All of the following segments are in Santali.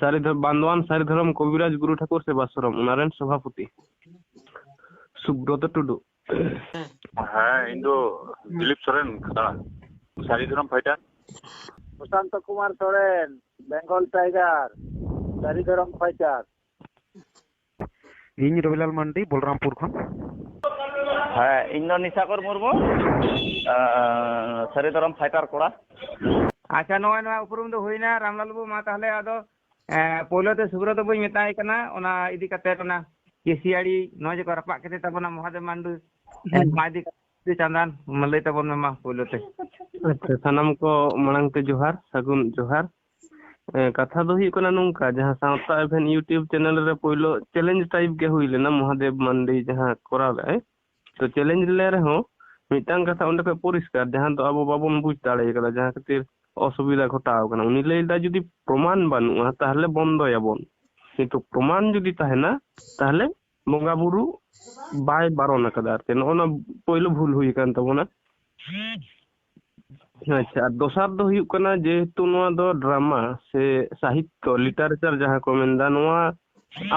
ᱥᱟᱹᱨᱤ ᱵᱟᱱᱫᱣᱟᱱ ᱥᱟᱹᱨᱤ ᱫᱷᱚᱨᱚᱢ ᱠᱚᱵᱤᱨᱟᱡᱽ ᱜᱩᱨᱩ ᱴᱷᱟᱠᱩᱨ ᱥᱮᱵᱟᱥᱨᱚᱢ ᱚᱱᱟ ᱨᱮᱱ ᱥᱚᱵᱷᱟᱯᱚᱛᱤ ᱥᱩᱵᱨᱚᱛ ᱴᱩᱰᱩ ᱦᱮᱸ ᱤᱧ ᱫᱚ ᱫᱤᱞᱤᱯ ᱥᱚᱨᱮᱱ ᱠᱷᱟᱛᱲᱟ Sari Dharam fighter Sushant Kumar Soren Bengal tiger Sari Dharam fighter ᱤᱧ ᱨᱚᱵᱤᱞᱟᱞ ᱢᱟᱱᱰᱤ ᱵᱚᱞᱨᱟᱢᱯᱩᱨ ᱠᱷᱚᱱ ᱦᱮᱸ ᱤᱧ ᱫᱚ ᱱᱤᱥᱟᱠᱚᱨ ᱢᱩᱨᱢᱩ ᱥᱟᱹᱨᱤ ᱫᱚᱨᱚᱢ ᱯᱷᱟᱭᱴᱟᱨ ᱠᱚᱲᱟ ᱟᱪᱪᱷᱟ ᱱᱚᱜᱼᱚᱭ ᱱᱚᱣᱟ ᱩᱯᱨᱩᱢ ᱫᱚ ᱦᱩᱭᱱᱟ ᱨᱟᱢᱞᱟᱞ ᱵᱟᱹᱵᱩ ᱢᱟ ᱛᱟᱦᱚᱞᱮ ᱟᱫᱚ ᱯᱳᱭᱞᱳ ᱛᱮ ᱥᱩᱵᱨᱚ ᱫᱚ ᱵᱟᱹᱧ ᱢᱮᱛᱟᱭ ᱠᱟᱱᱟ ᱚᱱᱟ ᱤᱫᱤ ᱠᱟᱛᱮ ᱚᱱᱟ ᱠᱮᱥᱤᱭᱟᱲᱤ ᱱᱚᱣᱟ ᱡᱮᱠᱚ ᱨᱟᱯᱟᱜ ᱠᱮᱫᱮ ᱛᱟᱵᱚᱱᱟ ᱢᱚᱦᱟᱫᱮᱵ ᱢᱟᱱᱰᱩ ᱢᱟ ᱤᱫᱤ ᱠᱟᱛᱮ ᱪᱟᱸᱫᱟᱱ ᱞᱟᱹᱭ ᱛᱟᱵᱚᱱ ᱢᱮ ᱢᱟ ᱯᱳᱭᱞᱳ ᱛᱮ ᱟᱪᱪᱷᱟ ᱥᱟᱱᱟᱢ ᱠᱚ ᱢᱟᱲᱟᱝ ᱛᱮ ᱡᱚᱦᱟᱨ ᱥᱟᱹᱜᱩᱱ ᱡᱚᱦᱟᱨ ᱠᱟᱛᱷᱟ ᱫᱚ ᱦᱩᱭᱩᱜ ᱠᱟᱱᱟ ᱱᱚᱝᱠᱟ ᱡᱟᱦᱟᱸ ᱥᱟᱶᱛᱟ ᱮᱵᱷᱮᱱ ᱤᱭᱩᱴᱤᱭᱩᱵᱽ ᱪᱮᱱᱮᱞ ᱨᱮ ᱯᱳᱭᱞᱳ ᱪᱮᱞᱮᱧᱡᱽ ᱴᱟᱭᱤᱯ ᱜᱮ ᱦᱩᱭ ᱞᱮᱱᱟ ᱢᱚᱦᱟᱫᱮᱵ ᱢᱟᱱᱰᱤ ᱡᱟᱦᱟᱸ ᱠᱚᱨᱟᱣ ᱞᱮᱫᱟᱭ ᱛᱚ ᱪᱮᱞᱮᱧᱡᱽ ᱞᱮ ᱨᱮᱦᱚᱸ ᱢᱤᱫᱴᱟᱝ ᱠᱟᱛᱷᱟ ᱚᱸᱰᱮ ᱠᱷᱚᱱ ᱯᱚᱨᱤᱥᱠᱟᱨ ᱡᱟᱦᱟᱸ ᱫᱚ ᱟᱵᱚ ᱵᱟᱵᱚᱱ ᱵᱩᱡᱽ ᱫᱟᱲᱮ ᱠᱟᱫᱟ ᱡᱟᱦᱟᱸ ᱠᱷᱟᱹᱛᱤᱨ ᱚᱥᱩᱵᱤᱫᱷᱟ ᱜᱷᱚᱴᱟᱣ ᱠᱟᱱᱟ ᱩᱱᱤ ᱞᱟᱹᱭ ᱞᱮᱫᱟ ᱡᱩᱫᱤ ᱯᱨᱚᱢᱟᱱ ᱵᱟᱹᱱᱩᱜᱼᱟ ᱛᱟᱦᱚᱞᱮ ᱵᱚᱱᱫᱚᱭᱟᱵᱚᱱ ᱠᱤᱱᱛᱩ ᱯᱨᱚᱢᱟᱱ ᱡᱩᱫᱤ ᱛᱟᱦᱮᱱᱟ ᱛᱟᱦᱚᱞᱮ ᱵᱚᱸᱜᱟ ᱵᱩᱨᱩ ᱵᱟᱭ ᱵᱟᱨᱚᱱ ᱟᱠᱟᱫᱟ ᱟᱨᱠᱤ ᱱᱚᱜᱼᱚ ᱱᱚᱣᱟ ᱯᱳᱭᱞᱳ ᱵᱷᱩᱞ ᱦᱩᱭ ᱟᱠᱟᱱ ᱛᱟᱵᱚᱱᱟ ᱟᱪᱪᱷᱟ ᱟᱨ ᱫᱚᱥᱟᱨ ᱫᱚ ᱦᱩᱭᱩᱜ ᱠᱟᱱᱟ ᱡᱮᱦᱮᱛᱩ ᱱᱚᱣᱟ ᱫᱚ ᱰᱨᱟᱢᱟ ᱥᱮ ᱥᱟᱦᱤᱛᱛᱚ ᱞᱤᱴᱟᱨᱮᱪᱟᱨ ᱡᱟᱦᱟᱸ ᱠᱚ ᱢᱮᱱᱫᱟ ᱱᱚᱣᱟ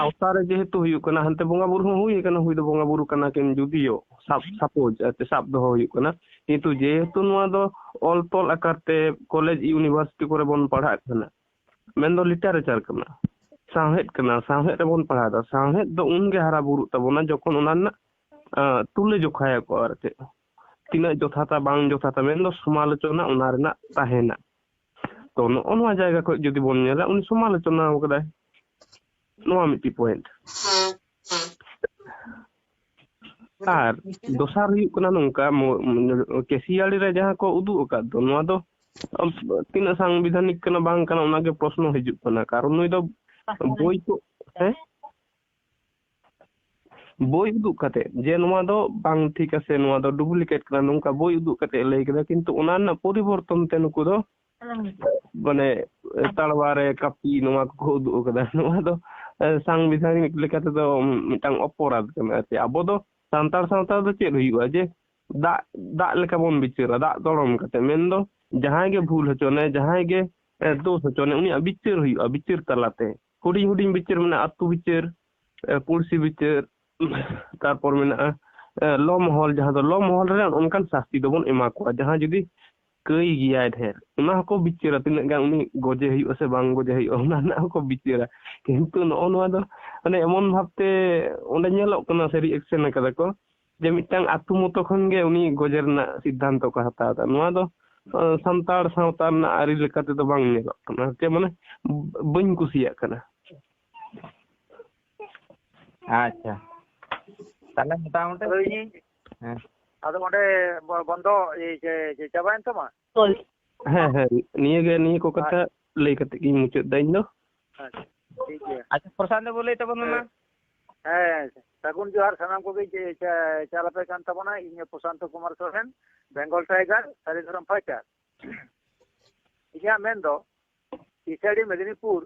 ᱟᱣᱛᱟ ᱨᱮ ᱡᱮᱦᱮᱛᱩ ᱦᱩᱭᱩᱜ ᱠᱟᱱᱟ ᱦᱟᱱᱛᱮ ᱵᱚᱸᱜᱟ ᱵᱩᱨᱩ ᱦᱚᱸ ᱦᱩᱭ ᱟᱠᱟᱱᱟ ᱦᱩᱭ ᱫᱚ ᱵᱚᱸᱜᱟ ᱵᱩᱨᱩ ᱠᱟᱱᱟ ᱠᱤᱱ ᱡᱩᱫᱤᱭᱳ ᱥᱟᱵ ᱥᱟᱯᱳᱡ ᱟᱨᱠᱤ ᱥᱟᱵ ᱫᱚᱦᱚ ᱦᱩᱭᱩᱜ ᱠᱟᱱᱟ ᱠᱤᱱᱛᱩ ᱡᱮᱦᱮᱛᱩ ᱱᱚᱣᱟ ᱫᱚ ᱚᱞ ᱛᱚᱞ ᱟᱠᱟᱨ ᱛᱮ ᱠᱚᱞᱮᱡᱽ ᱤᱭᱩᱱᱤᱵᱷᱟᱨᱥᱤᱴᱤ ᱠᱚᱨᱮ ᱵᱚᱱ ᱯᱟᱲᱦᱟᱜ ᱠᱟᱱᱟ ᱢᱮᱱᱫᱚ ᱞᱤᱴᱟᱨᱮᱪᱟᱨ ᱠᱟᱱᱟ ᱥᱟᱶᱦᱮᱫ ᱠᱟᱱᱟ ᱥᱟᱶᱦᱮᱫ ᱨᱮᱵᱚᱱ ᱯᱟᱲᱦᱟᱣᱫᱟ ᱥᱟᱶᱦᱮᱫ ᱫᱚ ᱩᱱᱜᱮ ᱦᱟᱨᱟ ᱵᱩᱨᱩᱜ ᱛᱟᱵᱚᱱᱟ ᱡᱚᱠᱷᱚᱱ ᱚᱱᱟ ᱨᱮᱱᱟᱜ ᱛᱩᱞᱟᱹ ᱡᱚᱠᱷᱟᱭᱟᱠᱚ ᱟᱨ ᱪᱮᱫ ᱛᱤᱱᱟᱹᱜ ᱡᱚᱛᱷᱟᱛᱟ ᱵᱟᱝ ᱡᱚᱛᱷᱟᱛᱟ ᱢᱮᱱᱫᱚ ᱥᱚᱢᱟᱞᱳᱪᱚᱱᱟ ᱚᱱᱟ ᱨᱮᱱᱟᱜ ᱛᱟᱦᱮᱱᱟ ᱛᱚ ᱱᱚᱜᱼᱚ ᱱᱚᱣᱟ ᱡᱟᱭᱜᱟ ᱠᱷᱚᱱ ᱡᱩᱫᱤ ᱵᱚᱱ ᱧᱮᱞᱟ ᱩᱱᱤ ᱥᱚᱢᱟᱞᱳᱪᱚᱱᱟ ᱟᱠᱟᱫᱟᱭ ᱱᱚᱣᱟ ᱢᱤᱫᱴᱤᱡ ᱯᱚᱭᱮᱱᱴ ᱟᱨ ᱫᱚᱥᱟᱨ ᱦᱩᱭᱩᱜ ᱠᱟᱱᱟ ᱱᱚᱝᱠᱟ ᱠᱮᱥᱤᱭᱟᱲᱤ ᱨᱮ ᱡᱟᱦᱟᱸ ᱠᱚ ᱩᱫᱩᱜ ᱟᱠᱟᱫ ᱫᱚ ᱱᱚᱣᱟ ᱫᱚ ᱛᱤᱱᱟᱹᱜ ᱥᱟᱝᱵᱤᱫᱷᱟᱱᱤᱠ ᱠᱟᱱᱟ ᱵᱟᱝ ᱠᱟᱱᱟ ᱚᱱᱟᱜᱮ ᱯᱨᱚᱥᱱᱚ ᱦᱤᱡᱩᱜ ᱠᱟᱱᱟ ᱠᱟᱨᱚᱱ ᱱᱩᱭ ᱫᱚ ᱵᱳᱭ ᱠᱚ ᱦᱮᱸ ᱵᱳᱭ ᱩᱫᱩᱜ ᱠᱟᱛᱮ ᱡᱮ ᱱᱚᱣᱟ ᱫᱚ ᱵᱟᱝ ᱴᱷᱤᱠ ᱟᱥᱮ ᱱᱚᱣᱟ ᱫᱚ ᱰᱩᱯᱞᱤᱠᱮᱴ ᱠᱟᱱᱟ ᱱᱚᱝᱠᱟ ᱵᱳᱭ ᱩᱫᱩᱜ ᱠᱟᱛᱮ ᱞᱟᱹᱭ ᱠᱮᱫᱟ ᱠᱤᱱᱛᱩ ᱚᱱᱟ ᱨᱮᱱᱟᱜ ᱯᱚᱨᱤᱵᱚᱨᱛᱚᱱ ᱛᱮ ᱱᱩᱠᱩ ᱫᱚ ᱢᱟᱱᱮ ᱛᱟᱲᱣᱟ ᱨᱮ ᱠᱟᱹᱯᱤ ᱱᱚᱣᱟ ᱠᱚᱠᱚ ᱩᱫᱩᱜ ᱟᱠᱟᱫᱟ ᱱᱚᱣᱟ ᱫᱚ ᱥᱟᱝᱵᱤᱫᱷᱟᱱᱤᱠ ᱞᱮᱠᱟ ᱛᱮᱫᱚ ᱢᱤᱫᱴᱟᱝ ᱚᱯᱚᱨᱟᱫᱷ ᱠᱟᱱᱟ ᱟᱨᱠᱤ ᱟᱵᱚ ᱫᱚ ᱥᱟᱱᱛᱟᱲ ᱥᱟᱶᱛᱟ ᱫᱚ ᱪᱮᱫ ᱦᱩᱭᱩᱜᱼᱟ ᱡᱮ ᱫᱟᱜ ᱫᱟᱜ ᱞᱮᱠᱟ ᱵᱚᱱ ᱵᱤᱪᱟᱹᱨᱟ ᱫᱟᱜ ᱫᱚᱲᱚᱢ ᱠᱟᱛᱮ ᱢᱮᱱᱫᱚ ᱡᱟᱦᱟᱸᱭ ᱜᱮ ᱵᱷᱩᱞ ᱦᱚᱪᱚᱱᱮ ᱡᱟᱦᱟᱸᱭ ᱜᱮ ᱫᱳᱥ ᱦᱚᱪᱚᱱᱮ ᱩᱱᱤᱭᱟᱜ ᱵᱤᱪᱟᱹᱨ ᱦᱩᱭᱩᱜᱼᱟ ᱵᱤᱪᱟᱹᱨ ᱛᱟᱞᱟᱛᱮ ᱦᱩᱰᱤᱧ ᱦᱩᱰᱤᱧ ᱵᱤᱪᱟᱹᱨ ᱢᱮᱱᱟᱜᱼᱟ ᱟᱹᱛᱩ ᱵᱤᱪᱟᱹᱨ ᱯᱩᱲᱥᱤ ᱵᱤᱪᱟᱹᱨ ᱛᱟᱨᱯᱚᱨ ᱢᱮᱱᱟᱜᱼᱟ ᱞᱚ ᱢᱚᱦᱚᱞ ᱡᱟᱦᱟᱸ ᱫᱚ ᱞᱚ ᱢᱚᱦᱚᱞ ᱨᱮ ᱚᱱᱠᱟᱱ ᱥᱟᱥᱛᱤ ᱫᱚᱵᱚᱱ ᱮᱢᱟ ᱠᱚᱣᱟ ᱡᱟᱦᱟᱸ ᱡᱩᱫᱤ ᱠᱟᱹᱭ ᱜᱮᱭᱟᱭ ᱰᱷᱮᱨ ᱚᱱᱟ ᱦᱚᱸᱠᱚ ᱵᱤᱪᱟᱹᱨᱟ ᱛᱤᱱᱟᱹᱜ ᱜᱟᱱ ᱩᱱᱤ ᱜᱚᱡᱮ ᱦᱩᱭᱩᱜᱼᱟ ᱥᱮ ᱵᱟᱝ ᱜᱚᱡᱮ ᱦᱩᱭᱩᱜᱼᱟ ᱚᱱᱟ ᱨᱮᱱᱟᱜ ᱦᱚᱸᱠᱚ ᱵᱤᱪᱟᱹᱨᱟ ᱠᱤᱱᱛᱩ ᱱᱚᱜᱼᱚ ᱱᱚᱣᱟ ᱫᱚ ᱢᱟᱱᱮ ᱮᱢᱚᱱ ᱵᱷᱟᱵᱛᱮ ᱚᱸᱰᱮ ᱧᱮᱞᱚᱜ ᱠᱟᱱᱟ ᱥᱮ ᱨᱤᱭᱮᱠᱥᱮᱱ ᱠᱟᱫᱟ ᱠᱚ ᱡᱮ ᱢᱤᱫᱴᱟᱝ ᱟᱛᱳ ᱢᱚᱛᱚ ᱠᱷᱚᱱ ᱜᱮ ᱩᱱᱤ ᱜᱚᱡᱮ ᱨᱮᱱᱟᱜ ᱥᱤᱫᱽᱫᱷᱟᱱᱛᱚ ᱠᱚ ᱦᱟᱛᱟᱣ ᱮᱫᱟ ᱱᱚᱣᱟ ᱫᱚ ᱥᱟᱱᱛᱟᱲ ᱥᱟᱶᱛᱟ ᱨᱮᱱᱟᱜ ᱟᱹᱨᱤ ᱞᱮᱠᱟ ᱛᱮᱫᱚ ᱵᱟᱝ ᱧᱮᱞᱚᱜ ᱠᱟᱱᱟ ᱪᱮᱫ ᱢᱟᱱᱮ ᱵᱟᱹᱧ ᱠᱩᱥᱤᱭᱟᱜ ᱠᱟᱱᱟ ᱟᱪᱪᱷᱟ ᱛᱟᱦᱞᱮ ᱢᱚᱴᱟᱢᱩᱴᱤ ᱦᱮᱸ ᱟᱫᱚ ᱚᱸᱰᱮ ᱵᱚᱱᱫᱚ ᱪᱟᱵᱟᱭᱮᱱ ᱛᱟᱢᱟ ᱦᱳᱭ ᱦᱮᱸ ᱦᱮᱸ ᱱᱤᱭᱟᱹ ᱜᱮ ᱱᱤᱭᱟᱹ ᱠᱚ ᱠᱟᱛᱷᱟ ᱞᱟᱹᱭ ᱠᱟᱛᱮ ᱜᱤᱧ ᱢᱩᱪᱟᱹᱫ ᱫᱟ ᱤᱧ ᱫᱚ ᱟᱪᱪᱷᱟ ᱴᱷᱤᱠ ᱜᱮᱭᱟ ᱟᱪᱪᱷᱟ ᱯᱨᱚᱥᱟᱱᱛ ᱵᱟᱹᱵᱩ ᱞᱟᱹᱭ ᱛᱟᱵᱚᱱ ᱢᱮ ᱢᱟ ᱦᱮᱸ ᱥᱟᱹᱜᱩᱱ ᱡᱚᱦᱟᱨ ᱥᱟᱱᱟᱢ ᱠᱚᱜᱮ ᱪᱟᱞ ᱟᱯᱮ ᱠᱟᱱ ᱛᱟᱵᱚᱱᱟ ᱤᱧ Prasanta Kumar Soren Bengal tiger Sari Dharam fighter ᱤᱧᱟᱹᱜ ᱢᱮᱱ ᱫᱚ ᱤᱥᱟᱹᱰᱤ ᱢᱮᱫᱤᱱᱤᱯᱩᱨ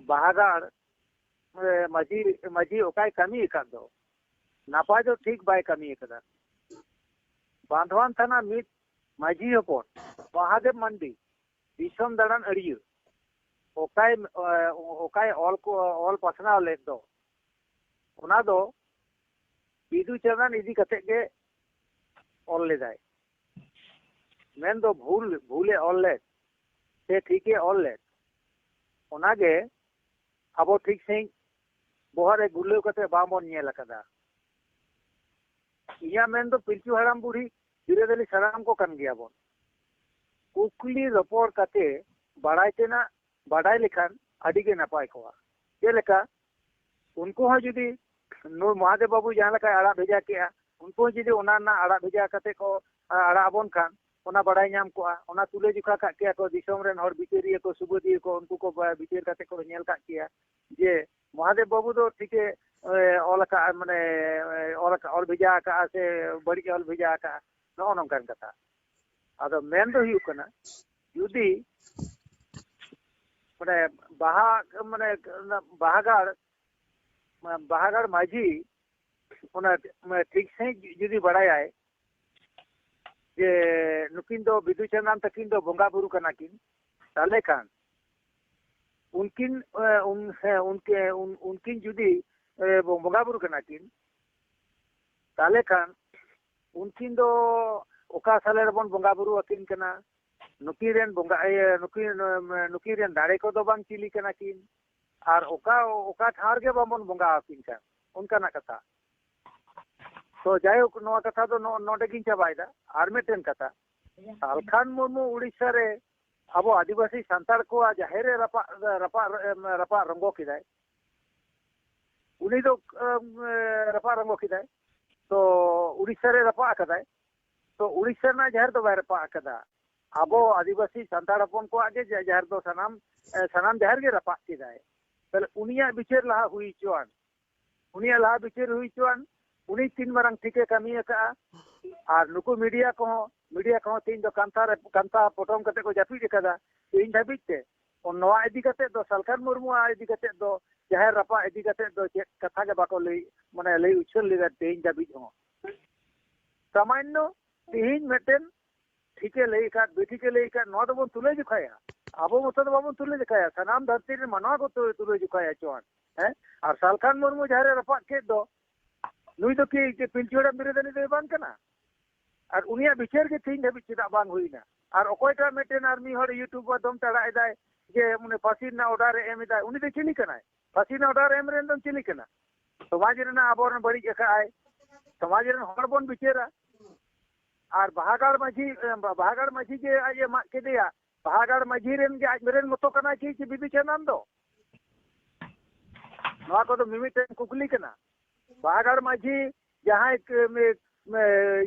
ᱵᱟᱦᱟᱜᱟᱲ ᱢᱟᱹᱡᱷᱤ ᱢᱟᱹᱡᱷᱤ ᱚᱠᱟᱭ ᱠᱟᱹᱢᱤ ᱟᱠᱟᱫ ᱫᱚ ᱱᱟᱯᱟᱭ ᱫᱚ ᱴᱷᱤᱠ ᱵᱟᱭ ᱠᱟᱹᱢᱤ ᱟᱠᱟᱫᱟ ᱵᱟᱸᱫᱷᱣᱟᱱ ᱛᱷᱟᱱᱟ ᱢᱤᱫ ᱢᱟᱹᱡᱷᱤ ᱦᱚᱯᱚᱱ ᱢᱚᱦᱟᱫᱮᱵᱽ ᱢᱟᱱᱰᱤ ᱫᱤᱥᱚᱢ ᱫᱟᱬᱟᱱ ᱟᱹᱲᱤᱭᱟᱹ ᱚᱠᱟᱭ ᱚᱠᱟᱭ ᱚᱞ ᱚᱞ ᱯᱟᱥᱱᱟᱣ ᱞᱮᱫ ᱫᱚ ᱚᱱᱟ ᱫᱚ ᱵᱤᱫᱩ ᱪᱟᱸᱫᱟᱱ ᱤᱫᱤ ᱠᱟᱛᱮ ᱜᱮ ᱚᱞ ᱞᱮᱫᱟᱭ ᱢᱮᱱ ᱫᱚ ᱵᱷᱩᱞ ᱵᱷᱩᱞᱮ ᱚᱞ ᱞᱮᱫ ᱥᱮ ᱴᱷᱤᱠᱮ ᱚᱞ ᱞᱮᱫ ᱚᱱᱟᱜᱮ ᱟᱵᱚ ᱴᱷᱤᱠ ᱥᱟᱺᱦᱤᱡ ᱵᱚᱦᱚᱜ ᱨᱮ ᱜᱩᱨᱞᱟᱹᱣ ᱠᱟᱛᱮ ᱵᱟᱝᱵᱚᱱ ᱧᱮᱞ ᱟᱠᱟᱫᱟ ᱤᱧᱟᱹᱜ ᱢᱮᱱ ᱫᱚ ᱯᱤᱞᱪᱩ ᱦᱟᱲᱟᱢ ᱵᱩᱲᱦᱤ ᱵᱤᱨᱟᱹᱫᱟᱹᱞᱤ ᱥᱟᱱᱟᱢ ᱠᱚ ᱠᱟᱱ ᱜᱮᱭᱟ ᱵᱚᱱ᱾ ᱠᱩᱠᱞᱤ ᱨᱚᱯᱚᱲ ᱠᱟᱛᱮ ᱵᱟᱲᱟᱭ ᱛᱮᱱᱟᱜ ᱵᱟᱰᱟᱭ ᱞᱮᱠᱷᱟᱱ ᱟᱹᱰᱤ ᱜᱮ ᱱᱟᱯᱟᱭ ᱠᱚᱜᱼᱟ᱾ ᱪᱮᱫ ᱞᱮᱠᱟ ᱩᱱᱠᱩ ᱦᱚᱸ ᱡᱩᱫᱤ ᱱᱩᱭ ᱢᱚᱦᱟᱫᱮᱵᱽ ᱵᱟᱹᱵᱩ ᱡᱟᱦᱟᱸ ᱞᱮᱠᱟᱭ ᱟᱲᱟᱜ ᱵᱷᱮᱡᱟ ᱠᱮᱜᱼᱟ ᱩᱱᱠᱩ ᱦᱚᱸ ᱡᱩᱫᱤ ᱚᱱᱟ ᱨᱮᱱᱟᱜ ᱟᱲᱟᱜ ᱵᱷᱮᱡᱟ ᱠᱟᱛᱮ ᱠᱚ ᱟᱲᱟᱜ ᱟᱵᱚᱱ ᱠᱷᱟᱱ ᱚᱱᱟ ᱵᱟᱲᱟᱭ ᱧᱟᱢ ᱠᱚᱜᱼᱟ᱾ ᱚᱱᱟ ᱛᱩᱞᱟᱹ ᱡᱚᱠᱷᱟ ᱠᱟᱜ ᱠᱮᱭᱟ ᱠᱚ ᱫᱤᱥᱚᱢ ᱨᱮᱱ ᱦᱚᱲ ᱵᱤᱪᱟᱹᱨᱤᱭᱟᱹ ᱠᱚ ᱥᱩᱵᱟᱹᱫᱤᱭᱟᱹ ᱠᱚ ᱩᱱᱠᱩ ᱠᱚ ᱵᱤᱪᱟᱹᱨ ᱠᱟᱛᱮ ᱠᱚ ᱧᱮᱞ ᱠᱟᱜ ᱠᱮᱭᱟ ᱡᱮ ᱢᱚᱦᱟᱫᱮᱵᱽ ᱵᱟᱹᱵᱩ ᱫᱚ ᱴᱷᱤᱠᱮ ᱚᱞ ᱟᱠᱟᱫᱼᱟ ᱢᱟᱱᱮ ᱚᱞ ᱟᱠᱟᱫ ᱚᱞ ᱵᱷᱮᱡᱟ ᱟᱠᱟᱫᱼᱟ ᱥᱮ ᱵᱟᱹᱲᱤᱡ ᱚᱞ ᱵᱷᱮᱡᱟ ᱟᱠᱟᱫᱼᱟ ᱱᱚᱜᱼᱚ ᱱᱚᱝᱠᱟᱱ ᱠᱟᱛᱷᱟ ᱟᱫᱚ ᱢᱮᱱ ᱫᱚ ᱦᱩᱭᱩᱜ ᱠᱟᱱᱟ ᱡᱩᱫᱤ ᱢᱟᱱᱮ ᱵᱟᱦᱟ ᱢᱟᱱᱮ ᱵᱟᱦᱟᱜᱟᱲ ᱵᱟᱦᱟᱜᱟᱲ ᱢᱟᱹᱡᱷᱤ ᱚᱱᱟ ᱴᱷᱤᱠ ᱥᱟᱺᱦᱤᱡ ᱡᱩᱫᱤ ᱵᱟᱲᱟᱭᱟᱭ ᱡᱮ ᱱᱩᱠᱤᱱ ᱫᱚ ᱵᱤᱫᱩ ᱪᱟᱸᱫᱟᱱ ᱛᱟᱹᱠᱤᱱ ᱫᱚ ᱵᱚᱸᱜᱟ ᱵᱩᱨᱩ ᱠᱟᱱᱟ ᱠᱤᱱ ᱛᱟᱦᱞᱮ ᱠᱷᱟᱱ ᱩᱱᱠᱤᱱ ᱩᱱᱠᱤᱱ ᱡᱩᱫᱤ ᱵᱚᱸᱜᱟ ᱵᱩᱨᱩ ᱠᱟᱱᱟ ᱠᱤᱱ ᱛᱟᱦᱚᱞᱮ ᱠᱷᱟᱱ ᱩᱱᱠᱤᱱ ᱫᱚ ᱚᱠᱟ ᱥᱟᱞᱮ ᱨᱮᱵᱚᱱ ᱵᱚᱸᱜᱟ ᱵᱩᱨᱩ ᱟᱹᱠᱤᱱ ᱠᱟᱱᱟ ᱱᱩᱠᱤᱱ ᱨᱮᱱ ᱵᱚᱸᱜᱟ ᱤᱭᱟᱹ ᱱᱩᱠᱤᱱ ᱱᱩᱠᱤᱱ ᱨᱮᱱ ᱫᱟᱲᱮ ᱠᱚᱫᱚ ᱵᱟᱝ ᱪᱤᱞᱤ ᱠᱟᱱᱟ ᱠᱤᱱ ᱟᱨ ᱚᱠᱟ ᱚᱠᱟ ᱴᱷᱟᱶ ᱨᱮᱜᱮ ᱵᱟᱵᱚᱱ ᱵᱚᱸᱜᱟ ᱟᱹᱠᱤᱱ ᱠᱟᱱ ᱚᱱᱠᱟᱱᱟᱜ ᱠᱟᱛᱷᱟ ᱛᱚ ᱡᱟᱭᱦᱳᱠ ᱱᱚᱣᱟ ᱠᱟᱛᱷᱟ ᱫᱚ ᱱᱚᱰᱮ ᱜᱤᱧ ᱪᱟᱵᱟᱭᱮᱫᱟ ᱟᱨ ᱢᱤᱫᱴᱮᱱ ᱠᱟᱛᱷᱟ ᱟᱞᱠᱷᱟᱱ ᱢᱩᱨᱢᱩ ᱩᱲᱤᱥᱥᱟ ᱨᱮ ᱟᱵᱚ ᱟᱹᱫᱤᱵᱟᱹᱥᱤ ᱥᱟᱱᱛᱟᱲ ᱠᱚᱣᱟᱜ ᱡᱟᱦᱮᱨ ᱨᱮ ᱨᱟᱯᱟᱜ ᱨᱟᱯᱟᱜ ᱨᱟᱯᱟᱜ ᱨᱚᱝᱜᱚ ᱠᱮᱫᱟᱭ ᱩᱱᱤ ᱫᱚ ᱨᱟᱯᱟᱜ ᱨᱚᱝᱜᱚ ᱠᱮᱫᱟᱭ ᱛᱚ ᱩᱲᱤᱥᱥᱟ ᱨᱮ ᱨᱟᱯᱟᱜ ᱟᱠᱟᱫᱟᱭ ᱛᱚ ᱩᱲᱤᱥᱥᱟ ᱨᱮᱱᱟᱜ ᱡᱟᱦᱮᱨ ᱫᱚ ᱵᱟᱭ ᱨᱟᱯᱟᱜ ᱟᱠᱟᱫᱟ ᱟᱵᱚ ᱟᱹᱫᱤᱵᱟᱹᱥᱤ ᱥᱟᱱᱛᱟᱲ ᱦᱚᱯᱚᱱ ᱠᱚᱣᱟᱜ ᱜᱮ ᱡᱟᱦᱮᱨ ᱫᱚ ᱥᱟᱱᱟᱢ ᱥᱟᱱᱟᱢ ᱡᱟᱦᱮᱨ ᱜᱮ ᱨᱟᱯᱟᱜ ᱠᱮᱫᱟᱭ ᱛᱟᱦᱞᱮ ᱩᱱᱤᱭᱟᱜ ᱵᱤᱪᱟᱹᱨ ᱞᱟᱦᱟ ᱦᱩᱭ ᱦᱚᱪᱚᱣᱟᱱ ᱩᱱᱤᱭᱟᱜ ᱞᱟᱦᱟ ᱵᱤᱪᱟᱹᱨ ᱦᱩᱭ ᱦᱚᱪᱚᱣᱟᱱ ᱩᱱᱤ ᱛᱤᱱ ᱢᱟᱨᱟᱝ ᱴᱷᱤᱠᱮ ᱠᱟᱹᱢᱤ ᱟᱠᱟᱫᱼᱟ ᱟᱨ ᱱᱩᱠᱩ ᱢᱤᱰᱤᱭᱟ ᱠᱚᱦᱚᱸ ᱢᱤᱰᱤᱭᱟ ᱠᱚᱦᱚᱸ ᱛᱮᱦᱮᱧ ᱫᱚ ᱠᱟᱱᱛᱷᱟ ᱨᱮ ᱠᱟᱱᱛᱷᱟ ᱯᱚᱴᱚᱢ ᱠᱟᱛᱮ ᱠᱚ ᱡᱟᱹᱯᱤᱫ ᱟᱠᱟᱫᱟ ᱛᱮᱦᱮᱧ ᱫᱷᱟᱹᱵᱤᱡ ᱛᱮ ᱱᱚᱣᱟ ᱤᱫᱤ ᱠᱟᱛᱮ ᱫᱚ ᱥᱟᱞᱠᱷᱟᱱ ᱢᱩᱨᱢᱩᱣᱟᱜ ᱤᱫᱤ ᱠᱟᱛᱮ ᱫᱚ ᱡᱟᱦᱮᱨ ᱨᱟᱯᱟᱜ ᱤᱫᱤ ᱠᱟᱛᱮ ᱫᱚ ᱪᱮᱫ ᱠᱟᱛᱷᱟ ᱜᱮ ᱵᱟᱠᱚ ᱞᱟᱹᱭ ᱢᱟᱱᱮ ᱞᱟᱹᱭ ᱩᱪᱷᱟᱹᱱ ᱞᱮᱫᱟ ᱛᱮᱦᱮᱧ ᱫᱷᱟᱹᱵᱤᱡ ᱦᱚᱸ ᱥᱟᱢᱟᱱᱱᱚ ᱛᱮᱦᱮᱧ ᱢᱤᱫᱴᱮᱱ ᱴᱷᱤᱠᱮ ᱞᱟᱹᱭ ᱟᱠᱟᱫ ᱵᱮᱴᱷᱤᱠᱮ ᱞᱟᱹᱭ ᱟᱠᱟᱫ ᱱᱚᱣᱟ ᱫᱚᱵᱚᱱ ᱛᱩᱞᱟᱹ ᱡᱚᱠᱷᱟᱭᱟ ᱟᱵᱚ ᱢᱚᱛᱚ ᱫᱚ ᱵᱟᱵᱚᱱ ᱛᱩᱞᱟᱹ ᱡᱚᱠᱷᱟᱭᱟ ᱥᱟᱱᱟᱢ ᱫᱷᱟᱹᱨᱛᱤ ᱨᱮᱱ ᱢᱟᱱᱣᱟ ᱠᱚ ᱛᱩᱞᱟᱹ ᱡᱚᱠᱷᱟᱭᱟ ᱪᱚᱣᱟᱱ ᱦᱮᱸ ᱟᱨ ᱥᱟᱞᱠᱷᱟᱱ ᱢᱩᱨᱢᱩ ᱡᱟᱦᱟᱸ ᱨᱮ ᱨᱟᱯᱟᱜ ᱠᱮᱫ ᱫᱚ ᱱᱩᱭ ᱫᱚ ᱠᱤ ᱯᱤᱞᱪᱩ ᱦᱟᱲᱟᱢ ᱵᱤᱨᱟᱹᱫᱟᱹᱞᱤ ᱫᱚᱭ ᱵᱟᱝ ᱠᱟᱱᱟ ᱟᱨ ᱩᱱᱤᱭᱟᱜ ᱵᱤᱪᱟᱹᱨ ᱜᱮ ᱛᱮᱦᱮᱧ ᱫᱷᱟᱹᱵᱤᱡ ᱪᱮᱫᱟᱜ ᱵᱟᱝ ᱦᱩᱭᱱᱟ ᱟᱨ ᱚᱠᱚᱭᱴᱟᱜ ᱢᱤᱫᱴᱮᱱ ᱟᱨ ᱢᱤᱫ ᱦᱚᱲ ᱤᱭᱩᱴᱩᱵᱽ ᱢᱟᱫᱽᱫᱷᱚᱢ ᱛᱮ ᱟᱲᱟᱜ ᱮᱫᱟᱭ ᱡᱮ ᱩᱱᱤ ᱯᱷᱟᱹᱥᱤ ᱨᱮᱱᱟᱜ ᱚᱰᱟᱨ ᱮ ᱮᱢ ᱮᱫᱟᱭ ᱩᱱᱤ ᱫᱚ ᱪᱤᱞᱤ ᱠᱟᱱᱟᱭ ᱯᱷᱟᱹᱥᱤ ᱨᱮᱱᱟᱜ ᱚᱰᱟᱨ ᱮᱢ ᱨᱮᱱ ᱫᱚ ᱪᱤᱞᱤ ᱠᱟᱱᱟ ᱥᱚᱢᱟᱡᱽ ᱨᱮᱱᱟᱜ ᱟᱵᱚᱨᱮᱱ ᱵᱟᱹᱲᱤᱡ ᱟᱠᱟᱫᱼᱟᱭ ᱥᱚᱢᱟᱡᱽ ᱨᱮᱱ ᱦᱚᱲ ᱵᱚᱱ ᱵᱤᱪᱟᱹᱨᱟ ᱟᱨ ᱵᱟᱦᱟᱜᱟᱲ ᱢᱟᱹᱡᱷᱤ ᱵᱟᱦᱟᱜᱟᱲ ᱢᱟᱹᱡᱷᱤ ᱡᱮ ᱟᱡ ᱮ ᱢᱟᱜ ᱠᱮᱫᱮᱭᱟ ᱵᱟᱦᱟᱜᱟᱲ ᱢᱟᱹᱡᱷᱤ ᱨᱮᱱ ᱜᱮ ᱟᱡ ᱨᱮᱱ ᱢᱚᱛᱚ ᱠᱟᱱᱟᱭ ᱪᱮᱫ ᱪᱮᱫ ᱵᱤᱫᱩ ᱪᱟᱸᱫᱟᱱ ᱫᱚ ᱱᱚᱣᱟ ᱠᱚᱫᱚ ᱢᱤᱢᱤᱫᱴᱮᱱ ᱠᱩᱠᱞᱤ ᱠᱟᱱᱟ ᱵᱟᱦᱟᱜᱟᱲ ᱢᱟᱹᱡᱷᱤ ᱡᱟᱦᱟᱸᱭ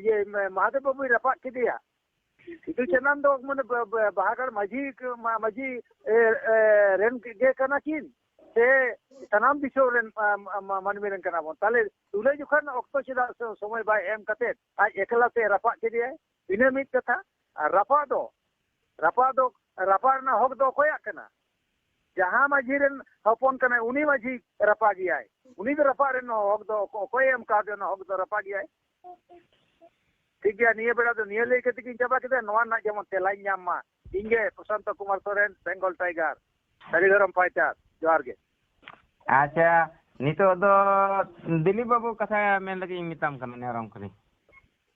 ᱤᱭᱟᱹ ᱢᱟᱦᱟᱫᱮᱵ ᱵᱟᱹᱵᱩᱭ ᱨᱟᱯᱟᱜ ᱠᱮᱫᱮᱭᱟ ᱥᱤᱫᱩ ᱪᱟᱸᱫᱟᱱ ᱫᱚ ᱢᱟᱱᱮ ᱵᱟᱦᱟᱜᱟᱲ ᱢᱟᱹᱡᱷᱤ ᱢᱟᱹᱡᱷᱤ ᱨᱮᱱ ᱜᱮ ᱠᱟᱱᱟ ᱠᱤᱱ ᱥᱮ ᱥᱟᱱᱟᱢ ᱫᱤᱥᱚᱢ ᱨᱮᱱ ᱢᱟᱹᱱᱢᱤ ᱨᱮᱱ ᱠᱟᱱᱟ ᱵᱚᱱ ᱛᱟᱦᱞᱮ ᱛᱩᱞᱟᱹ ᱡᱚᱠᱷᱟᱱ ᱚᱠᱛᱚ ᱪᱮᱫᱟᱜ ᱥᱚᱢᱚᱭ ᱵᱟᱭ ᱮᱢ ᱠᱟᱛᱮ ᱟᱡ ᱮᱠᱞᱟ ᱛᱮ ᱨᱟᱯᱟᱜ ᱠᱮᱫᱮᱭᱟᱭ ᱤᱱᱟᱹ ᱢᱤᱫ ᱠᱟᱛᱷᱟ ᱟᱨ ᱨᱟᱯᱟᱜ ᱫᱚ ᱨᱟᱯᱟᱜ ᱫᱚ ᱨᱟᱯᱟᱜ ᱨᱮᱱᱟᱜ ᱦᱚᱠ ᱫᱚ ᱚᱠᱚᱭᱟᱜ ᱠᱟᱱᱟ ᱡᱟᱦᱟᱸ ᱢᱟᱹᱡᱷᱤ ᱨᱮᱱ ᱦᱚᱯᱚᱱ ᱠᱟᱱᱟᱭ ᱩᱱᱤ ᱢᱟᱹᱡᱷᱤ ᱨᱟᱯᱟᱜᱮᱭᱟᱭ ᱩᱱᱤ ᱫᱚ ᱨᱟᱯᱟᱜ ᱨᱮᱱ ᱦᱚᱠ ᱫᱚ ᱚᱠᱚᱭᱮ ᱮᱢ ᱠᱟᱣᱫᱮ ᱚᱱᱟ ᱦᱚᱠ ᱫᱚ ᱨᱟᱯᱟᱜᱮᱭᱟᱭ ᱴᱷᱤᱠ ᱜᱮᱭᱟ ᱱᱤᱭᱟᱹ ᱵᱮᱲᱟ ᱫᱚ ᱱᱤᱭᱟᱹ ᱞᱟᱹᱭ ᱠᱟᱛᱮ ᱜᱤᱧ ᱪᱟᱵᱟ ᱠᱮᱫᱟ ᱱᱚᱣᱟ ᱨᱮᱱᱟᱜ ᱡᱮᱢᱚᱱ ᱛᱮᱞᱟᱧ ᱧᱟᱢ ᱢᱟ ᱤᱧ ᱜᱮ ᱯᱨᱚᱥᱟᱱᱛᱚ ᱠᱩᱢᱟᱨ ᱥᱚᱨᱮᱱ ᱵᱮᱝᱜᱚᱞ ᱴᱟᱭᱜᱟᱨ ᱥᱟᱹᱨᱤ ᱫᱷᱚᱨᱚᱢ ᱯᱟᱭᱪᱟᱨ ᱡᱚᱦᱟᱨ ᱜᱮ ᱟᱪᱪᱷᱟ ᱱᱤᱛᱚᱜ ᱫᱚ ᱫᱤᱞᱤᱯ ᱵᱟᱹᱵᱩ ᱠᱟᱛᱷᱟ ᱢᱮᱱ ᱞᱟᱹᱜᱤᱫ ᱤᱧ ᱢᱮᱛᱟᱢ ᱠᱟᱱᱟ ᱱᱮᱦᱚᱨᱟᱢ ᱠᱟᱹᱱᱟᱹᱧ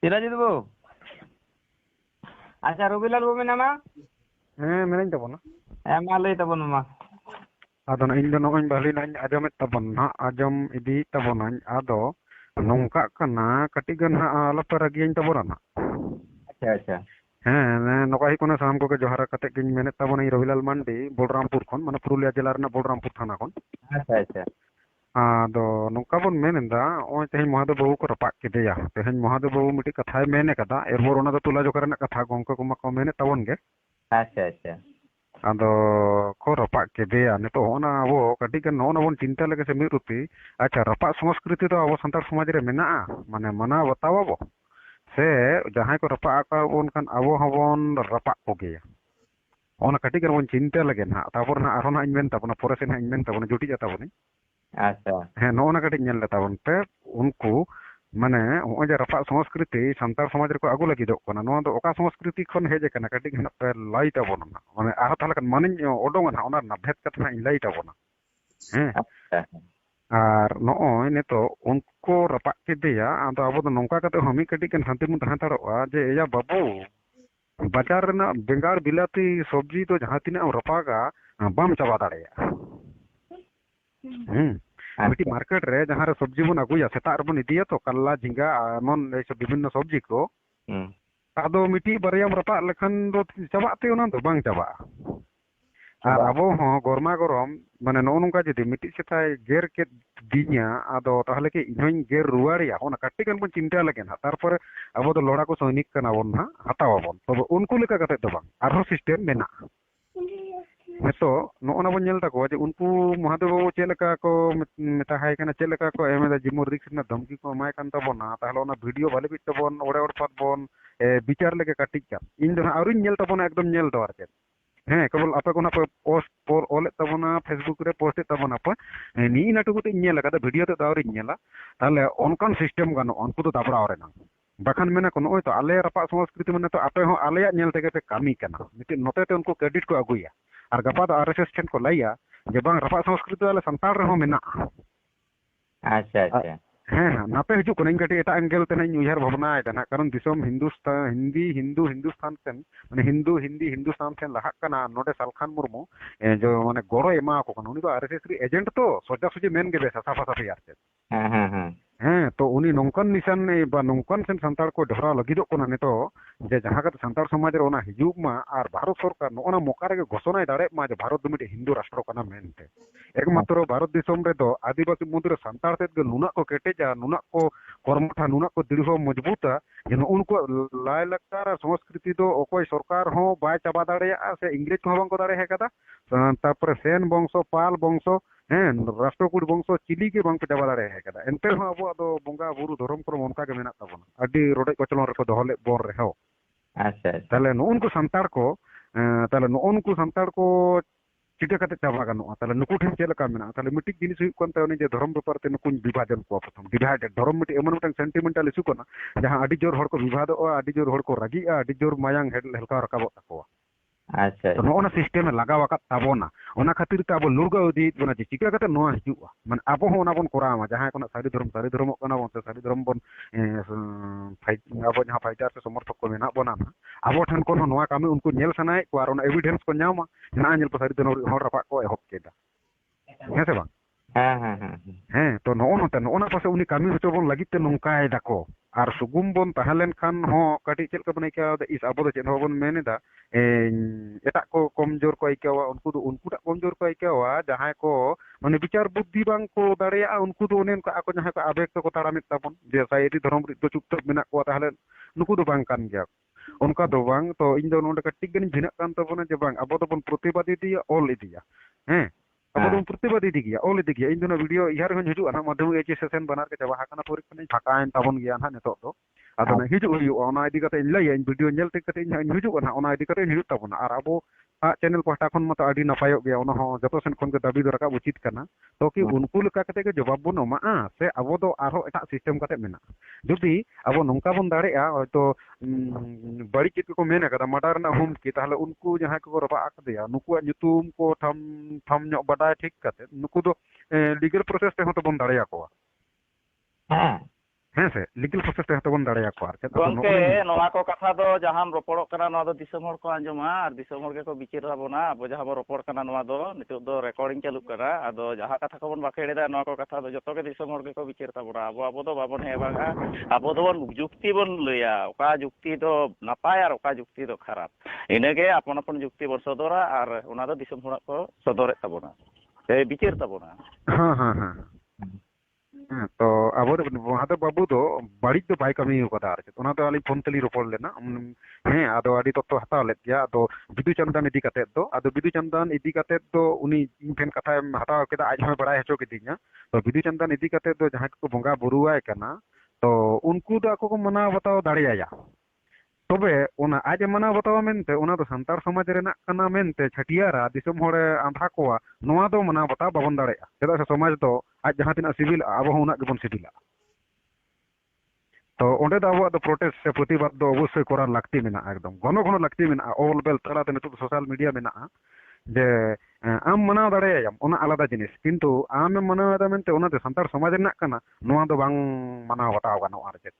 ᱥᱤᱨᱟᱡᱤᱛ ᱵᱟᱹᱵᱩ ᱟᱪᱪᱷᱟ ᱨᱚᱵᱤᱞᱟᱞ ᱵᱟᱹᱵᱩ ᱢᱮᱱᱟᱢᱟ ᱦᱮᱸ ᱢᱮᱱᱟᱹᱧ ᱛᱟᱵᱚᱱᱟ ᱦᱮᱸ ᱢᱟ ᱞᱟᱹᱭ ᱛᱟᱵᱚᱱ ᱢᱟ ᱟᱫᱚ ᱤᱧ ᱫᱚ ᱱᱚᱜᱼᱚᱭ ᱵᱷᱟᱹᱞᱤ ᱱᱟᱜ ᱤᱧ ᱟᱸᱡᱚᱢᱮᱫ ᱛᱟᱵᱚᱱ ᱱᱟᱜ ᱟᱸᱡᱚᱢ ᱤᱫᱤᱭᱮᱫ ᱛᱟᱵᱚᱱᱟᱹᱧ ᱟᱫᱚ ᱱᱚᱝᱠᱟᱜ ᱠᱟᱱᱟ ᱠᱟᱹᱴᱤᱡ ᱜᱟᱱ ᱱᱟᱜ ᱟᱞᱚᱯᱮ ᱨᱟᱹᱜᱤᱭᱟᱹᱧ ᱛᱟᱵᱚᱱᱟ ᱱᱟᱜ ᱟᱪᱪᱷᱟ ᱟᱪᱪᱷᱟ ᱦᱮᱸ ᱱᱚᱝᱠᱟ ᱦᱩᱭᱩᱜ ᱠᱟᱱᱟ ᱥᱟᱱᱟᱢ ᱠᱚᱜᱮ ᱡᱚᱦᱟᱨ ᱠᱟᱛᱮ ᱜᱤᱧ ᱢᱮᱱᱮᱫ ᱛᱟᱵᱚᱱᱟᱹᱧ ᱨᱚᱵᱤᱞᱟᱞ ᱢᱟᱱᱰᱤ ᱵᱚᱞᱨᱟᱢᱯᱩᱨ ᱠᱷᱚᱱ ᱢᱟᱱᱮ ᱯᱩᱨᱩᱞᱤᱭᱟ ᱡᱮᱞᱟ ᱨᱮᱱᱟᱜ ᱵᱚᱞᱨᱟᱢᱯᱩᱨ ᱛᱷᱟᱱᱟ ᱠᱷᱚᱱ ᱟᱪᱪᱷᱟ ᱟᱪᱪᱷᱟ ᱟᱫᱚ ᱱᱚᱝᱠᱟ ᱵᱚᱱ ᱢᱮᱱ ᱮᱫᱟ ᱱᱚᱜᱼᱚᱭ ᱛᱮᱦᱮᱧ ᱢᱚᱦᱟᱫᱮᱵ ᱵᱟᱹᱵᱩ ᱠᱚ ᱨᱟᱯᱟᱜ ᱠᱮᱫᱮᱭᱟ ᱛᱮᱦᱮᱧ ᱢᱚᱦᱟᱫᱮᱵ ᱵᱟᱹᱵᱩ ᱢᱤᱫᱴᱤᱡ ᱠᱟᱛᱷᱟᱭ ᱢᱮᱱ ᱟᱠᱟᱫᱟ ᱮᱨᱯᱚᱨ ᱚᱱᱟ ᱫᱚ ᱛᱩᱞᱟ ᱡᱚᱠᱷᱟ ᱨᱮᱱᱟᱜ ᱠᱟᱛᱷᱟ ᱜᱚᱝᱠᱮ ᱠᱚᱢᱟ ᱠᱚ ᱢᱮᱱᱮᱫ ᱛᱟᱵᱚᱱ ᱜᱮ ᱟᱪᱪᱷᱟ ᱟᱪᱪᱷᱟ ᱟᱫᱚ ᱠᱚ ᱨᱟᱯᱟᱜ ᱠᱮᱫᱮᱭᱟ ᱱᱤᱛᱚᱜ ᱦᱚᱸᱜᱼᱚ ᱱᱟ ᱟᱵᱚ ᱠᱟᱹᱴᱤᱡ ᱜᱟᱱ ᱱᱚᱜᱼᱚ ᱱᱟ ᱵᱚᱱ ᱪᱤᱱᱛᱟᱹ ᱞᱮᱜᱮ ᱥᱮ ᱢᱤᱫ ᱨᱩᱛᱤ ᱟᱪᱪᱷᱟ ᱨᱟᱯᱟᱜ ᱥᱚᱝᱥᱠᱨᱤᱛᱤ ᱫᱚ ᱟᱵᱚ ᱥᱟᱱᱛᱟᱲ ᱥᱚᱢᱟᱡᱽ ᱨᱮ ᱢᱮᱱᱟᱜᱼᱟ ᱢᱟᱱᱮ ᱢᱟᱱᱟᱣ ᱵᱟᱛᱟᱣ ᱟᱵᱚ ᱥᱮ ᱡᱟᱦᱟᱸᱭ ᱠᱚ ᱨᱟᱯᱟᱜ ᱟᱠᱟᱫ ᱵᱚᱱ ᱠᱷᱟᱱ ᱟᱵᱚ ᱦᱚᱸᱵᱚᱱ ᱨᱟᱯᱟᱜ ᱠᱚᱜᱮᱭᱟ ᱚᱱᱟ ᱠᱟᱹᱴᱤᱡ ᱜᱟᱱ ᱵᱚᱱ ᱪᱤᱱᱛᱟᱹ ᱞᱮᱜᱮ ᱱᱟᱦᱟᱜ ᱛᱟᱯᱚᱨ ᱱᱟᱦᱟᱜ ᱟᱨᱦᱚᱸ ᱱᱟᱦᱟᱜ ᱤᱧ ᱢᱮᱱ ᱛᱟᱵᱚᱱᱟ ᱯᱚᱨᱮ ᱥᱮᱫ ᱱᱟᱦᱟᱜ ᱤᱧ ᱢᱮᱱ ᱛᱟᱵᱚᱱᱟ ᱡᱩᱴᱤᱡ ᱟᱛᱟᱵᱚᱱᱤᱧ ᱟᱪᱪᱷᱟ ᱦᱮᱸ ᱱᱚᱜᱼᱚ ᱱᱟ ᱠᱟᱹᱴᱤᱡ ᱧᱮᱞ ᱞᱮ ᱛᱟᱵᱚᱱ ᱯᱮ ᱩᱱᱠᱩ ᱢᱟᱱᱮ ᱱᱚᱜᱼᱚᱭ ᱡᱮ ᱨᱟᱯᱟᱜ ᱥᱚᱝᱥᱠᱨᱤᱛᱤ ᱥᱟᱱᱛᱟᱲ ᱥᱚᱢᱟᱡᱽ ᱨᱮᱠᱚ ᱟᱹᱜᱩ ᱞᱟᱹᱜᱤᱫᱚᱜ ᱠᱟᱱᱟ ᱱᱚᱣᱟ ᱫᱚ ᱚᱠᱟ ᱥᱚᱝᱥᱠᱨᱤᱛᱤ ᱠᱷᱚᱱ ᱦᱮᱡ ᱟᱠᱟᱱᱟ ᱠᱟᱹᱴᱤᱡ ᱱᱟᱦᱟᱜ ᱯᱮ ᱞᱟᱹᱭ ᱛᱟᱵᱚᱱᱟ ᱱᱟᱦᱟᱜ ᱢᱟᱱᱮ ᱟᱨᱦᱚᱸ ᱛᱟᱦᱚᱞᱮ ᱠᱷᱟᱱ ᱢᱟᱱᱮᱧ ᱚᱰᱚᱝᱟ ᱱᱟᱦᱟᱜ ᱚᱱᱟ ᱨᱮᱱᱟᱜ ᱵᱷᱮᱫ ᱠᱟᱛᱷᱟ ᱱᱟᱦᱟᱜ ᱤᱧ ᱞᱟᱹᱭ ᱛᱟᱵᱚᱱᱟ ᱦᱮᱸ ᱟᱪᱪᱷᱟ ᱟᱨ ᱱᱚᱜᱼᱚᱭ ᱱᱤᱛᱚᱜ ᱩᱱᱠᱩ ᱨᱟᱯᱟᱜ ᱠᱮᱫᱮᱭᱟ ᱟᱫᱚ ᱟᱵᱚ ᱫᱚ ᱱᱚᱝᱠᱟ ᱠᱟᱛᱮ ᱦᱚᱸ ᱢᱤᱫ ᱠᱟᱹᱴᱤᱡ ᱜᱟᱱ ᱦᱟᱱᱛᱮ ᱵᱚᱱ ᱛᱟᱦᱮᱸ ᱦᱟᱛᱟᱲᱚᱜᱼᱟ ᱡᱮ ᱮᱭᱟ ᱵᱟᱹᱵᱩ ᱵᱟᱡᱟᱨ ᱨᱮᱱᱟᱜ ᱵᱮᱸᱜᱟᱲ ᱵᱤᱞᱟᱹᱛᱤ ᱥᱚᱵᱽᱡᱤ ᱫᱚ ᱡᱟᱦᱟᱸ ᱛᱤᱱᱟᱹᱜ ᱮᱢ ᱨᱟᱯᱟᱜᱟ ᱵᱟᱢ ᱪᱟᱵᱟ ᱫᱟᱲᱮᱭᱟᱜᱼᱟ ᱦᱮᱸ ᱢᱤᱫᱴᱤᱡ ᱟᱪᱪᱷᱟ ᱢᱟᱨᱠᱮᱴ ᱨᱮ ᱡᱟᱦᱟᱸ ᱨᱮ ᱥᱚᱵᱽᱡᱤ ᱵᱚᱱ ᱟᱹᱜᱩᱭᱟ ᱥᱮᱛᱟᱜ ᱨᱮᱵᱚᱱ ᱤᱫᱤᱭᱟ ᱛᱚ ᱠᱟᱞᱞᱟ ᱡᱷᱤᱸᱜᱟ ᱮᱢᱚᱱ ᱮᱭᱥᱚ ᱵᱤᱵᱷᱤᱱᱱᱚ ᱥᱚᱵᱽᱡᱤ ᱠᱚ ᱦᱩᱸ ᱟᱫᱚ ᱢᱤᱫᱴᱤᱡ ᱵᱟᱨᱭᱟᱢ ᱨᱟᱯᱟᱜ ᱞᱮᱠᱷᱟᱱ ᱫᱚ ᱪᱟᱵᱟᱜ ᱛᱮ ᱚᱱᱟ ᱫᱚ ᱵᱟᱝ ᱪᱟᱵᱟᱜᱼᱟ ᱟᱨ ᱵᱟᱝ ᱟᱵᱚ ᱦᱚᱸ ᱜᱚᱨᱢᱟ ᱜᱚᱨᱚᱢ ᱢᱟᱱᱮ ᱱᱚᱜᱼᱚ ᱱᱚᱝᱠᱟ ᱡᱩᱫᱤ ᱢᱤᱫᱴᱤᱡ ᱥᱮᱛᱟᱭ ᱜᱮᱨ ᱠᱮᱫ ᱫᱤᱧᱟ ᱟᱫᱚ ᱛᱟᱦᱚᱞᱮ ᱠᱤ ᱤᱧ ᱦᱚᱧ ᱜᱮᱨ ᱨᱩᱣᱟᱹᱲᱮᱭᱟ ᱚᱱᱟ ᱠᱟᱹᱴᱤᱡ ᱜᱟᱱ ᱵᱚᱱ ᱪᱤᱱᱛᱟᱹ ᱞᱮᱜᱮ ᱱᱟᱦᱟᱜ ᱛᱟᱨᱯᱚᱨᱮ ᱟᱵᱚ ᱫᱚ ᱞᱚᱲᱟ ᱠᱚ ᱥᱚᱭᱱᱤᱠ ᱠᱟᱱᱟ ᱵᱚᱱ ᱱᱟᱦᱟᱜ ᱦᱟᱛᱟᱣ ᱟᱵᱚᱱ ᱛᱚᱵᱮ ᱩᱱᱠᱩ ᱞᱮᱠᱟ ᱠᱟᱛᱮ ᱫᱚ ᱵᱟᱝ ᱟᱨᱦᱚᱸ ᱥᱤᱥᱴᱮᱢ ᱢᱮᱱᱟᱜᱼᱟ ᱱᱤᱛᱚᱜ ᱱᱚᱜᱼᱚ ᱱᱟ ᱵᱚᱱ ᱧᱮᱞ ᱛᱟᱠᱚᱣᱟ ᱡᱮ ᱩᱱᱠᱩ ᱢᱚᱦᱟᱫᱮᱵ ᱵᱟᱹᱵᱩ ᱪᱮᱫ ᱞᱮᱠᱟ ᱠᱚ ᱢᱮᱛᱟᱦᱟᱭ ᱠᱟᱱᱟ ᱪᱮᱫ ᱞᱮᱠᱟ ᱠᱚ ᱮᱢ ᱮᱫᱟ ᱡᱮᱢᱚᱱ ᱨᱤᱠᱥ ᱨᱮᱱᱟᱜ ᱫᱷᱚᱢᱠᱤ ᱠᱚ ᱮᱢᱟᱭ ᱠᱟᱱ ᱛᱟᱵᱚᱱᱟ ᱛᱟᱦᱚᱞᱮ ᱚᱱᱟ ᱵᱷᱤᱰᱤᱭᱳ ᱵᱷᱟᱞᱮ ᱵᱤᱫ ᱛᱮᱵᱚᱱ ᱚᱲᱮ ᱚᱲᱯᱟᱛ ᱵᱚᱱ ᱮ ᱵᱤᱪᱟᱨ ᱞᱮᱜᱮ ᱠᱟᱹᱴᱤᱡ ᱜᱟᱱ ᱤᱧ ᱫᱚ ᱦᱟᱸᱜ ᱟᱹᱣᱨᱤᱧ ᱧᱮᱞ ᱛᱟᱵᱚᱱᱟ ᱮᱠᱫᱚᱢ ᱧᱮᱞ ᱫᱚ ᱟᱨ ᱪᱮᱫ ᱦᱮᱸ ᱠᱮᱵᱚᱞ ᱟᱯᱮ ᱠᱚ ᱱᱟᱜ ᱯᱮ ᱯᱳᱥᱴ ᱯᱚᱨ ᱚᱞᱮᱫ ᱛᱟᱵᱚᱱᱟ ᱯᱷᱮᱥᱵᱩᱠ ᱨᱮ ᱯᱳᱥᱴ ᱮᱫ ᱛᱟᱵᱚᱱᱟ ᱯᱮ ᱱᱤᱭᱟᱹ ᱱᱟᱴᱩ ᱠᱚᱛᱮ ᱤᱧ ᱧᱮᱞ ᱟᱠᱟᱫᱟ ᱵᱷᱤᱰᱤᱭᱳ ᱛᱮᱫ ᱟᱹᱣᱨᱤᱧ ᱧᱮᱞᱟ ᱛᱟᱦᱚᱞᱮ ᱚᱱᱠᱟᱱ ᱥᱤᱥᱴᱮᱢ ᱜᱟᱱᱚᱜᱼᱟ ᱩᱱᱠᱩ ᱫᱚ ᱫᱟᱵᱲᱟᱣ ᱨᱮᱱᱟᱜ ᱵᱟᱠᱷᱟᱱ ᱢᱮᱱᱟ ᱠᱚ ᱱᱚᱜᱼᱚᱭ ᱛᱚ ᱟᱞᱮ ᱨᱟᱯᱟᱜ ᱥᱚᱝᱥᱠᱨᱤᱛᱤ ᱢᱟᱱᱮ ᱛᱚ ᱟᱯᱮ ᱦᱚᱸ ᱟᱞᱮᱭᱟᱜ ᱧᱮᱞ ᱛᱮᱜᱮ ᱯᱮ ᱠᱟᱹᱢᱤ ᱠᱟᱱᱟ ᱢᱤᱫᱴᱮᱱ ᱱᱚᱛᱮ ᱛᱮ ᱩᱱᱠᱩ ᱠᱨᱮᱰᱤᱴ ᱠᱚ ᱟᱹᱜᱩᱭᱟ ᱟᱨ ᱜᱟᱯᱟ ᱫᱚ ᱟᱨ ᱮᱥ ᱮᱥ ᱴᱷᱮᱱ ᱠᱚ ᱞᱟᱹᱭᱟ ᱡᱮ ᱵᱟᱝ ᱨᱟᱯᱟᱜ ᱥᱚᱝᱥᱠᱨᱤᱛᱤ ᱫᱚ ᱟᱞᱮ ᱥᱟᱱᱛᱟᱲ ᱨᱮᱦᱚᱸ ᱢᱮᱱᱟᱜᱼᱟ ᱟᱪᱪᱷᱟ ᱟᱪᱪᱷᱟ ᱦᱮᱸ ᱦᱮᱸ ᱱᱟᱛᱮ ᱦᱤᱡᱩᱜ ᱠᱟᱱᱟ ᱤᱧ ᱠᱟᱹᱴᱤᱡ ᱮᱴᱟᱜ ᱮᱝᱜᱮᱞ ᱛᱮ ᱤᱧ ᱩᱭᱦᱟᱹᱨ ᱵᱷᱟᱵᱽᱱᱟᱭᱮᱫᱟ ᱱᱟᱜ ᱠᱟᱨᱚᱱ ᱫᱤᱥᱚᱢ ᱦᱤᱱᱫᱩᱥᱛᱟᱱ ᱦᱤᱱᱫᱤ ᱦᱤᱱᱫᱩ ᱦᱤᱱᱫᱩᱥᱛᱟᱱ ᱥᱮᱱ ᱢᱟᱱᱮ ᱦᱤᱱᱫᱩ ᱦᱤᱱᱫᱤ ᱦᱤᱱᱫᱩᱥᱛᱟᱱ ᱥᱮᱱ ᱞᱟᱦᱟᱜ ᱠᱟᱱᱟ ᱱᱚᱰᱮ ᱥᱟᱞᱠᱷᱟᱱ ᱢᱩᱨᱢᱩ ᱡᱚ ᱢᱟᱱᱮ ᱜᱚᱲᱚᱭ ᱮᱢᱟ ᱟᱠᱚ ᱠᱟᱱᱟ ᱩᱱᱤ ᱫᱚ ᱟᱨ ᱮᱥ ᱮᱥ ᱨᱤ ᱮᱡᱮᱱᱴ ᱛᱚ ᱥᱚᱡᱟ ᱥᱚᱡᱷᱤ ᱢᱮᱱ ᱜᱮ ᱵᱮᱥᱟ ᱥᱟᱯᱷᱟ ᱥᱟᱯᱷᱤ ᱟᱨ ᱪᱮᱫ ᱦᱮᱸ ᱦᱮᱸ ᱦᱮᱸ ᱦᱮᱸ ᱛᱚ ᱩᱱᱤ ᱱᱚᱝᱠᱟᱱ ᱱᱤᱥᱟᱱ ᱵᱟ ᱱᱚᱝᱠᱟᱱ ᱥᱮᱱ ᱥᱟᱱᱛᱟᱲ ᱠᱚ ᱰᱷᱚᱨᱟᱣ ᱞᱟᱹᱜᱤᱫᱚᱜ ᱠᱟᱱᱟ ᱱᱤᱛᱚᱜ ᱡᱮ ᱡᱟᱦᱟᱸ ᱠᱟᱛᱮ ᱥᱟᱱᱛᱟᱲ ᱥᱚᱢᱟᱡᱽ ᱨᱮ ᱚᱱᱟ ᱦᱤᱡᱩᱜ ᱢᱟ ᱟᱨ ᱵᱷᱟᱨᱚᱛ ᱥᱚᱨᱠᱟᱨ ᱱᱚᱜᱼᱚ ᱱᱟ ᱢᱚᱠᱟ ᱨᱮᱜᱮ ᱜᱷᱳᱥᱚᱱᱟᱭ ᱫᱟᱲᱮᱭᱟᱜ ᱢᱟ ᱡᱮ ᱵᱷᱟᱨᱚᱛ ᱫᱚ ᱢᱤᱫᱴᱮᱡ ᱦᱤᱱᱫᱩ ᱨᱟᱥᱴᱨᱚ ᱠᱟᱱᱟ ᱢᱮᱱᱛᱮ ᱮᱠᱢᱟᱛᱨᱚ ᱵᱷᱟᱨᱚᱛ ᱫᱤᱥᱚᱢ ᱨᱮᱫᱚ ᱟᱹᱫᱤᱵᱟᱹᱥᱤ ᱢᱩᱫᱽ ᱨᱮ ᱥᱟᱱᱛᱟᱲ ᱛᱮᱫ ᱜᱮ ᱱᱩᱱᱟᱹᱜ ᱠᱚ ᱠᱮᱴᱮᱡᱟ ᱱᱩᱱᱟᱹᱜ ᱠᱚ ᱠᱚᱨᱢᱚᱴᱷᱟ ᱱᱩᱱᱟᱹᱜ ᱠᱚ ᱫᱤᱲᱦᱚ ᱢᱚᱡᱽᱵᱩᱛᱟ ᱡᱮ ᱱᱩᱜᱼᱩ ᱱᱩᱠᱩᱣᱟᱜ ᱞᱟᱭᱼᱞᱟᱠᱪᱟᱨ ᱟᱨ ᱥᱚᱝᱥᱠᱨᱤᱛᱤ ᱫᱚ ᱚᱠᱚᱭ ᱥᱚᱨᱠᱟᱨ ᱦᱚᱸ ᱵᱟᱭ ᱪᱟᱵᱟ ᱫᱟᱲᱮᱭᱟᱜᱼᱟ ᱥᱮ ᱤᱝᱨᱮᱡᱽ ᱠᱚᱦᱚᱸ ᱵᱟᱝᱠᱚ ᱫᱟᱲᱮ ᱟᱠᱟᱫᱟ ᱛᱟᱨᱯᱚᱨᱮ ᱥᱮᱱ ᱵᱚᱝᱥᱚ ᱯᱟᱞ ᱵᱚᱝᱥᱚ ᱦᱮᱸ ᱨᱟᱥᱴᱨᱚᱠᱩᱴ ᱵᱚᱝᱥᱚ ᱪᱤᱞᱤ ᱜᱮ ᱵᱟᱝᱠᱚ ᱪᱟᱵᱟ ᱫᱟᱲᱮ ᱟᱠᱟᱫᱟ ᱮᱱᱛᱮ ᱨᱮᱦᱚᱸ ᱟᱵᱚᱣᱟᱜ ᱫᱚ ᱵᱚᱸᱜᱟ ᱵᱩᱨᱩ ᱫᱷᱚᱨᱚᱢ ᱠᱚᱨᱚᱢ ᱚᱱᱠᱟ ᱜᱮ ᱢᱮᱱᱟᱜ ᱛᱟᱵᱚᱱᱟ ᱟᱹᱰᱤ ᱨᱚᱰᱚᱡ ᱠᱚᱪᱞᱚᱱ ᱨᱮᱠᱚ ᱫᱚᱦᱚ ᱞᱮᱫ ᱵᱚᱱ ᱨᱮᱦᱚᱸ ᱟᱪᱪᱷᱟ ᱟᱪᱪᱷᱟ ᱛᱟᱦᱚᱞᱮ ᱱᱩᱜᱼᱩ ᱱᱩᱠᱩ ᱥᱟᱱᱛᱟᱲ ᱠᱚ ᱛᱟᱦᱚᱞᱮ ᱱᱩᱜᱼᱩ ᱱᱩᱠᱩ ᱥᱟᱱᱛᱟᱲ ᱠᱚ ᱪᱤᱠᱟᱹ ᱠᱟᱛᱮ ᱪᱟᱵᱟ ᱜᱟᱱᱚᱜᱼᱟ ᱛᱟᱦᱚᱞᱮ ᱱᱩᱠᱩ ᱴᱷᱮᱱ ᱪᱮᱫ ᱞᱮᱠᱟ ᱢᱮᱱᱟᱜᱼᱟ ᱛᱟᱦᱚᱞᱮ ᱢᱤᱫᱴᱤᱡ ᱡᱤᱱᱤᱥ ᱦᱩᱭᱩᱜ ᱠᱟᱱ ᱛᱟᱭᱟ ᱩᱱᱤ ᱡᱮ ᱫᱷᱚᱨᱚᱢ ᱵᱮᱯᱟᱨ ᱛᱮ ᱱᱩᱠᱩᱧ ᱵᱤᱵᱷᱟᱡᱚᱱ ᱠᱚᱣᱟ ᱯᱨᱚᱛᱷᱚᱢ ᱰᱤᱵᱷᱟᱭᱰᱮᱰ ᱫᱷᱚᱨᱚᱢ ᱢᱤᱫᱴᱤᱡ ᱮᱢᱚᱱ ᱢᱤᱫᱴᱟᱝ ᱥᱮᱱᱴᱤᱢᱮᱱᱴᱟᱞ ᱤᱥᱩ ᱠᱟᱱᱟ ᱡᱟᱦᱟᱸ ᱟᱹᱰᱤ ᱡᱳᱨ ᱦᱚᱲ ᱠᱚ ᱵᱤᱵᱷᱟᱫᱚᱜᱼᱟ ᱟᱹᱰᱤ ᱡᱳᱨ ᱦᱚᱲ ᱠᱚ ᱨᱟᱹᱜᱤᱜᱼᱟ ᱟᱹᱰᱤ ᱡᱳᱨ ᱢᱟᱭᱟᱝ ᱦᱮᱞᱠᱟᱣ ᱨᱟᱠᱟᱵᱚᱜ ᱛᱟᱠᱚᱣᱟ ᱟᱪᱪᱷᱟ ᱛᱚ ᱱᱚᱜᱼᱚ ᱱᱟ ᱥᱤᱥᱴᱮᱢ ᱮ ᱞᱟᱜᱟᱣ ᱟᱠᱟᱫ ᱛᱟᱵᱚᱱᱟ ᱚᱱᱟ ᱠᱷᱟᱹᱛᱤᱨ ᱛᱮ ᱟᱵᱚ ᱞᱩᱲᱜᱟᱹᱣ ᱤᱫᱤᱭᱮᱫ ᱵᱚᱱᱟ ᱡᱮ ᱪᱤᱠᱟᱹ ᱠᱟᱛᱮ ᱱᱚᱣᱟ ᱦᱤᱡᱩᱜᱼᱟ ᱢᱟᱱᱮ ᱟᱵᱚ ᱦᱚᱸ ᱚᱱᱟ ᱵᱚᱱ ᱠᱚᱨᱟᱣ ᱢᱟ ᱡᱟᱦᱟᱸᱭ ᱠᱷᱚᱱᱟᱜ ᱥᱟᱹᱨᱤ ᱫᱷᱚᱨᱚᱢ ᱥᱟᱹᱨᱤ ᱫᱷᱚᱨᱚᱢᱚᱜ ᱠᱟᱱᱟ ᱵᱚᱱ ᱥᱮ ᱥᱟᱹᱨᱤ ᱫᱷᱚᱨᱚᱢ ᱵᱚᱱ ᱯᱷᱟᱭᱤᱴ ᱟᱵᱚ ᱡᱟᱦᱟᱸ ᱯᱷᱟᱭᱴᱟᱨ ᱥᱮ ᱥᱚᱢᱚᱨᱛᱷᱚᱠ ᱠᱚ ᱢᱮᱱᱟᱜ ᱵᱚᱱᱟ ᱱᱟᱦᱟᱜ ᱟᱵᱚ ᱴᱷᱮᱱ ᱠᱷᱚᱱ ᱱᱚᱣᱟ ᱠᱟᱹᱢᱤ ᱩᱱᱠᱩ ᱧᱮᱞ ᱥᱟᱱᱟᱭᱮᱫ ᱠᱚᱣᱟ ᱟᱨ ᱚᱱᱟ ᱮᱵᱷᱤᱰᱮᱱᱥ ᱠᱚ ᱧᱟᱢᱟ ᱦᱮᱱᱟᱜᱼᱟ ᱧᱮᱞ ᱯᱮ ᱥᱟᱹᱨᱤ ᱫᱚ ᱦᱚᱲ ᱨᱟᱯᱟᱜ ᱠᱚ ᱮᱦᱚᱵ ᱠᱮᱫᱟ ᱦᱮᱸ ᱥᱮ ᱵᱟᱝ ᱦᱮᱸ ᱦᱮᱸ ᱦᱮᱸ ᱦᱮᱸ ᱛᱚ ᱱᱚᱜᱼᱚ ᱱᱚᱛᱮ ᱱᱚᱜᱼᱚ ᱱᱟ ᱯᱟᱥᱮ ᱩᱱᱤ ᱠᱟᱹᱢᱤ ᱦᱚᱪᱚ ᱵᱚᱱ ᱞᱟᱹᱜᱤᱫ ᱛᱮ ᱱᱚᱝᱠᱟᱭ ᱫᱟᱠᱚ ᱟᱨ ᱥᱩᱜᱩᱢ ᱵᱚᱱ ᱛᱟᱦᱮᱸ ᱞᱮᱱᱠᱷᱟᱱ ᱦᱚᱸ ᱠᱟᱹᱴᱤᱡ ᱪᱮᱫ ᱞᱮᱠᱟ ᱵᱚᱱ ᱟᱹᱭᱠᱟᱹᱣᱫᱟ ᱤᱥ ᱟᱵᱚ ᱫᱚ ᱪᱮᱫ ᱦᱚᱸ ᱵᱟᱵᱚᱱ ᱢᱮᱱ ᱮᱫᱟ ᱮᱴᱟᱜ ᱠᱚ ᱠᱚᱢᱡᱳᱨ ᱠᱚ ᱟᱹᱭᱠᱟᱹᱣᱟ ᱩᱱᱠᱩ ᱫᱚ ᱩᱱᱠᱩᱴᱟᱜ ᱠᱚᱢᱡᱳᱨ ᱠᱚ ᱟᱹᱭᱠᱟᱹᱣᱟ ᱡᱟᱦᱟᱸᱭ ᱠᱚ ᱢᱟᱱᱮ ᱵᱤᱪᱟᱨ ᱵᱩᱫᱽᱫᱷᱤ ᱵᱟᱝ ᱠᱚ ᱫᱟᱲᱮᱭᱟᱜᱼᱟ ᱩᱱᱠᱩ ᱫᱚ ᱚᱱᱮ ᱚᱱᱠᱟ ᱟᱠᱚ ᱡᱟᱦᱟᱸᱭ ᱠᱚ ᱟᱵᱮᱜᱽ ᱛᱮᱠᱚ ᱛᱟᱲᱟᱢᱮᱫ ᱛᱟᱵᱚᱱ ᱡᱮ ᱥᱟᱭᱨᱤ ᱫᱷᱚᱨᱚᱢ ᱨᱤᱫ ᱫᱚ ᱪᱩᱯᱪᱟᱯ ᱢᱮᱱᱟᱜ ᱠᱚᱣᱟ ᱛᱟᱦᱚᱞᱮ ᱱᱩᱠᱩ ᱫᱚ ᱵᱟᱝ ᱠᱟᱱ ᱜᱮᱭᱟ ᱚᱱᱠᱟ ᱫᱚ ᱵᱟᱝ ᱛᱚ ᱤᱧ ᱫᱚ ᱱᱚᱰᱮ ᱠᱟᱹᱴᱤᱡ ᱜᱟᱱᱤᱧ ᱵᱷᱤᱱᱟᱹᱜ ᱠᱟᱱ ᱛᱟᱵᱚᱱᱟ ᱡᱮ ᱵᱟᱝ ᱟᱵᱚ ᱫᱚᱵᱚᱱ ᱯᱨᱚᱛᱤᱵᱟᱫ ᱤᱫᱤᱭᱟ ᱚᱞ ᱤᱫᱤᱭᱟ ᱦᱮᱸ ᱟᱵᱚ ᱦᱮᱸ ᱫᱚᱵᱚᱱ ᱯᱨᱚᱛᱤᱵᱟᱫ ᱤᱫᱤ ᱜᱮᱭᱟ ᱚᱞ ᱤᱫᱤ ᱜᱮᱭᱟ ᱤᱧ ᱫᱚ ᱱᱚᱣᱟ ᱵᱷᱤᱰᱤᱭᱳ ᱤᱭᱟᱹ ᱨᱮᱦᱚᱸᱧ ᱦᱤᱡᱩᱜᱼᱟ ᱱᱟᱦᱟᱜ ᱢᱟᱫᱷᱭᱚᱢᱤᱠ ᱮᱭᱤᱪ ᱮᱥ ᱥᱮᱥᱮᱱ ᱵᱟᱱᱟᱨ ᱜᱮ ᱪᱟᱵᱟ ᱟᱠᱟᱱᱟ ᱯᱚᱨᱤᱠᱠᱷᱟ ᱱᱟᱜ ᱯᱷᱟᱸᱠᱟᱭᱮᱱ ᱛᱟᱵᱚᱱ ᱜᱮᱭᱟ ᱱᱟᱦᱟᱜ ᱱᱤᱛᱚᱜ ᱫᱚ ᱟᱫᱚ ᱱᱟᱜ ᱦᱤᱡᱩᱜ ᱦᱩᱭᱩᱜᱼᱟ ᱚᱱᱟ ᱤᱫᱤ ᱠᱟᱛᱮ ᱤᱧ ᱞᱟᱹᱭᱟ ᱤᱧ ᱵᱷᱤᱰᱤᱭᱳ ᱧᱮᱞ ᱴᱷᱤᱠ ᱠᱟᱛᱮ ᱤᱧ ᱦᱟᱸᱜ ᱤᱧ ᱦᱤᱡᱩᱜᱼᱟ ᱱᱟᱦᱟᱜ ᱚᱱᱟ ᱤᱫᱤ ᱠᱟᱛᱮ ᱦᱤᱡᱩᱜ ᱛᱟᱵᱚᱱᱟ ᱟᱨ ᱟᱵᱚ ᱟᱜ ᱪᱮᱱᱮᱞ ᱯᱟᱦᱴᱟ ᱠᱷᱚᱱ ᱢᱟᱛᱚ ᱟᱹᱰᱤ ᱱᱟᱯᱟᱭᱚᱜ ᱜᱮᱭᱟ ᱚᱱᱟ ᱦᱚᱸ ᱡᱚᱛᱚ ᱥᱮᱱ ᱠᱷᱚᱱ ᱜᱮ ᱫᱟᱹᱵᱤ ᱫᱚ ᱨᱟᱠᱟᱵ ᱩᱪᱤᱛ ᱠᱟᱱᱟ ᱛᱚ ᱠᱤ ᱩᱱᱠᱩ ᱞᱮᱠᱟ ᱠᱟᱛᱮ ᱜᱮ ᱡᱚᱵᱟᱵ ᱵᱚᱱ ᱮᱢᱟᱜᱼᱟ ᱥᱮ ᱟᱵᱚ ᱫᱚ ᱟᱨᱦᱚᱸ ᱮᱴᱟᱜ ᱥᱤᱥᱴᱮᱢ ᱠᱟᱛᱮ ᱢᱮᱱᱟᱜᱼᱟ ᱡᱩᱫᱤ ᱟᱵᱚ ᱱᱚᱝᱠᱟ ᱵᱚᱱ ᱫᱟᱲᱮᱜᱼᱟ ᱦᱚᱭᱛᱚ ᱵᱟᱹᱲᱤᱡ ᱪᱮᱫ ᱠᱚᱠᱚ ᱢᱮᱱ ᱟᱠᱟᱫᱟ ᱢᱟᱰᱟ ᱨᱮᱱᱟᱜ ᱦᱩᱢᱠᱤ ᱛᱟᱦᱚᱞᱮ ᱩᱱᱠᱩ ᱡᱟᱦᱟᱸᱭ ᱠᱚᱠᱚ ᱨᱟᱯᱟᱜ ᱟᱠᱟᱫᱮᱭᱟ ᱱᱩᱠᱩᱣᱟᱜ ᱧᱩᱛᱩᱢ ᱠᱚ ᱴᱷᱟᱢ ᱴᱷᱟᱢ ᱧᱚᱜ ᱵᱟᱰᱟᱭ ᱴᱷᱤᱠ ᱠᱟᱛᱮ ᱱᱩᱠᱩ ᱫᱚ ᱞᱤᱜᱮᱞ ᱯᱨᱚᱥᱮᱥ ᱛᱮᱦᱚᱸ ᱛᱚᱵᱚᱱ ᱫᱟᱲᱮᱭᱟᱠᱚᱣᱟ ᱦᱮᱸ ᱦᱮᱸ ᱥᱮ ᱞᱤᱜᱮᱞ ᱯᱨᱚᱥᱮᱥ ᱛᱮ ᱛᱮᱵᱚᱱ ᱫᱟᱲᱮᱭᱟᱠᱚᱣᱟ ᱟᱨ ᱪᱮᱫ ᱜᱚᱝᱠᱮ ᱱᱚᱣᱟ ᱠᱚ ᱠᱟᱛᱷᱟ ᱫᱚ ᱡᱟᱦᱟᱸᱢ ᱨᱚᱯᱚᱲᱚᱜ ᱠᱟᱱᱟ ᱱᱚᱣᱟ ᱫᱚ ᱫᱤᱥᱚᱢ ᱦᱚᱲ ᱠᱚ ᱟᱸᱡᱚᱢᱟ ᱟᱨ ᱫᱤᱥᱚᱢ ᱦᱚᱲ ᱜᱮᱠᱚ ᱵᱤᱪᱟᱹᱨ ᱟᱵᱚᱱᱟ ᱟᱵᱚ ᱡᱟᱦᱟᱸ ᱵᱚᱱ ᱨᱚᱯᱚᱲ ᱠᱟᱱᱟ ᱱᱚᱣᱟ ᱫᱚ ᱱᱤᱛᱚᱜ ᱫᱚ ᱨᱮᱠᱚᱨᱰᱤᱝ ᱪᱟᱹᱞᱩᱜ ᱠᱟᱱᱟ ᱟᱫᱚ ᱡᱟᱦᱟᱸ ᱠᱟᱛᱷᱟ ᱠᱚᱵᱚᱱ ᱵᱟᱠᱷᱮᱲᱮᱫᱟ ᱱᱚᱣᱟ ᱠᱚ ᱠᱟᱛᱷᱟ ᱫᱚ ᱡᱚᱛᱚ ᱜᱮ ᱫᱤᱥᱚᱢ ᱦᱚᱲ ᱜᱮᱠᱚ ᱵᱤᱪᱟᱹᱨ ᱛᱟᱵᱚᱱᱟ ᱟᱵᱚ ᱟᱵᱚ ᱫᱚ ᱵᱟᱵᱚᱱ ᱦᱮᱸ ᱵᱟᱝᱟ ᱟᱵᱚ ᱫᱚᱵᱚᱱ ᱡᱩᱠᱛᱤ ᱵᱚᱱ ᱞᱟᱹᱭᱟ ᱚᱠᱟ ᱡᱩᱠᱛᱤ ᱫᱚ ᱱᱟᱯᱟᱭ ᱟᱨ ᱚᱠᱟ ᱡᱩᱠᱛᱤ ᱫᱚ ᱠᱷᱟᱨᱟᱯ ᱤᱱᱟᱹᱜᱮ ᱟᱯᱚᱱ ᱟᱯᱚᱱ ᱡᱩᱠᱛᱤ ᱵᱚᱱ ᱥᱚᱫᱚᱨᱟ ᱟᱨ ᱚᱱᱟ ᱫᱚ ᱫᱤᱥᱚᱢ ᱦᱚᱲᱟᱜ ᱠᱚ ᱥᱚᱫᱚᱨᱮᱫ ᱛᱟᱵᱚᱱᱟ ᱥᱮ ᱵᱤᱪᱟᱹᱨ ᱛᱟᱵᱚᱱᱟ ᱦᱮᱸ ᱦᱮᱸ ᱦᱮᱸ ᱦᱮᱸ ᱛᱚ ᱟᱵᱚ ᱢᱟᱦᱟᱫᱮᱵ ᱵᱟᱹᱵᱩ ᱫᱚ ᱵᱟᱹᱲᱤᱡ ᱫᱚ ᱵᱟᱭ ᱠᱟᱹᱢᱤ ᱟᱠᱟᱫᱟ ᱟᱨ ᱪᱮᱫ ᱚᱱᱟ ᱫᱚ ᱟᱹᱞᱤᱧ ᱯᱷᱳᱱ ᱛᱮᱞᱤᱧ ᱨᱚᱯᱚᱲ ᱞᱮᱱᱟ ᱦᱮᱸ ᱟᱫᱚ ᱟᱹᱰᱤ ᱛᱚᱛᱛᱷᱚ ᱦᱟᱛᱟᱣ ᱞᱮᱫ ᱜᱮᱭᱟ ᱟᱫᱚ ᱵᱤᱫᱩ ᱪᱟᱸᱫᱟᱱ ᱤᱫᱤ ᱠᱟᱛᱮ ᱫᱚ ᱟᱫᱚ ᱵᱤᱫᱩ ᱪᱟᱸᱫᱟᱱ ᱤᱫᱤ ᱠᱟᱛᱮ ᱫᱚ ᱩᱱᱤ ᱤᱧ ᱴᱷᱮᱱ ᱠᱟᱛᱷᱟᱭ ᱦᱟᱛᱟᱣ ᱠᱮᱫᱟ ᱟᱡ ᱦᱚᱸᱭ ᱵᱟᱲᱟᱭ ᱦᱚᱪᱚ ᱠᱤᱫᱤᱧᱟ ᱛᱚ ᱵᱤᱫᱩ ᱪᱟᱸᱫᱟᱱ ᱤᱫᱤ ᱠᱟᱛᱮ ᱫᱚ ᱡᱟᱦᱟᱸᱭ ᱠᱚᱠᱚ ᱵᱚᱸᱜᱟ ᱵᱩᱨᱩᱣᱟᱭ ᱠᱟᱱᱟ ᱛᱚ ᱩᱱᱠᱩ ᱫᱚ ᱟᱠᱚ ᱠᱚ ᱢᱟᱱᱟᱣ ᱵᱟᱛᱟᱣ ᱫᱟᱲᱮᱭᱟᱭᱟ ᱛᱚᱵᱮ ᱚᱱᱟ ᱟᱡ ᱮ ᱢᱟᱱᱟᱣ ᱵᱟᱛᱟᱣᱟ ᱢᱮᱱᱛᱮ ᱚᱱᱟ ᱫᱚ ᱥᱟᱱᱛᱟᱲ ᱥᱚᱢᱟᱡᱽ ᱨᱮᱱᱟᱜ ᱠᱟᱱᱟ ᱢᱮᱱᱛᱮ ᱪᱷᱟᱹᱴᱭᱟᱹᱨᱟ ᱫᱤᱥᱚᱢ ᱦᱚᱲ ᱮ ᱟᱸᱫᱷᱟ ᱠᱚᱣᱟ ᱱᱚᱶᱟ ᱫᱚ ᱢᱟᱱᱟᱣ ᱵᱟᱛᱟᱣ ᱵᱟᱵᱚᱱ ᱫᱟᱲᱮᱭᱟᱜᱼᱟ ᱪᱮᱫᱟᱜ ᱥᱮ ᱥᱚᱢᱟᱡᱽ ᱫᱚ ᱟᱡ ᱡᱟᱦᱟᱸ ᱛᱤᱱᱟᱹᱜ ᱥᱤᱵᱤᱞᱟᱜᱼᱟ ᱟᱵᱚ ᱦᱚᱸ ᱩᱱᱟᱹᱜ ᱜᱮᱵᱚᱱ ᱥᱤᱵᱤᱞᱟᱜᱼᱟ ᱛᱚ ᱚᱸᱰᱮ ᱫᱚ ᱟᱵᱚᱣᱟᱜ ᱫᱚ ᱯᱨᱚᱴᱮᱥᱴ ᱥᱮ ᱯᱨᱚᱛᱤᱵᱟᱫᱽ ᱫᱚ ᱚᱵᱚᱥᱥᱚᱭ ᱠᱚᱨᱟᱣ ᱞᱟᱹᱠᱛᱤ ᱢᱮᱱᱟᱜᱼᱟ ᱮᱠᱫᱚᱢ ᱜᱷᱚᱱᱚ ᱜᱷᱚᱱᱚ ᱞᱟᱹᱠᱛᱤ ᱢᱮᱱᱟᱜᱼᱟ ᱚᱞ ᱵᱮᱞ ᱛᱟᱞᱟᱛᱮ ᱱᱤᱛᱚᱜ ᱫᱚ ᱥᱳᱥᱟᱞ ᱢᱤᱰᱤᱭᱟ ᱢᱮᱱᱟᱜᱼᱟ ᱡᱮ ᱟᱢ ᱢᱟᱱᱟᱣ ᱫᱟᱲᱮᱭᱟᱭᱟᱢ ᱚᱱᱟ ᱟᱞᱟᱫᱟ ᱡᱤᱱᱤᱥ ᱠᱤᱱᱛᱩ ᱟᱢᱮᱢ ᱢᱟᱱᱟᱣ ᱮᱫᱟ ᱢᱮᱱᱛᱮ ᱚᱱᱟ ᱫᱚ ᱥᱟᱱᱛᱟᱲ ᱥᱚᱢᱟᱡᱽ ᱨᱮᱱᱟᱜ ᱠᱟᱱᱟ ᱱᱚᱶᱟ ᱫᱚ ᱵᱟᱝ ᱢᱟᱱᱟᱣ ᱵᱟᱛᱟᱣ ᱜᱟᱱᱚᱜᱼᱟ ᱟᱨ ᱪᱮᱫ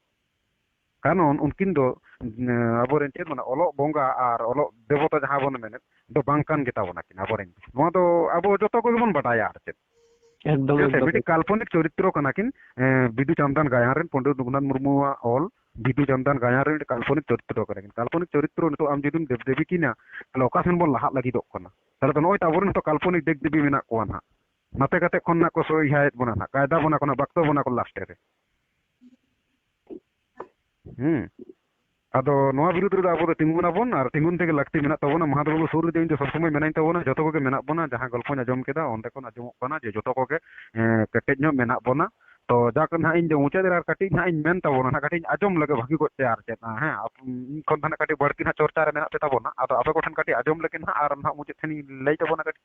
ᱠᱟᱱᱚᱱ ᱩᱱᱠᱤᱱ ᱫᱚ ᱟᱵᱚ ᱨᱮᱱ ᱪᱮᱫ ᱢᱟᱱᱮ ᱚᱞᱚᱜ ᱵᱚᱸᱜᱟ ᱟᱨ ᱚᱞᱚᱜ ᱫᱮᱵᱚᱛᱟ ᱡᱟᱦᱟᱸ ᱵᱚᱱ ᱢᱮᱱᱮᱫ ᱫᱚ ᱵᱟᱝ ᱠᱟᱱ ᱜᱮᱛᱟ ᱵᱚᱱᱟ ᱠᱤᱱ ᱟᱵᱚ ᱨᱮᱱ ᱱᱚᱣᱟ ᱫᱚ ᱟᱵᱚ ᱡᱚᱛᱚ ᱠᱚᱜᱮ ᱵᱚᱱ ᱵᱟᱰᱟᱭᱟ ᱟᱨ ᱪᱮᱫ ᱮᱠᱫᱚᱢ ᱪᱮᱫᱟᱜ ᱥᱮ ᱮᱠᱫᱚᱢ ᱢᱤᱫᱴᱤᱡ ᱠᱟᱞᱯᱚᱱᱤᱠ ᱪᱚᱨᱤᱛᱨᱚ ᱠᱟᱱᱟ ᱠᱤᱱ ᱵᱤᱫᱩ ᱪᱟᱸᱫᱟᱱ ᱜᱟᱭᱟᱱ ᱨᱮᱱ ᱯᱚᱱᱰᱤᱛ ᱨᱚᱜᱷᱩᱱᱟᱛᱷ ᱢᱩᱨᱢᱩᱣᱟᱜ ᱚᱞ ᱵᱤᱫᱩ ᱪᱟᱸᱫᱟᱱ ᱜᱟᱭᱟᱱ ᱨᱮ ᱢᱤᱫᱴᱤᱡ ᱠᱟᱞᱯᱚᱱᱤᱠ ᱪᱚᱨᱤᱛᱨᱚ ᱠᱟᱱᱟ ᱠᱤᱱ ᱠᱟᱞᱯᱚᱱᱤᱠ ᱪᱚᱨᱤᱛᱨᱚ ᱱᱤᱛᱚᱜ ᱟᱢ ᱡᱩᱫᱤᱢ ᱫᱮᱵ ᱫᱮᱵᱤ ᱠᱤᱱᱟ ᱛᱟᱦᱚᱞᱮ ᱚᱠᱟ ᱥᱮᱱ ᱵᱚᱱ ᱞᱟᱦᱟᱜ ᱞᱟᱹᱜᱤᱫᱚᱜ ᱠᱟᱱᱟ ᱛᱟᱦᱚᱞᱮ ᱫᱚ ᱱᱚᱜᱼᱚᱭ ᱛᱚ ᱟᱵᱚᱨᱮᱱ ᱦᱚᱸᱛᱚ ᱠᱟᱞᱯᱚᱱᱤᱠ ᱫᱮᱵ ᱫᱮᱵᱤ ᱢᱮᱱᱟᱜ ᱠᱚᱣᱟ ᱱᱟᱦᱟᱜ ᱱᱟᱛᱮ ᱠᱟᱛᱮ ᱠᱷᱚᱱ ᱱᱟᱜ ᱠᱚ ᱥᱚᱦᱤᱦᱟᱭᱮᱫ ᱵᱚᱱᱟ ᱱᱟᱦᱟᱜ ᱠᱟᱭᱫᱟ ᱵᱚᱱᱟ ᱠᱚ ᱱᱟᱦᱟᱜ ᱵᱟᱠᱛᱚ ᱵᱚᱱᱟ ᱠᱚ ᱞᱟᱥᱴᱮ ᱨᱮ ᱦᱮᱸ ᱟᱫᱚ ᱱᱚᱣᱟ ᱵᱤᱨᱩᱫᱽ ᱨᱮᱫᱚ ᱟᱵᱚ ᱫᱚ ᱛᱤᱸᱜᱩᱱ ᱟᱵᱚᱱ ᱟᱨ ᱛᱤᱸᱜᱩᱱ ᱛᱮᱜᱮ ᱞᱟᱹᱠᱛᱤ ᱢᱮᱱᱟᱜ ᱛᱟᱵᱚᱱᱟ ᱢᱟᱦᱟᱛ ᱵᱟᱹᱵᱩ ᱥᱩᱨ ᱨᱮᱫᱚ ᱤᱧ ᱫᱚ ᱥᱚᱵᱽ ᱥᱚᱢᱚᱭ ᱢᱮᱱᱟᱹᱧ ᱛᱟᱵᱚᱱᱟ ᱡᱚᱛᱚ ᱠᱚᱜᱮ ᱢᱮᱱᱟᱜ ᱵᱚᱱᱟ ᱡᱟᱦᱟᱸ ᱜᱚᱞᱯᱚᱧ ᱟᱸᱡᱚᱢ ᱠᱮᱫᱟ ᱚᱸᱰᱮ ᱠᱷᱚᱱ ᱟᱸᱡᱚᱢᱚᱜ ᱠᱟᱱᱟ ᱡᱮ ᱡᱚᱛᱚ ᱠᱚᱜᱮ ᱠᱮᱴᱮᱡ ᱧᱚᱜ ᱢᱮᱱᱟᱜ ᱵᱚᱱᱟ ᱛᱚ ᱡᱟᱠ ᱱᱟᱦᱟᱜ ᱤᱧ ᱫᱚ ᱢᱩᱪᱟᱹᱫ ᱨᱮ ᱟᱨ ᱠᱟᱹᱴᱤᱡ ᱱᱟᱦᱟᱜ ᱤᱧ ᱢᱮᱱ ᱛᱟᱵᱚᱱᱟ ᱱᱟᱦᱟᱜ ᱠᱟᱹᱴᱤᱡ ᱤᱧ ᱟᱸᱡᱚᱢ ᱞᱮᱜᱮ ᱵᱷᱟᱹᱜᱤ ᱠᱚᱡ ᱛᱮ ᱟᱨ ᱪᱮᱫ ᱦᱮᱸ ᱤᱧ ᱠᱷᱚᱱ ᱫᱚ ᱱᱟᱦᱟᱜ ᱠᱟᱹᱴᱤᱡ ᱵᱟᱹᱲᱛᱤ ᱱᱟᱦᱟᱜ ᱪᱚᱨᱪᱟ ᱨᱮ ᱢᱮᱱᱟᱜ ᱯᱮ ᱛᱟᱵᱚᱱᱟ ᱟᱫᱚ ᱟᱯᱮ ᱠᱚᱴᱷᱮᱱ ᱠᱟᱹᱴᱤᱡ ᱟᱸᱡᱚᱢ ᱞᱮᱜᱮ ᱱᱟᱦᱟᱜ ᱟᱨ ᱱᱟᱦᱟᱜ ᱢᱩᱪᱟᱹᱫ ᱴᱷᱮᱱᱤᱧ ᱞᱟᱹᱭ ᱛᱟᱵᱚᱱᱟ ᱠᱟᱹᱴᱤᱡ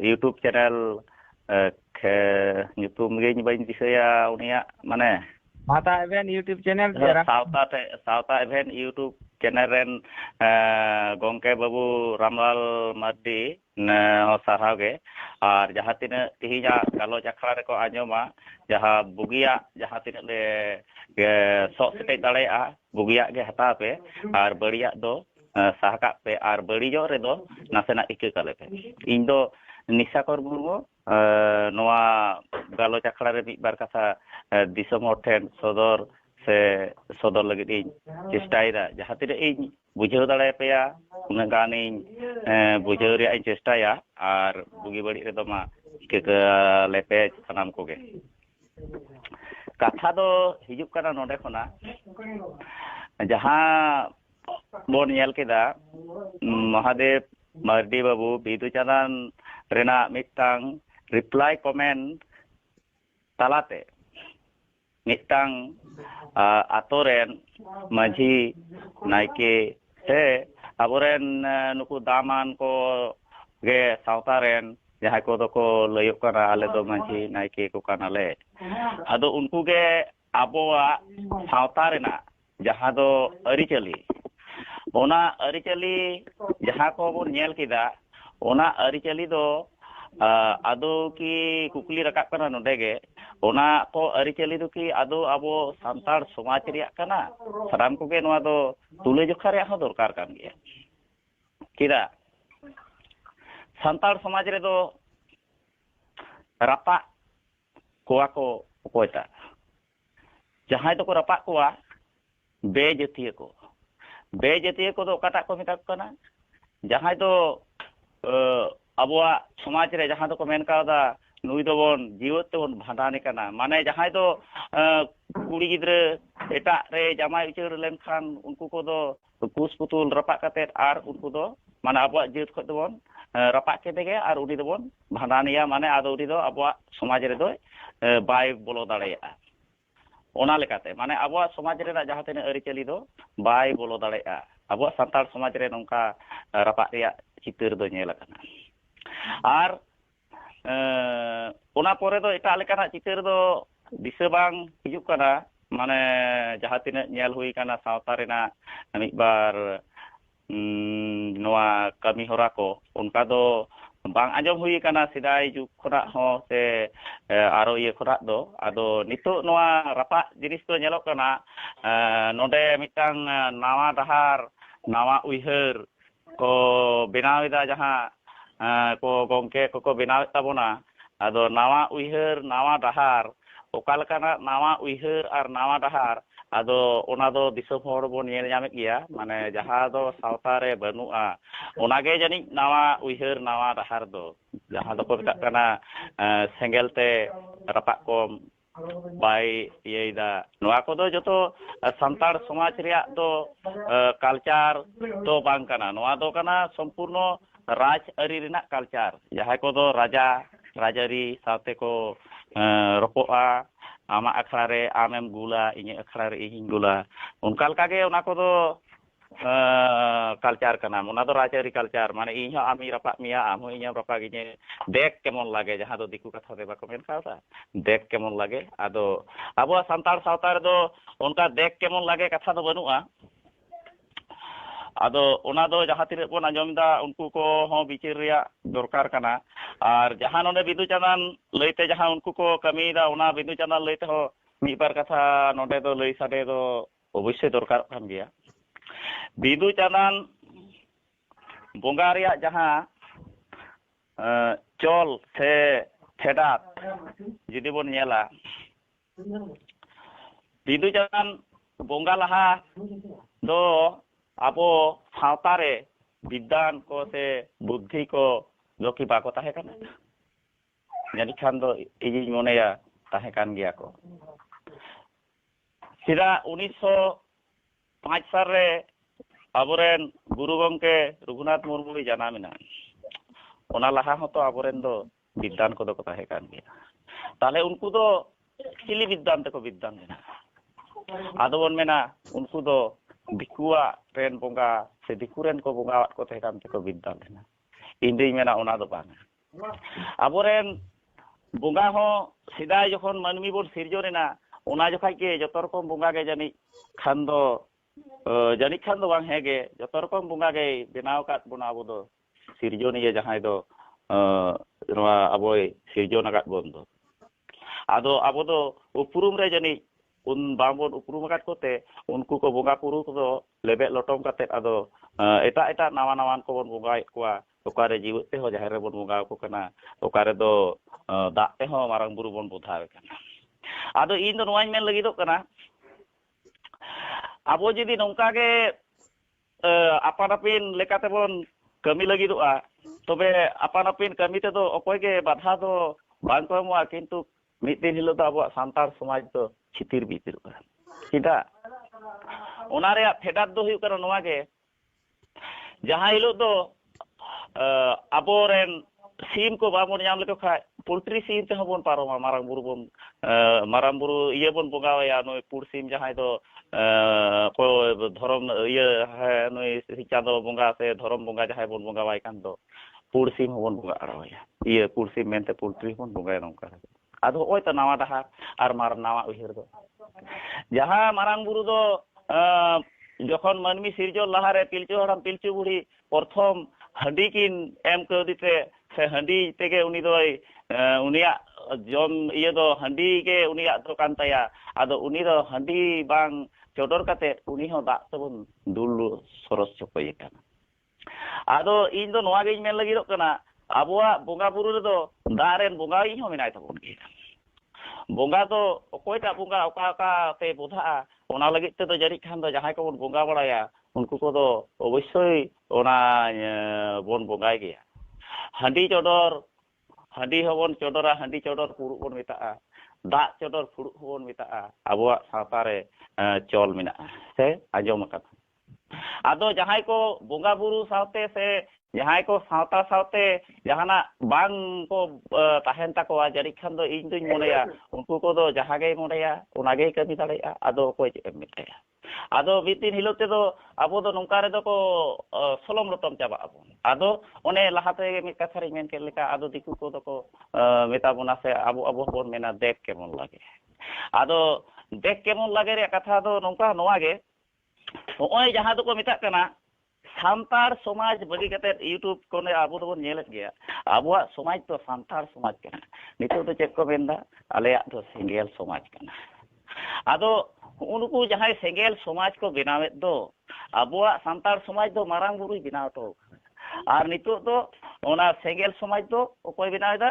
ᱤᱭᱩᱴᱩᱵᱽ ᱪᱮᱱᱮᱞ ᱧᱩᱛᱩᱢ ᱜᱮᱧ ᱵᱟᱹᱧ ᱫᱤᱥᱟᱹᱭᱟ ᱩᱱᱤᱭᱟᱜ ᱢᱟᱱᱮ ᱥᱟᱶᱛᱟ ᱮᱵᱷᱮᱱ ᱤᱭᱩᱴᱩᱵᱽ ᱪᱮᱱᱮᱞ ᱥᱟᱶᱛᱟ ᱥᱟᱶᱛᱟ ᱮᱵᱷᱮᱱ ᱤᱭᱩᱴᱩᱵᱽ ᱪᱮᱱᱮᱞ ᱨᱮᱱ ᱜᱚᱝᱠᱮ ᱵᱟᱹᱵᱩ ᱨᱟᱢᱞᱟᱞ ᱢᱟᱨᱰᱤ ᱦᱚᱸ ᱥᱟᱨᱦᱟᱣ ᱜᱮ ᱟᱨ ᱡᱟᱦᱟᱸ ᱛᱤᱱᱟᱹᱜ ᱛᱮᱦᱮᱧᱟᱜ ᱜᱟᱞᱚᱪ ᱟᱠᱷᱲᱟ ᱨᱮᱠᱚ ᱟᱸᱡᱚᱢᱟ ᱡᱟᱦᱟᱸ ᱵᱩᱜᱤᱭᱟᱜ ᱡᱟᱦᱟᱸ ᱛᱤᱱᱟᱹᱜ ᱞᱮ ᱥᱚᱜ ᱥᱮᱴᱮᱡ ᱫᱟᱲᱮᱭᱟᱜᱼᱟ ᱵᱩᱜᱤᱭᱟᱜ ᱜᱮ ᱦᱟᱛᱟᱣ ᱯᱮ ᱟᱨ ᱵᱟᱹᱲᱤᱡᱟᱜ ᱫᱚ ᱥᱟᱦᱟ ᱠᱟᱜ ᱯᱮ ᱟᱨ ᱵᱟᱹᱲᱤᱡᱚᱜ ᱨᱮᱫᱚ ᱱᱟᱥᱮᱱᱟᱜ ᱤᱠᱟᱹ ᱠᱟᱞᱮ ᱯᱮ ᱤᱧ ᱫᱚ ᱱᱤᱥᱟᱠᱚᱨ ᱢᱩᱨᱢᱩ ᱱᱚᱣᱟ ᱜᱟᱞᱚᱪ ᱟᱠᱷᱲᱟ ᱨᱮ ᱢᱤᱫ ᱵᱟᱨ ᱠᱟᱛᱷᱟ ᱫᱤᱥᱚᱢ ᱦᱚᱲ ᱴᱷᱮᱱ ᱥᱚᱫᱚᱨ ᱥᱮ ᱥᱚᱫᱚᱨ ᱞᱟᱹᱜᱤᱫ ᱤᱧ ᱪᱮᱥᱴᱟᱭᱮᱫᱟ ᱡᱟᱦᱟᱸ ᱛᱤᱱᱟᱹᱜ ᱤᱧ ᱵᱩᱡᱷᱟᱹᱣ ᱫᱟᱲᱮᱭᱟᱯᱮᱭᱟ ᱩᱱᱟᱹᱜ ᱜᱟᱱ ᱤᱧ ᱵᱩᱡᱷᱟᱹᱣ ᱨᱮᱭᱟᱜ ᱤᱧ ᱪᱮᱥᱴᱟᱭᱟ ᱟᱨ ᱵᱩᱜᱤ ᱵᱟᱹᱲᱤᱡ ᱨᱮᱫᱚ ᱢᱟ ᱤᱠᱟᱹ ᱠᱟᱞᱮ ᱯᱮ ᱥᱟᱱᱟᱢ ᱠᱚᱜᱮ ᱠᱟᱛᱷᱟ ᱫᱚ ᱦᱤᱡᱩᱜ ᱠᱟᱱᱟ ᱱᱚᱰᱮ ᱠᱷᱚᱱᱟᱜ ᱡᱟᱦᱟᱸ ᱵᱚᱱ ᱧᱮᱞ ᱠᱮᱫᱟ ᱢᱚᱦᱟᱫᱮᱵ ᱢᱟᱨᱰᱤ ᱵᱟᱹᱵᱩ ᱵᱤᱫᱩ ᱪᱟᱸᱫᱟᱱ ᱨᱮᱱᱟᱜ ᱢᱤᱫᱴᱟᱝ ᱨᱤᱯᱞᱟᱭ ᱠᱚᱢᱮᱱᱴ ᱛᱟᱞᱟᱛᱮ ᱢᱤᱫᱴᱟᱝ ᱟᱛᱳ ᱨᱮᱱ ᱢᱟᱺᱡᱷᱤ ᱱᱟᱭᱠᱮ ᱥᱮ ᱟᱵᱚᱨᱮᱱ ᱱᱩᱠᱩ ᱫᱟᱢᱟᱱ ᱠᱚ ᱜᱮ ᱥᱟᱶᱛᱟ ᱨᱮᱱ ᱡᱟᱦᱟᱸᱭ ᱠᱚᱫᱚ ᱠᱚ ᱞᱟᱹᱭᱚᱜ ᱠᱟᱱᱟ ᱟᱞᱮ ᱫᱚ ᱢᱟᱺᱡᱷᱤ ᱱᱟᱭᱠᱮ ᱠᱚ ᱠᱟᱱᱟᱞᱮ ᱟᱫᱚ ᱩᱱᱠᱩ ᱜᱮ ᱟᱵᱚᱣᱟᱜ ᱥᱟᱶᱛᱟ ᱨᱮᱱᱟᱜ ᱡᱟᱦᱟᱸ ᱫᱚ ᱟᱹᱨᱤᱪᱟᱹᱞᱤ ᱚᱱᱟ ᱟᱹᱨᱤᱪᱟᱹᱞᱤ ᱡᱟᱦᱟᱸ ᱠᱚᱵᱚᱱ ᱧᱮᱞ ᱠᱮᱫᱟ ᱚᱱᱟ ᱟᱹᱨᱤᱪᱟᱹᱞᱤ ᱫᱚ ᱟᱫᱚ ᱠᱤ ᱠᱩᱠᱞᱤ ᱨᱟᱠᱟᱵ ᱠᱟᱱᱟ ᱱᱚᱰᱮ ᱜᱮ ᱚᱱᱟ ᱠᱚ ᱟᱹᱨᱤᱪᱟᱹᱞᱤ ᱫᱚ ᱠᱤ ᱟᱫᱚ ᱟᱵᱚ ᱥᱟᱱᱛᱟᱲ ᱥᱚᱢᱟᱡᱽ ᱨᱮᱭᱟᱜ ᱠᱟᱱᱟ ᱥᱟᱱᱟᱢ ᱠᱚᱜᱮ ᱱᱚᱣᱟ ᱫᱚ ᱛᱩᱞᱟᱹᱡᱚᱠᱷᱟ ᱨᱮᱭᱟᱜ ᱦᱚᱸ ᱫᱚᱨᱠᱟᱨ ᱠᱟᱱ ᱜᱮᱭᱟ ᱪᱮᱫᱟᱜ ᱥᱟᱱᱛᱟᱲ ᱥᱚᱢᱟᱡᱽ ᱨᱮᱫᱚ ᱨᱟᱯᱟᱜ ᱠᱚᱣᱟ ᱠᱚ ᱚᱠᱚᱭ ᱴᱟᱜ ᱡᱟᱦᱟᱸᱭ ᱫᱚᱠᱚ ᱨᱟᱯᱟᱜ ᱠᱚᱣᱟ ᱵᱮ ᱡᱟᱹᱛᱤᱭᱟᱹ ᱠᱚ ᱵᱮ ᱡᱟᱹᱛᱤᱭᱟᱹ ᱠᱚᱫᱚ ᱚᱠᱟᱴᱟᱜ ᱠᱚ ᱢᱮᱛᱟ ᱠᱚ ᱠᱟᱱᱟ ᱡᱟᱦᱟᱸᱭ ᱫᱚ ᱟᱵᱚᱣᱟᱜ ᱥᱚᱢᱟᱡᱽ ᱨᱮ ᱡᱟᱦᱟᱸ ᱫᱚᱠᱚ ᱢᱮᱱ ᱠᱟᱣᱫᱟ ᱱᱩᱭ ᱫᱚᱵᱚᱱ ᱡᱤᱣᱮᱫ ᱛᱮᱵᱚᱱ ᱵᱷᱟᱸᱰᱟᱱᱮ ᱠᱟᱱᱟ ᱢᱟᱱᱮ ᱡᱟᱦᱟᱸᱭ ᱫᱚ ᱠᱩᱲᱤ ᱜᱤᱫᱽᱨᱟᱹ ᱮᱴᱟᱜ ᱨᱮ ᱡᱟᱶᱟᱭ ᱩᱪᱟᱹᱲ ᱞᱮᱱᱠᱷᱟᱱ ᱩᱱᱠᱩ ᱠᱚᱫᱚ ᱠᱩᱥ ᱯᱩᱛᱩᱞ ᱨᱟᱯᱟᱜ ᱠᱟᱛᱮ ᱟᱨ ᱩᱱᱠᱩ ᱫᱚ ᱢᱟᱱᱮ ᱟᱵᱚᱣᱟᱜ ᱡᱟᱹᱛ ᱠᱷᱚᱱ ᱫᱚᱵᱚᱱ ᱨᱟᱯᱟᱜ ᱠᱮᱫᱮ ᱜᱮ ᱟᱨ ᱩᱱᱤ ᱫᱚᱵᱚᱱ ᱵᱷᱟᱸᱰᱟᱱᱮᱭᱟ ᱢᱟᱱᱮ ᱟᱫᱚ ᱩᱱᱤ ᱫᱚ ᱟᱵᱚᱣᱟᱜ ᱥᱚᱢᱟᱡᱽ ᱨᱮᱫᱚ ᱵᱟᱭ ᱵᱚᱞᱚ ᱫᱟᱲᱮᱭᱟᱜᱼᱟ ᱚᱱᱟ ᱞᱮᱠᱟᱛᱮ ᱢᱟᱱᱮ ᱟᱵᱚᱣᱟᱜ ᱥᱚᱢᱟᱡᱽ ᱨᱮᱱᱟᱜ ᱡᱟᱦᱟᱸ ᱛᱤᱱᱟᱹᱜ ᱟᱹᱨᱤᱪᱟᱹᱞᱤ ᱫᱚ ᱵᱟᱭ ᱵᱚᱞᱚ ᱫᱟᱲᱮᱭᱟᱜᱼᱟ ᱟᱵᱚᱣᱟᱜ ᱥᱟᱱᱛᱟᱲ ᱥᱚᱢᱟᱡᱽ ᱨᱮ ᱱᱚᱝᱠᱟ ᱨᱟᱯᱟᱜ ᱨᱮᱭᱟᱜ ᱪᱤᱛᱟᱹᱨ ᱫᱚ ᱧᱮᱞ ᱟᱠᱟᱱᱟ ᱟᱨ ᱚᱱᱟ ᱯᱚᱨᱮ ᱫᱚ ᱮᱴᱟᱜ ᱞᱮᱠᱟᱱᱟᱜ ᱪᱤᱛᱟᱹᱨ ᱫᱚ ᱫᱤᱥᱟᱹ ᱵᱟᱝ ᱦᱤᱡᱩᱜ ᱠᱟᱱᱟ ᱢᱟᱱᱮ ᱡᱟᱦᱟᱸ ᱛᱤᱱᱟᱹᱜ ᱧᱮᱞ ᱦᱩᱭ ᱠᱟᱱᱟ ᱥᱟᱶᱛᱟ ᱨᱮᱱᱟᱜ ᱢᱤᱫ ᱵᱟᱨ ᱱᱚᱣᱟ ᱠᱟᱹᱢᱤ ᱦᱚᱨᱟ ᱠᱚ ᱚᱱᱠᱟ ᱫᱚ ᱵᱟᱝ ᱟᱸᱡᱚᱢ ᱦᱩᱭ ᱠᱟᱱᱟ ᱥᱮᱫᱟᱭ ᱡᱩᱜᱽ ᱠᱷᱚᱱᱟᱜ ᱦᱚᱸ ᱥᱮ ᱟᱨᱚ ᱤᱭᱟᱹ ᱠᱷᱚᱱᱟᱜ ᱫᱚ ᱟᱫᱚ ᱱᱤᱛᱚᱜ ᱱᱚᱣᱟ ᱨᱟᱯᱟᱜ ᱡᱤᱱᱤᱥ ᱫᱚ ᱧᱮᱞᱚᱜ ᱠᱟᱱᱟ ᱱᱚᱰᱮ ᱢᱤᱫᱴᱟᱝ ᱱᱟᱣᱟ ᱰᱟᱦᱟᱨ ᱱᱟᱣᱟ ᱩᱭᱦᱟᱹᱨ ᱠᱚ ᱵᱮᱱᱟᱣᱮᱫᱟ ᱡᱟᱦᱟᱸ ᱠᱚ ᱜᱚᱝᱠᱮ ᱠᱚᱠᱚ ᱵᱮᱱᱟᱣᱮᱫ ᱛᱟᱵᱚᱱᱟ ᱟᱫᱚ ᱱᱟᱣᱟ ᱩᱭᱦᱟᱹᱨ ᱱᱟᱣᱟ ᱰᱟᱦᱟᱨ ᱚᱠᱟ ᱞᱮᱠᱟᱱᱟᱜ ᱱᱟᱣᱟ ᱩᱭᱦᱟᱹᱨ ᱟᱨ ᱱᱟᱣᱟ ᱰᱟᱦᱟᱨ ᱟᱫᱚ ᱚᱱᱟ ᱫᱚ ᱫᱤᱥᱚᱢ ᱦᱚᱲ ᱵᱚᱱ ᱧᱮᱞ ᱧᱟᱢᱮᱫ ᱜᱮᱭᱟ ᱢᱟᱱᱮ ᱡᱟᱦᱟᱸ ᱫᱚ ᱥᱟᱶᱛᱟ ᱨᱮ ᱵᱟᱹᱱᱩᱜᱼᱟ ᱚᱱᱟᱜᱮ ᱡᱟᱹᱱᱤᱡ ᱱᱟᱣᱟ ᱩᱭᱦᱟᱹᱨ ᱱᱟᱣᱟ ᱰᱟᱦᱟᱨ ᱫᱚ ᱡᱟᱦᱟᱸ ᱫᱚᱠᱚ ᱢᱮᱛᱟᱜ ᱠᱟᱱᱟ ᱥᱮᱸᱜᱮᱞ ᱛᱮ ᱨᱟᱯᱟᱜ ᱠᱚᱢ ᱵᱟᱭ ᱤᱭᱟᱹᱭᱮᱫᱟ ᱱᱚᱣᱟ ᱠᱚᱫᱚ ᱡᱚᱛᱚ ᱥᱟᱱᱛᱟᱲ ᱥᱚᱢᱟᱡᱽ ᱨᱮᱭᱟᱜ ᱫᱚ ᱠᱟᱞᱪᱟᱨ ᱫᱚ ᱵᱟᱝ ᱠᱟᱱᱟ ᱱᱚᱣᱟ ᱫᱚ ᱠᱟᱱᱟ ᱥᱚᱢᱯᱩᱨᱱᱚ ᱨᱟᱡᱽ ᱟᱹᱨᱤ ᱨᱮᱱᱟᱜ ᱠᱟᱞᱪᱟᱨ ᱡᱟᱦᱟᱸᱭ ᱠᱚᱫᱚ ᱨᱟᱡᱟ ᱨᱟᱡᱽ ᱟᱹᱨᱤ ᱥᱟᱶᱛᱮ ᱠᱚ ᱨᱚᱯᱚᱜᱼᱟ ᱟᱢᱟᱜ ᱟᱠᱷᱲᱟ ᱨᱮ ᱟᱢᱮᱢ ᱜᱳᱞᱟ ᱤᱧᱟᱹᱜ ᱟᱠᱷᱲᱟ ᱨᱮ ᱤᱧᱤᱧ ᱜᱳᱞᱟ ᱚᱱᱠᱟ ᱞᱮᱠᱟᱜᱮ ᱚᱱᱟ ᱠᱚᱫᱚ ᱠᱟᱞᱪᱟᱨ ᱠᱟᱱᱟᱢ ᱚᱱᱟ ᱫᱚ ᱨᱟᱡᱽᱟᱹᱨᱤ ᱠᱟᱞᱪᱟᱨ ᱢᱟᱱᱮ ᱤᱧ ᱦᱚᱸ ᱟᱢᱤᱧ ᱨᱟᱯᱟᱜ ᱢᱮᱭᱟ ᱟᱢ ᱦᱚᱸ ᱤᱧᱮᱢ ᱨᱟᱯᱟᱜᱤᱧᱟᱹ ᱫᱮᱠ ᱠᱮᱢᱚᱱ ᱞᱟᱜᱮ ᱡᱟᱦᱟᱸ ᱫᱚ ᱫᱤᱠᱩ ᱠᱟᱛᱷᱟ ᱛᱮ ᱵᱟᱠᱚ ᱢᱮᱱ ᱠᱟᱣᱫᱟ ᱫᱮᱠ ᱠᱮᱢᱚᱱ ᱞᱟᱜᱮ ᱟᱫᱚ ᱟᱵᱚᱣᱟᱜ ᱥᱟᱱᱛᱟᱲ ᱥᱟᱶᱛᱟ ᱨᱮᱫᱚ ᱚᱱᱠᱟ ᱫᱮᱠ ᱠᱮᱢᱚᱱ ᱞᱟᱜᱮ ᱠᱟᱛᱷᱟ ᱫᱚ ᱵᱟᱹᱱᱩᱜᱼᱟ ᱟᱫᱚ ᱚᱱᱟ ᱫᱚ ᱡᱟᱦᱟᱸ ᱛᱤᱱᱟᱹᱜ ᱵᱚᱱ ᱟᱸᱡᱚᱢᱫᱟ ᱩᱱᱠᱩ ᱠᱚ ᱦᱚᱸ ᱵᱤᱪᱟᱹᱨ ᱨᱮᱭᱟᱜ ᱫᱚᱨᱠᱟᱨ ᱠᱟᱱᱟ ᱟᱨ ᱡᱟᱦᱟᱸ ᱱᱚᱰᱮ ᱵᱤᱫᱩ ᱪᱟᱸᱫᱟᱱ ᱞᱟᱹᱭᱛᱮ ᱡᱟᱦᱟᱸ ᱩᱱᱠᱩ ᱠᱚ ᱠᱟᱹᱢᱤᱭᱮᱫᱟ ᱚᱱᱟ ᱵᱤᱫᱩ ᱪᱟᱸᱫᱟᱱ ᱞᱟᱹᱭ ᱛᱮᱦᱚᱸ ᱢᱤᱫ ᱵᱟᱨ ᱠᱟᱛᱷᱟ ᱱᱚᱰᱮ ᱫᱚ ᱞᱟᱹᱭ ᱥᱟᱰᱮ ᱫᱚ ᱚᱵᱚᱥᱥᱳᱭ ᱫᱚᱨᱠᱟᱨᱚᱜ ᱠᱟᱱ ᱜᱮᱭᱟ ᱵᱤᱫᱩ ᱪᱟᱸᱫᱟᱱ ᱵᱚᱸᱜᱟ ᱨᱮᱭᱟᱜ ᱡᱟᱦᱟᱸ ᱪᱚᱞ ᱥᱮ ᱯᱷᱮᱰᱟᱛ ᱡᱩᱫᱤ ᱵᱚᱱ ᱧᱮᱞᱟ ᱵᱤᱫᱩ ᱪᱟᱸᱫᱟᱱ ᱵᱚᱸᱜᱟ ᱞᱟᱦᱟ ᱫᱚ ᱟᱵᱚ ᱥᱟᱶᱛᱟ ᱨᱮ ᱵᱤᱫᱽᱫᱟᱱ ᱠᱚ ᱥᱮ ᱵᱩᱫᱽᱫᱷᱤ ᱠᱚ ᱫᱚ ᱠᱤ ᱵᱟᱠᱚ ᱛᱟᱦᱮᱸ ᱠᱟᱱᱟ ᱡᱟᱹᱱᱤᱡ ᱠᱷᱟᱱ ᱫᱚ ᱤᱧᱤᱧ ᱢᱚᱱᱮᱭᱟ ᱛᱟᱦᱮᱸ ᱠᱟᱱ ᱜᱮᱭᱟ ᱠᱚ ᱪᱮᱫᱟᱜ ᱩᱱᱤᱥᱥᱚ ᱯᱟᱸᱪ ᱥᱟᱞ ᱨᱮ ᱟᱵᱚᱨᱮᱱ ᱜᱩᱨᱩ ᱜᱚᱢᱠᱮ ᱨᱚᱜᱷᱩᱱᱟᱛᱷ ᱢᱩᱨᱢᱩᱭ ᱡᱟᱱᱟᱢᱮᱱᱟ ᱚᱱᱟ ᱞᱟᱦᱟ ᱦᱚᱸᱛᱚ ᱟᱵᱚᱨᱮᱱ ᱫᱚ ᱵᱤᱫᱽᱫᱟᱱ ᱠᱚᱫᱚ ᱠᱚ ᱛᱟᱦᱮᱸ ᱠᱟᱱ ᱜᱮᱭᱟ ᱛᱟᱦᱞᱮ ᱩᱱᱠᱩ ᱫᱚ ᱪᱤᱞᱤ ᱵᱤᱫᱽᱫᱟᱱ ᱛᱮᱠᱚ ᱵᱤᱫᱽᱫᱟᱱ ᱞᱮᱱᱟ ᱟᱫᱚ ᱵᱚᱱ ᱢᱮᱱᱟ ᱩᱱᱠᱩ ᱫᱚ ᱫᱤᱠᱩᱣᱟᱜ ᱨᱮᱱ ᱵᱚᱸᱜᱟ ᱥᱮ ᱫᱤᱠᱩ ᱨᱮᱱ ᱠᱚ ᱵᱚᱸᱜᱟᱣᱟᱜ ᱠᱚ ᱛᱟᱦᱮᱸ ᱠᱟᱱ ᱛᱮᱠᱚ ᱵᱤᱫᱽᱫᱟᱱ ᱞᱮᱱᱟ ᱤᱧ ᱫᱩᱧ ᱢᱮᱱᱟ ᱚᱱᱟ ᱫᱚ ᱵᱟᱝᱟ ᱟᱵᱚᱨᱮᱱ ᱵᱚᱸᱜᱟ ᱦᱚᱸ ᱥᱮᱫᱟᱭ ᱡᱚᱠᱷᱚᱱ ᱢᱟᱹᱱᱢᱤ ᱵᱚᱱ ᱥᱤᱨᱡᱚᱱ ᱮᱱᱟ ᱚᱱᱟ ᱡᱚᱠᱷᱟᱡ ᱜᱮ ᱡᱚᱛᱚ ᱨᱚᱠᱚᱢ ᱵᱚᱸᱜᱟ ᱜᱮ ᱡᱟᱹᱱᱤᱡ ᱠᱷᱟᱱ ᱫᱚ ᱡᱟᱹᱱᱤᱡ ᱠᱷᱟᱱ ᱫᱚ ᱵᱟᱝ ᱦᱮᱸᱜᱮ ᱡᱚᱛᱚ ᱨᱚᱠᱚᱢ ᱵᱚᱸᱜᱟ ᱜᱮ ᱵᱮᱱᱟᱣ ᱟᱠᱟᱫ ᱵᱚᱱᱟ ᱟᱵᱚ ᱫᱚ ᱥᱤᱨᱡᱚᱱᱤᱭᱟᱹ ᱡᱟᱦᱟᱸᱭ ᱫᱚ ᱱᱚᱣᱟ ᱟᱵᱚᱭ ᱥᱤᱨᱡᱚᱱ ᱟᱠᱟᱫ ᱵᱚᱱ ᱫᱚ ᱟᱫᱚ ᱟᱵᱚ ᱫᱚ ᱩᱯᱨᱩᱢ ᱨᱮ ᱡᱟᱹᱱᱤᱡ ᱩᱱ ᱵᱟᱝ ᱵᱚᱱ ᱩᱯᱨᱩᱢ ᱟᱠᱟᱫ ᱠᱚᱛᱮ ᱩᱱᱠᱩ ᱠᱚ ᱵᱚᱸᱜᱟ ᱯᱩᱨᱩ ᱠᱚᱫᱚ ᱞᱮᱵᱮᱫ ᱞᱚᱴᱚᱢ ᱠᱟᱛᱮ ᱟᱫᱚ ᱮᱴᱟᱜ ᱮᱴᱟᱜ ᱱᱟᱣᱟ ᱱᱟᱣᱟᱱ ᱠᱚᱵᱚᱱ ᱵᱚᱸᱜᱟᱭᱮᱫ ᱠᱚᱣᱟ ᱚᱠᱟᱨᱮ ᱡᱤᱣᱮᱫ ᱛᱮᱦᱚᱸ ᱡᱟᱦᱮᱨ ᱨᱮᱵᱚᱱ ᱵᱚᱸᱜᱟ ᱟᱠᱚ ᱠᱟᱱᱟ ᱚᱠᱟ ᱨᱮᱫᱚ ᱫᱟᱜ ᱛᱮᱦᱚᱸ ᱢᱟᱨᱟᱝ ᱵᱩᱨᱩ ᱵᱚᱱ ᱵᱚᱫᱷᱟᱣᱮ ᱠᱟᱱᱟ ᱟᱫᱚ ᱤᱧ ᱫᱚ ᱱᱚᱣᱟᱧ ᱢᱮᱱ ᱞᱟᱹᱜᱤᱫᱚᱜ ᱠᱟᱱᱟ ᱟᱵᱚ ᱡᱩᱫᱤ ᱱᱚᱝᱠᱟ ᱜᱮ ᱟᱯᱟᱱ ᱟᱹᱯᱤᱱ ᱞᱮᱠᱟ ᱛᱮᱵᱚᱱ ᱠᱟᱹᱢᱤ ᱞᱟᱹᱜᱤᱫᱚᱜᱼᱟ ᱛᱚᱵᱮ ᱟᱯᱟᱱ ᱟᱹᱯᱤᱱ ᱠᱟᱹᱢᱤ ᱛᱮᱫᱚ ᱚᱠᱚᱭ ᱜᱮ ᱵᱟᱫᱷᱟ ᱫᱚ ᱵᱟᱝ ᱠᱚ ᱮᱢᱚᱜᱼᱟ ᱠᱤᱱᱛᱩ ᱢᱤᱫ ᱫᱤᱱ ᱦᱤᱞᱳᱜ ᱫᱚ ᱟᱵᱚᱣᱟᱜ ᱥᱟᱱᱛᱟᱲ ᱥᱚᱢᱟᱡᱽ ᱫᱚ ᱪᱷᱤᱛᱤᱨ ᱵᱤᱛᱤᱨᱚᱜᱼᱟ ᱪᱮᱫᱟᱜ ᱚᱱᱟ ᱨᱮᱭᱟᱜ ᱯᱷᱮᱰᱟᱛ ᱫᱚ ᱦᱩᱭᱩᱜ ᱠᱟᱱᱟ ᱱᱚᱣᱟ ᱜᱮ ᱡᱟᱦᱟᱸ ᱦᱤᱞᱳᱜ ᱫᱚ ᱟᱵᱚᱨᱮᱱ ᱥᱤᱢ ᱠᱚ ᱵᱟᱵᱚᱱ ᱧᱟᱢ ᱞᱮᱠᱚ ᱠᱷᱟᱡ ᱯᱳᱞᱴᱨᱤ ᱥᱤᱢ ᱛᱮᱦᱚᱸ ᱵᱚᱱ ᱯᱟᱨᱚᱢᱟ ᱢᱟᱨᱟᱝ ᱵᱩᱨᱩ ᱵᱚᱱ ᱢᱟᱨᱟᱝ ᱵᱩᱨᱩ ᱤᱭᱟᱹ ᱵᱚᱱ ᱵᱚᱸᱜᱟ ᱟᱭᱟ ᱱᱩᱭ ᱯᱩᱲ ᱥᱤᱢ ᱡᱟᱦᱟᱸᱭ ᱫᱚ ᱚᱠᱚᱭ ᱫᱷᱚᱨᱚᱢ ᱤᱭᱟᱹ ᱦᱮᱸ ᱱᱩᱭ ᱪᱟᱸᱫᱚ ᱵᱚᱸᱜᱟ ᱥᱮ ᱫᱷᱚᱨᱚᱢ ᱵᱚᱸᱜᱟ ᱡᱟᱦᱟᱸᱭ ᱵᱚᱱ ᱵᱚᱸᱜᱟ ᱟᱭ ᱠᱷᱟᱱ ᱫᱚ ᱯᱩᱲ ᱥᱤᱢ ᱦᱚᱸᱵᱚᱱ ᱵᱚᱸᱜᱟ ᱟᱲᱟᱣᱟᱭᱟ ᱤᱭᱟᱹ ᱯᱩᱲ ᱥᱤᱢ ᱢᱮᱱᱛᱮ ᱯᱳᱞᱴᱨᱤ ᱦᱚᱸᱵᱚᱱ ᱵᱚᱸᱜᱟᱭᱟ ᱱᱚᱝᱠᱟ ᱠᱟᱛᱮ ᱟᱫᱚ ᱦᱚᱸᱜᱼᱚᱭ ᱛᱚ ᱱᱟᱣᱟ ᱰᱟᱦᱟᱨ ᱟᱨ ᱢᱟᱨ ᱱᱟᱣᱟ ᱩᱭᱦᱟᱹᱨ ᱫᱚ ᱡᱟᱦᱟᱸ ᱢᱟᱨᱟᱝ ᱵᱩᱨᱩ ᱫᱚ ᱡᱚᱠᱷᱚᱱ ᱢᱟᱹᱱᱢᱤ ᱥᱤᱨᱡᱚᱱ ᱞᱟᱦᱟᱨᱮ ᱯᱤᱞᱪᱩ ᱦᱟᱲᱟᱢ ᱯᱤᱞᱪᱩ ᱵᱩᱲᱦᱤ ᱯᱨᱚᱛᱷᱚᱢ ᱦᱟᱺᱰᱤ ᱠᱤᱱ ᱮᱢ ᱠᱟᱹᱣᱫᱤ ᱛᱮ ᱥᱮ ᱦᱟᱺᱰᱤ ᱛᱮᱜᱮ ᱩᱱᱤ ᱫᱚᱭ ᱩᱱᱤᱭᱟᱜ ᱡᱚᱢ ᱤᱭᱟᱹ ᱫᱚ ᱦᱟᱺᱰᱤ ᱜᱮ ᱩᱱᱤᱭᱟᱜ ᱫᱚ ᱠᱟᱱ ᱛᱟᱭᱟ ᱟᱫᱚ ᱩᱱᱤ ᱫᱚ ᱦᱟᱺᱰᱤ ᱵᱟᱝ ᱪᱚᱰᱚᱨ ᱠᱟᱛᱮ ᱩᱱᱤ ᱦᱚᱸ ᱫᱟᱜ ᱛᱮᱵᱚᱱ ᱫᱩᱞ ᱥᱚᱨᱚᱥ ᱪᱚᱠᱚᱭᱮ ᱠᱟᱱᱟ ᱟᱫᱚ ᱤᱧ ᱫᱚ ᱱᱚᱣᱟ ᱜᱤᱧ ᱢᱮᱱ ᱞᱟᱹᱜᱤᱫᱚᱜ ᱠᱟᱱᱟ ᱟᱵᱚᱣᱟᱜ ᱵᱚᱸᱜᱟ ᱵᱩᱨᱩ ᱨᱮᱫᱚ ᱫᱟᱜ ᱨᱮᱱ ᱵᱚᱸᱜᱟ ᱤᱧ ᱦᱚᱸ ᱢᱮᱱᱟᱭ ᱛᱟᱵᱚᱱ ᱜᱮᱭᱟ ᱵᱚᱸᱜᱟ ᱫᱚ ᱚᱠᱚᱭᱴᱟᱜ ᱵᱚᱸᱜᱟ ᱚᱠᱟ ᱚᱠᱟ ᱛᱮ ᱵᱚᱫᱷᱟᱜᱼᱟ ᱚᱱᱟ ᱞᱟᱹᱜᱤᱫ ᱛᱮᱫᱚ ᱡᱟᱹᱱᱤᱡ ᱠᱷᱟᱱ ᱫᱚ ᱡᱟᱦᱟᱸᱭ ᱠᱚᱵᱚᱱ ᱵᱚᱸᱜᱟ ᱵᱟᱲᱟᱭᱟ ᱩᱱᱠᱩ ᱠᱚᱫᱚ ᱚᱵᱚᱥᱥᱳᱭ ᱚᱱᱟ ᱵᱚᱱ ᱵᱚᱸᱜᱟᱭ ᱜᱮᱭᱟ ᱦᱟᱺᱰᱤ ᱪᱚᱰᱚᱨ ᱦᱟᱺᱰᱤ ᱦᱚᱸᱵᱚᱱ ᱪᱚᱰᱚᱨᱟ ᱦᱟᱺᱰᱤ ᱪᱚᱰᱚᱨ ᱯᱷᱩᱲᱩᱜ ᱵᱚᱱ ᱢᱮᱛᱟᱜᱼᱟ ᱫᱟᱜ ᱪᱚᱰᱚᱨ ᱯᱷᱩᱲᱩᱜ ᱦᱚᱸᱵᱚᱱ ᱢᱮᱛᱟᱜᱼᱟ ᱟᱵᱚᱣᱟᱜ ᱥᱟᱶᱛᱟ ᱨᱮ ᱪᱚᱞ ᱢᱮᱱᱟᱜᱼᱟ ᱥᱮ ᱟᱸᱡᱚᱢ ᱟᱠᱟᱱᱟ ᱟᱫᱚ ᱡᱟᱦᱟᱸᱭ ᱠᱚ ᱵᱚᱸᱜᱟ ᱵᱩᱨᱩ ᱥᱟᱶᱛᱮ ᱥᱮ ᱡᱟᱦᱟᱸᱭ ᱠᱚ ᱥᱟᱶᱛᱟ ᱥᱟᱶᱛᱮ ᱡᱟᱦᱟᱱᱟᱜ ᱵᱟᱝ ᱠᱚ ᱛᱟᱦᱮᱱ ᱛᱟᱠᱚᱣᱟ ᱡᱟᱹᱱᱤᱡ ᱠᱷᱟᱱ ᱫᱚ ᱤᱧ ᱫᱩᱧ ᱢᱚᱱᱮᱭᱟ ᱩᱱᱠᱩ ᱠᱚᱫᱚ ᱡᱟᱦᱟᱸ ᱜᱮᱭ ᱢᱚᱱᱮᱭᱟ ᱚᱱᱟ ᱜᱮᱭ ᱠᱟᱹᱢᱤ ᱫᱟᱲᱮᱭᱟᱜᱼᱟ ᱟᱫᱚ ᱚᱠᱚᱭ ᱪᱮᱫ ᱮᱢ ᱢᱮᱛᱟᱭᱟ ᱟᱫᱚ ᱢᱤᱫ ᱫᱤᱱ ᱦᱤᱞᱳᱜ ᱛᱮᱫᱚ ᱟᱵᱚ ᱫᱚ ᱱᱚᱝᱠᱟ ᱨᱮᱫᱚ ᱠᱚ ᱥᱚᱞᱚᱢ ᱞᱚᱴᱚᱢ ᱪᱟᱵᱟᱜ ᱟᱵᱚᱱ ᱟᱫᱚ ᱚᱱᱮ ᱞᱟᱦᱟ ᱛᱮᱜᱮ ᱢᱤᱫ ᱠᱟᱛᱷᱟ ᱨᱤᱧ ᱢᱮᱱ ᱠᱮᱫ ᱞᱮᱠᱟ ᱟᱫᱚ ᱫᱤᱠᱩ ᱠᱚᱫᱚ ᱠᱚ ᱢᱮᱛᱟ ᱵᱚᱱᱟ ᱥᱮ ᱟᱵᱚ ᱟᱵᱚ ᱵᱚᱱ ᱢᱮᱱᱟ ᱫᱮᱠ ᱠᱮᱢᱚᱱ ᱞᱟᱜᱮ ᱟᱫᱚ ᱫᱮᱠ ᱠᱮᱢᱚᱱ ᱞᱟᱜᱮ ᱨᱮᱭᱟᱜ ᱠᱟᱛᱷᱟ ᱫᱚ ᱱᱚᱝᱠᱟ ᱱᱚᱣᱟ ᱜᱮ ᱱᱚᱜᱼᱚᱭ ᱡᱟᱦᱟᱸ ᱫᱚᱠᱚ ᱢᱮᱛᱟᱜ ᱠᱟᱱᱟ ᱥᱟᱱᱛᱟᱲ ᱥᱚᱢᱟᱡᱽ ᱵᱟᱹᱜᱤ ᱠᱟᱛᱮ ᱤᱭᱩᱴᱩᱵᱽ ᱠᱚᱨᱮ ᱟᱵᱚ ᱫᱚᱵᱚᱱ ᱧᱮᱞᱮᱫ ᱜᱮᱭᱟ ᱟᱵᱚᱣᱟᱜ ᱥᱚᱢᱟᱡᱽ ᱫᱚ ᱥᱟᱱᱛᱟᱲ ᱥᱚᱢᱟᱡᱽ ᱠᱟᱱᱟ ᱱᱤᱛᱚᱜ ᱫᱚ ᱪᱮᱫ ᱠᱚ ᱢᱮᱱᱫᱟ ᱟᱞᱮᱭᱟᱜ ᱫᱚ ᱥᱮᱸᱜᱮᱞ ᱥᱚᱢᱟᱡᱽ ᱠᱟᱱᱟ ᱟᱫᱚ ᱩᱱᱠᱩ ᱡᱟᱦᱟᱸᱭ ᱥᱮᱸᱜᱮᱞ ᱥᱚᱢᱟᱡᱽ ᱠᱚ ᱵᱮᱱᱟᱣᱮᱫ ᱫᱚ ᱟᱵᱚᱣᱟᱜ ᱥᱟᱱᱛᱟᱲ ᱥᱚᱢᱟᱡᱽ ᱫᱚ ᱢᱟᱨᱟᱝ ᱵᱩᱨᱩᱭ ᱵᱮᱱᱟᱣ ᱦᱚᱴᱚ ᱟᱨ ᱱᱤᱛᱚᱜ ᱫᱚ ᱚᱱᱟ ᱥᱮᱸᱜᱮᱞ ᱥᱚᱢᱟᱡᱽ ᱫᱚ ᱚᱠᱚᱭ ᱵᱮᱱᱟᱣᱮᱫᱟ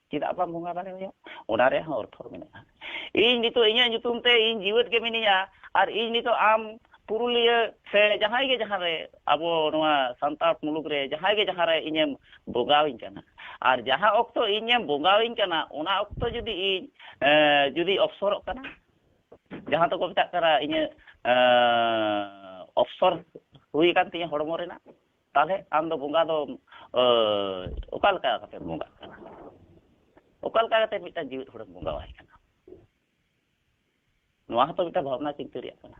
ᱪᱮᱫᱟᱜ ᱵᱟᱝ ᱵᱚᱸᱜᱟ ᱫᱟᱲᱮ ᱦᱩᱭᱩᱜ ᱚᱱᱟ ᱨᱮᱭᱟᱜ ᱦᱚᱸ ᱚᱨᱛᱷᱚ ᱢᱮᱱᱟᱜᱼᱟ ᱤᱧ ᱱᱤᱛᱚᱜ ᱤᱧᱟᱹᱜ ᱧᱩᱛᱩᱢ ᱛᱮ ᱤᱧ ᱡᱤᱣᱮᱫ ᱜᱮ ᱢᱤᱱᱟᱹᱧᱟ ᱟᱨ ᱤᱧ ᱱᱤᱛᱚᱜ ᱟᱢ ᱯᱩᱨᱩᱞᱤᱭᱟᱹ ᱥᱮ ᱡᱟᱦᱟᱸᱭ ᱜᱮ ᱡᱟᱦᱟᱸ ᱨᱮ ᱟᱵᱚ ᱱᱚᱣᱟ ᱥᱟᱱᱛᱟᱲ ᱢᱩᱞᱩᱠ ᱨᱮ ᱡᱟᱦᱟᱸᱭ ᱜᱮ ᱡᱟᱦᱟᱸ ᱨᱮ ᱤᱧᱮᱢ ᱵᱚᱸᱜᱟᱣᱤᱧ ᱠᱟᱱᱟ ᱟᱨ ᱡᱟᱦᱟᱸ ᱚᱠᱛᱚ ᱤᱧᱮᱢ ᱵᱚᱸᱜᱟᱣᱤᱧ ᱠᱟᱱᱟ ᱚᱱᱟ ᱚᱠᱛᱚ ᱡᱩᱫᱤ ᱤᱧ ᱡᱩᱫᱤ ᱚᱯᱥᱚᱨᱚᱜ ᱠᱟᱱᱟ ᱡᱟᱦᱟᱸ ᱫᱚᱠᱚ ᱢᱮᱛᱟᱜ ᱠᱟᱱᱟ ᱤᱧᱟᱹᱜ ᱚᱯᱥᱚᱨ ᱦᱩᱭ ᱟᱠᱟᱱ ᱛᱤᱧᱟᱹ ᱦᱚᱲᱢᱚ ᱨᱮᱱᱟᱜ ᱛᱟᱦᱚᱞᱮ ᱟᱢ ᱫᱚ ᱵᱚᱸᱜᱟ ᱫᱚ ᱚᱠᱟ ᱞᱮᱠᱟ ᱠᱟᱛᱮ ᱵᱚᱸᱜᱟᱜ ᱠᱟᱱᱟ ᱚᱠᱟ ᱞᱮᱠᱟ ᱠᱟᱛᱮ ᱢᱤᱫᱴᱟᱝ ᱡᱤᱣᱮᱫ ᱦᱚᱲᱮᱢ ᱵᱚᱸᱜᱟᱣᱟᱭ ᱠᱟᱱᱟ ᱱᱚᱣᱟ ᱦᱚᱸᱛᱚ ᱢᱤᱫᱴᱟᱝ ᱵᱷᱟᱵᱽᱱᱟ ᱪᱤᱱᱛᱟᱹ ᱨᱮᱭᱟᱜ ᱠᱟᱱᱟ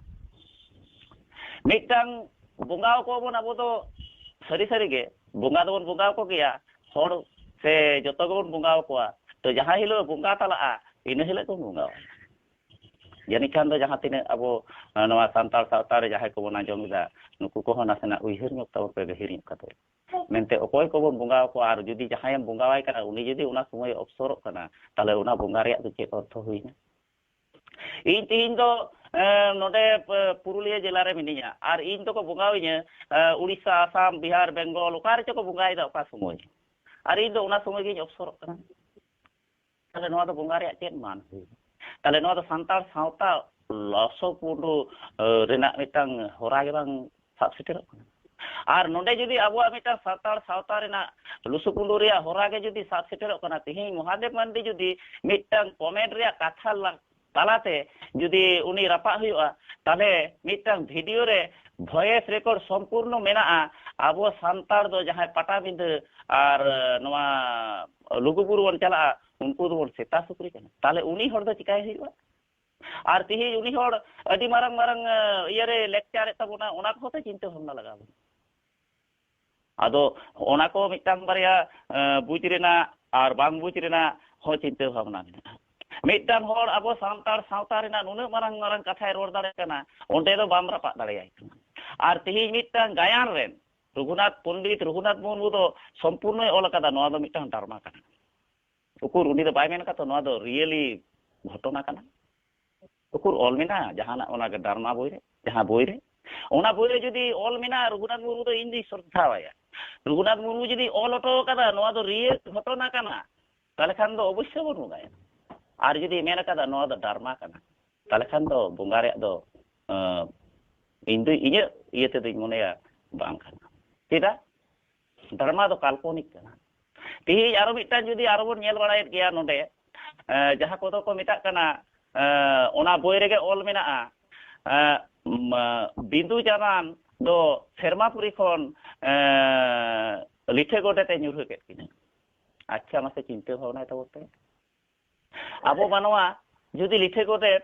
ᱢᱤᱫᱴᱟᱝ ᱵᱚᱸᱜᱟ ᱠᱚᱣᱟ ᱵᱚᱱ ᱟᱵᱚ ᱫᱚ ᱥᱟᱹᱨᱤ ᱥᱟᱹᱨᱤ ᱜᱮ ᱵᱚᱸᱜᱟ ᱫᱚᱵᱚᱱ ᱵᱚᱸᱜᱟ ᱠᱚ ᱜᱮᱭᱟ ᱦᱚᱲ ᱥᱮ ᱡᱚᱛᱚ ᱜᱮᱵᱚᱱ ᱵᱚᱸᱜᱟ ᱠᱚᱣᱟ ᱛᱚ ᱡᱟᱦᱟᱸ ᱦᱤᱞᱳᱜ ᱵᱚᱸᱜᱟ ᱛᱟᱞᱟᱜᱼᱟ ᱤᱱᱟᱹ ᱦᱤᱞᱳᱜ ᱵᱚᱱ ᱵᱚᱸᱜᱟᱣᱟᱭᱟ ᱡᱟᱹᱱᱤᱡ ᱠᱷᱟᱱ ᱫᱚ ᱡᱟᱦᱟᱸ ᱛᱤᱱᱟᱹᱜ ᱟᱵᱚ ᱱᱚᱣᱟ ᱥᱟᱱᱛᱟᱲ ᱥᱟᱶᱛᱟ ᱨᱮ ᱡᱟᱦᱟᱸᱭ ᱠᱚᱵᱚᱱ ᱟᱸᱡᱚᱢ ᱮᱫᱟ ᱱᱩᱠᱩ ᱠᱚᱦᱚᱸ ᱱᱟᱥᱮᱱᱟᱜ ᱩᱭᱦᱟᱹᱨ ᱧᱚᱜ ᱛᱟᱵᱚᱱ ᱯᱮ ᱜᱟᱹᱦᱤᱨ ᱧᱚᱜ ᱠᱟᱛᱮ ᱢᱮᱱᱛᱮ ᱚᱠᱚᱭ ᱠᱚᱵᱚᱱ ᱵᱚᱸᱜᱟ ᱟᱠᱚᱣᱟ ᱟᱨ ᱡᱩᱫᱤ ᱡᱟᱦᱟᱸᱭᱮᱢ ᱵᱚᱸᱜᱟᱣᱟᱭ ᱠᱟᱱᱟ ᱩᱱᱤ ᱡᱩᱫᱤ ᱚᱱᱟ ᱥᱚᱢᱚᱭ ᱚᱯᱥᱚᱨᱚᱜ ᱠᱟᱱᱟ ᱛᱟᱦᱚᱞᱮ ᱚᱱᱟ ᱵᱚᱸᱜᱟ ᱨᱮᱭᱟᱜ ᱫᱚ ᱪᱮᱫ ᱚᱨᱛᱷᱚ ᱦᱩᱭᱱᱟ ᱤᱧ ᱛᱮᱦᱮᱧ ᱫᱚ ᱱᱚᱰᱮ ᱯᱩᱨᱩᱞᱤᱭᱟᱹ ᱡᱮᱞᱟ ᱨᱮ ᱢᱤᱱᱟᱹᱧᱟ ᱟᱨ ᱤᱧ ᱫᱚᱠᱚ ᱵᱚᱸᱜᱟᱣᱤᱧᱟ ᱩᱲᱤᱥᱥᱟ ᱟᱥᱟᱢ ᱵᱤᱦᱟᱨ ᱵᱮᱝᱜᱚᱞ ᱚᱠᱟ ᱨᱮᱪᱚ ᱠᱚ ᱵᱚᱸᱜᱟᱭᱮᱫᱟ ᱚᱠᱟ ᱥᱚᱢᱚᱭ ᱟᱨ ᱤᱧ ᱫᱚ ᱚᱱᱟ ᱥᱚᱢᱚᱭ ᱜᱤᱧ ᱚᱯᱥᱚᱨᱚᱜ ᱠᱟᱱᱟ ᱛᱟᱦᱚᱞᱮ ᱱᱚᱣᱟ ᱫᱚ ᱵᱚᱸᱜᱟ ᱨᱮᱭᱟᱜ ᱪᱮᱫ ᱢᱟᱱ ᱦᱩᱭᱩᱜᱼᱟ ᱛᱟᱦᱚᱞᱮ ᱱᱚᱣᱟ ᱫᱚ ᱥᱟᱱᱛᱟᱲ ᱥᱟᱶᱛᱟ ᱞᱚᱥᱚ ᱯᱩᱸᱰᱩ ᱨᱮᱱᱟᱜ ᱢᱤᱫᱴᱟᱝ ᱦᱚᱨᱟ ᱜᱮ ᱵᱟᱝ ᱥᱟᱵ ᱥᱮᱴᱮᱨᱚᱜ ᱠᱟᱱᱟ ᱟᱨ ᱱᱚᱰᱮ ᱡᱩᱫᱤ ᱟᱵᱚᱣᱟᱜ ᱢᱤᱫᱴᱟᱝ ᱥᱟᱱᱛᱟᱲ ᱥᱟᱶᱛᱟ ᱨᱮᱱᱟᱜ ᱞᱩᱥᱩᱯᱩᱸᱰᱩ ᱨᱮᱭᱟᱜ ᱦᱚᱨᱟ ᱜᱮ ᱡᱩᱫᱤ ᱥᱟᱵ ᱥᱮᱴᱮᱨᱚᱜ ᱠᱟᱱᱟ ᱛᱮᱦᱮᱧ ᱢᱚᱦᱟᱫᱮᱵ ᱢᱟᱱᱰᱤ ᱡᱩᱫᱤ ᱢᱤᱫᱴᱟᱝ ᱠᱚᱢᱮᱱᱴ ᱨᱮᱭᱟᱜ ᱠᱟᱛᱷᱟ ᱛᱟᱞᱟᱛᱮ ᱡᱩᱫᱤ ᱩᱱᱤ ᱨᱟᱯᱟᱜ ᱦᱩᱭᱩᱜᱼᱟ ᱛᱟᱦᱞᱮ ᱢᱤᱫᱴᱟᱝ ᱵᱷᱤᱰᱤᱭᱳ ᱨᱮ ᱵᱷᱚᱭᱮᱥ ᱨᱮᱠᱚᱨᱰ ᱥᱚᱢᱯᱩᱨᱱᱚ ᱢᱮᱱᱟᱜᱼᱟ ᱟᱵᱚ ᱥᱟᱱᱛᱟᱲ ᱫᱚ ᱡᱟᱦᱟᱸᱭ ᱯᱟᱴᱟᱵᱤᱸᱫᱟᱹ ᱟᱨ ᱱᱚᱣᱟ ᱞᱩᱜᱩᱵᱩᱨᱩ ᱵᱚᱱ ᱪᱟᱞᱟᱜᱼᱟ ᱩᱱᱠᱩ ᱫᱚᱵᱚᱱ ᱥᱮᱛᱟ ᱥᱩᱠᱨᱤ ᱠᱟᱱᱟ ᱛᱟᱦᱞᱮ ᱩᱱᱤ ᱦᱚᱲ ᱫᱚ ᱪᱤᱠᱟᱭ ᱦᱩᱭᱩᱜᱼᱟ ᱟᱨ ᱛᱤᱦᱤᱧ ᱩᱱᱤ ᱦᱚᱲ ᱟᱹᱰᱤ ᱢᱟᱨᱟᱝ ᱢᱟᱨᱟᱝ ᱤᱭᱟᱹᱨᱮ ᱞᱮᱠᱪᱟᱨᱮᱫ ᱛᱟᱵᱚᱱᱟ ᱚᱱᱟ ᱠᱚᱦᱚᱸ ᱛᱚ ᱪᱤᱱᱛᱟᱹ ᱵᱷᱟᱵᱽᱱᱟ ᱞᱟᱜᱟᱣ ᱵᱚᱱᱟ ᱟᱫᱚ ᱚᱱᱟ ᱠᱚ ᱢᱤᱫᱴᱟᱝ ᱵᱟᱨᱭᱟ ᱵᱩᱡᱽ ᱨᱮᱱᱟᱜ ᱟᱨ ᱵᱟᱝ ᱵᱩᱡᱽ ᱨᱮᱱᱟᱜ ᱦᱚᱸ ᱪᱤᱱᱛᱟᱹ ᱵᱷᱟᱵᱽᱱᱟ ᱢᱮᱱᱟᱜᱼᱟ ᱢᱤᱫᱴᱟᱝ ᱦᱚᱲ ᱟᱵᱚ ᱥᱟᱱᱛᱟᱲ ᱥᱟᱶᱛᱟ ᱨᱮᱱᱟᱜ ᱱᱩᱱᱟᱹᱜ ᱢᱟᱨᱟᱝ ᱢᱟᱨᱟᱝ ᱠᱟᱛᱷᱟᱭ ᱨᱚᱲ ᱫᱟᱲᱮᱭᱟᱜ ᱠᱟᱱᱟ ᱚᱸᱰᱮ ᱫᱚ ᱵᱟᱢ ᱨᱟᱯᱟᱜ ᱫᱟᱲᱮᱭᱟᱭ ᱠᱟᱱᱟ ᱟᱨ ᱛᱮᱦᱮᱧ ᱢᱤᱫᱴᱟᱝ ᱜᱟᱭᱟᱱ ᱨᱮᱱ ᱨᱚᱜᱷᱩᱱᱟᱛᱷ ᱯᱚᱱᱰᱤᱛ ᱨᱚᱜᱷᱩᱱᱟᱛᱷ ᱢᱩᱨᱢᱩ ᱫᱚ ᱥᱚᱢᱯᱩᱨᱱᱚᱭ ᱚᱞ ᱟᱠᱟᱫᱟ ᱱᱚᱣᱟ ᱫᱚ ᱢᱤᱫᱴᱟᱝ ᱰᱟᱨᱢᱟ ᱠᱟᱱᱟ ᱩᱠᱩᱨ ᱩᱱᱤ ᱫᱚ ᱵᱟᱭ ᱢᱮᱱ ᱟᱠᱟᱫᱟ ᱱᱚᱣᱟ ᱫᱚ ᱨᱤᱭᱮᱞᱤ ᱜᱷᱚᱴᱚᱱᱟ ᱠᱟᱱᱟ ᱩᱠᱩᱨ ᱚᱞ ᱢᱮᱱᱟᱜᱼᱟ ᱡᱟᱦᱟᱱᱟᱜ ᱚᱱᱟ ᱰᱟᱨᱢᱟ ᱵᱳᱭ ᱨᱮ ᱡᱟᱦᱟᱸ ᱵᱳᱭ ᱨᱮ ᱚᱱᱟ ᱵᱳᱭ ᱨᱮ ᱡᱩᱫᱤ ᱚᱞ ᱢᱮᱱᱟᱜᱼᱟ ᱨᱚᱜᱷᱩᱱᱟᱛᱷ ᱢᱩᱨᱢᱩ ᱫᱚ ᱤᱧ ᱫᱩᱧ ᱥᱨᱚᱫᱷᱟᱣᱟᱭᱟ ᱨᱚᱜᱷᱩᱱᱟᱛᱷ ᱢᱩᱨᱢᱩ ᱡᱩᱫᱤ ᱚᱞ ᱦᱚᱴᱚ ᱟᱠᱟᱫᱟ ᱱᱚᱣᱟ ᱫᱚ ᱨᱤᱭᱮᱞ ᱜᱷᱚᱴᱚᱱᱟ ᱠᱟᱱᱟ ᱛᱟᱦᱚᱞᱮ ᱠᱷᱟᱱ ᱫᱚ ᱚᱵᱚᱥᱥᱳᱭ ᱵᱚᱱ ᱵᱚᱸᱜᱟᱭᱟ ᱟᱨ ᱡᱩᱫᱤ ᱢᱮᱱ ᱟᱠᱟᱫᱟ ᱱᱚᱣᱟ ᱫᱚ ᱰᱟᱨᱢᱟ ᱠᱟᱱᱟ ᱛᱟᱦᱚᱞᱮ ᱠᱷᱟᱱ ᱫᱚ ᱵᱚᱸᱜᱟ ᱨᱮᱭᱟᱜ ᱫᱚ ᱤᱧ ᱫᱚ ᱤᱧᱟᱹᱜ ᱤᱭᱟᱹ ᱛᱮᱫᱚᱧ ᱢᱚᱱᱮᱭᱟ ᱵᱟᱝ ᱠᱟᱱᱟ ᱪᱮᱫᱟᱜ ᱫᱷᱟᱨᱢᱟ ᱫᱚ ᱠᱟᱞᱯᱚᱱᱤᱠ ᱠᱟᱱᱟ ᱛᱮᱦᱮᱧ ᱟᱨᱚ ᱢᱤᱫᱴᱟᱝ ᱡᱩᱫᱤ ᱟᱨᱚ ᱵᱚᱱ ᱧᱮᱞ ᱵᱟᱲᱟᱭᱮᱫ ᱜᱮᱭᱟ ᱱᱚᱰᱮ ᱡᱟᱦᱟᱸ ᱠᱚᱫᱚ ᱠᱚ ᱢᱮᱛᱟᱜ ᱠᱟᱱᱟ ᱚᱱᱟ ᱵᱳᱭ ᱨᱮᱜᱮ ᱚᱞ ᱢᱮᱱᱟᱜᱼᱟ ᱵᱤᱸᱫᱩ ᱪᱟᱸᱫᱟᱱ ᱫᱚ ᱥᱮᱨᱢᱟᱯᱩᱨᱤ ᱠᱷᱚᱱ ᱞᱤᱴᱷᱟᱹ ᱜᱚᱰᱮᱛᱮ ᱧᱩᱨᱦᱟᱹ ᱠᱮᱫ ᱠᱤᱱᱟ ᱟᱪᱪᱷᱟ ᱢᱟᱥᱮ ᱪᱤᱱᱛᱟᱹ ᱵᱷᱟᱵᱽᱱᱟᱭ ᱛᱟᱵᱚᱱ ᱯᱮ ᱟᱵᱚ ᱢᱟᱱᱣᱟ ᱡᱩᱫᱤ ᱞᱤᱴᱷᱟᱹ ᱜᱚᱰᱮᱛ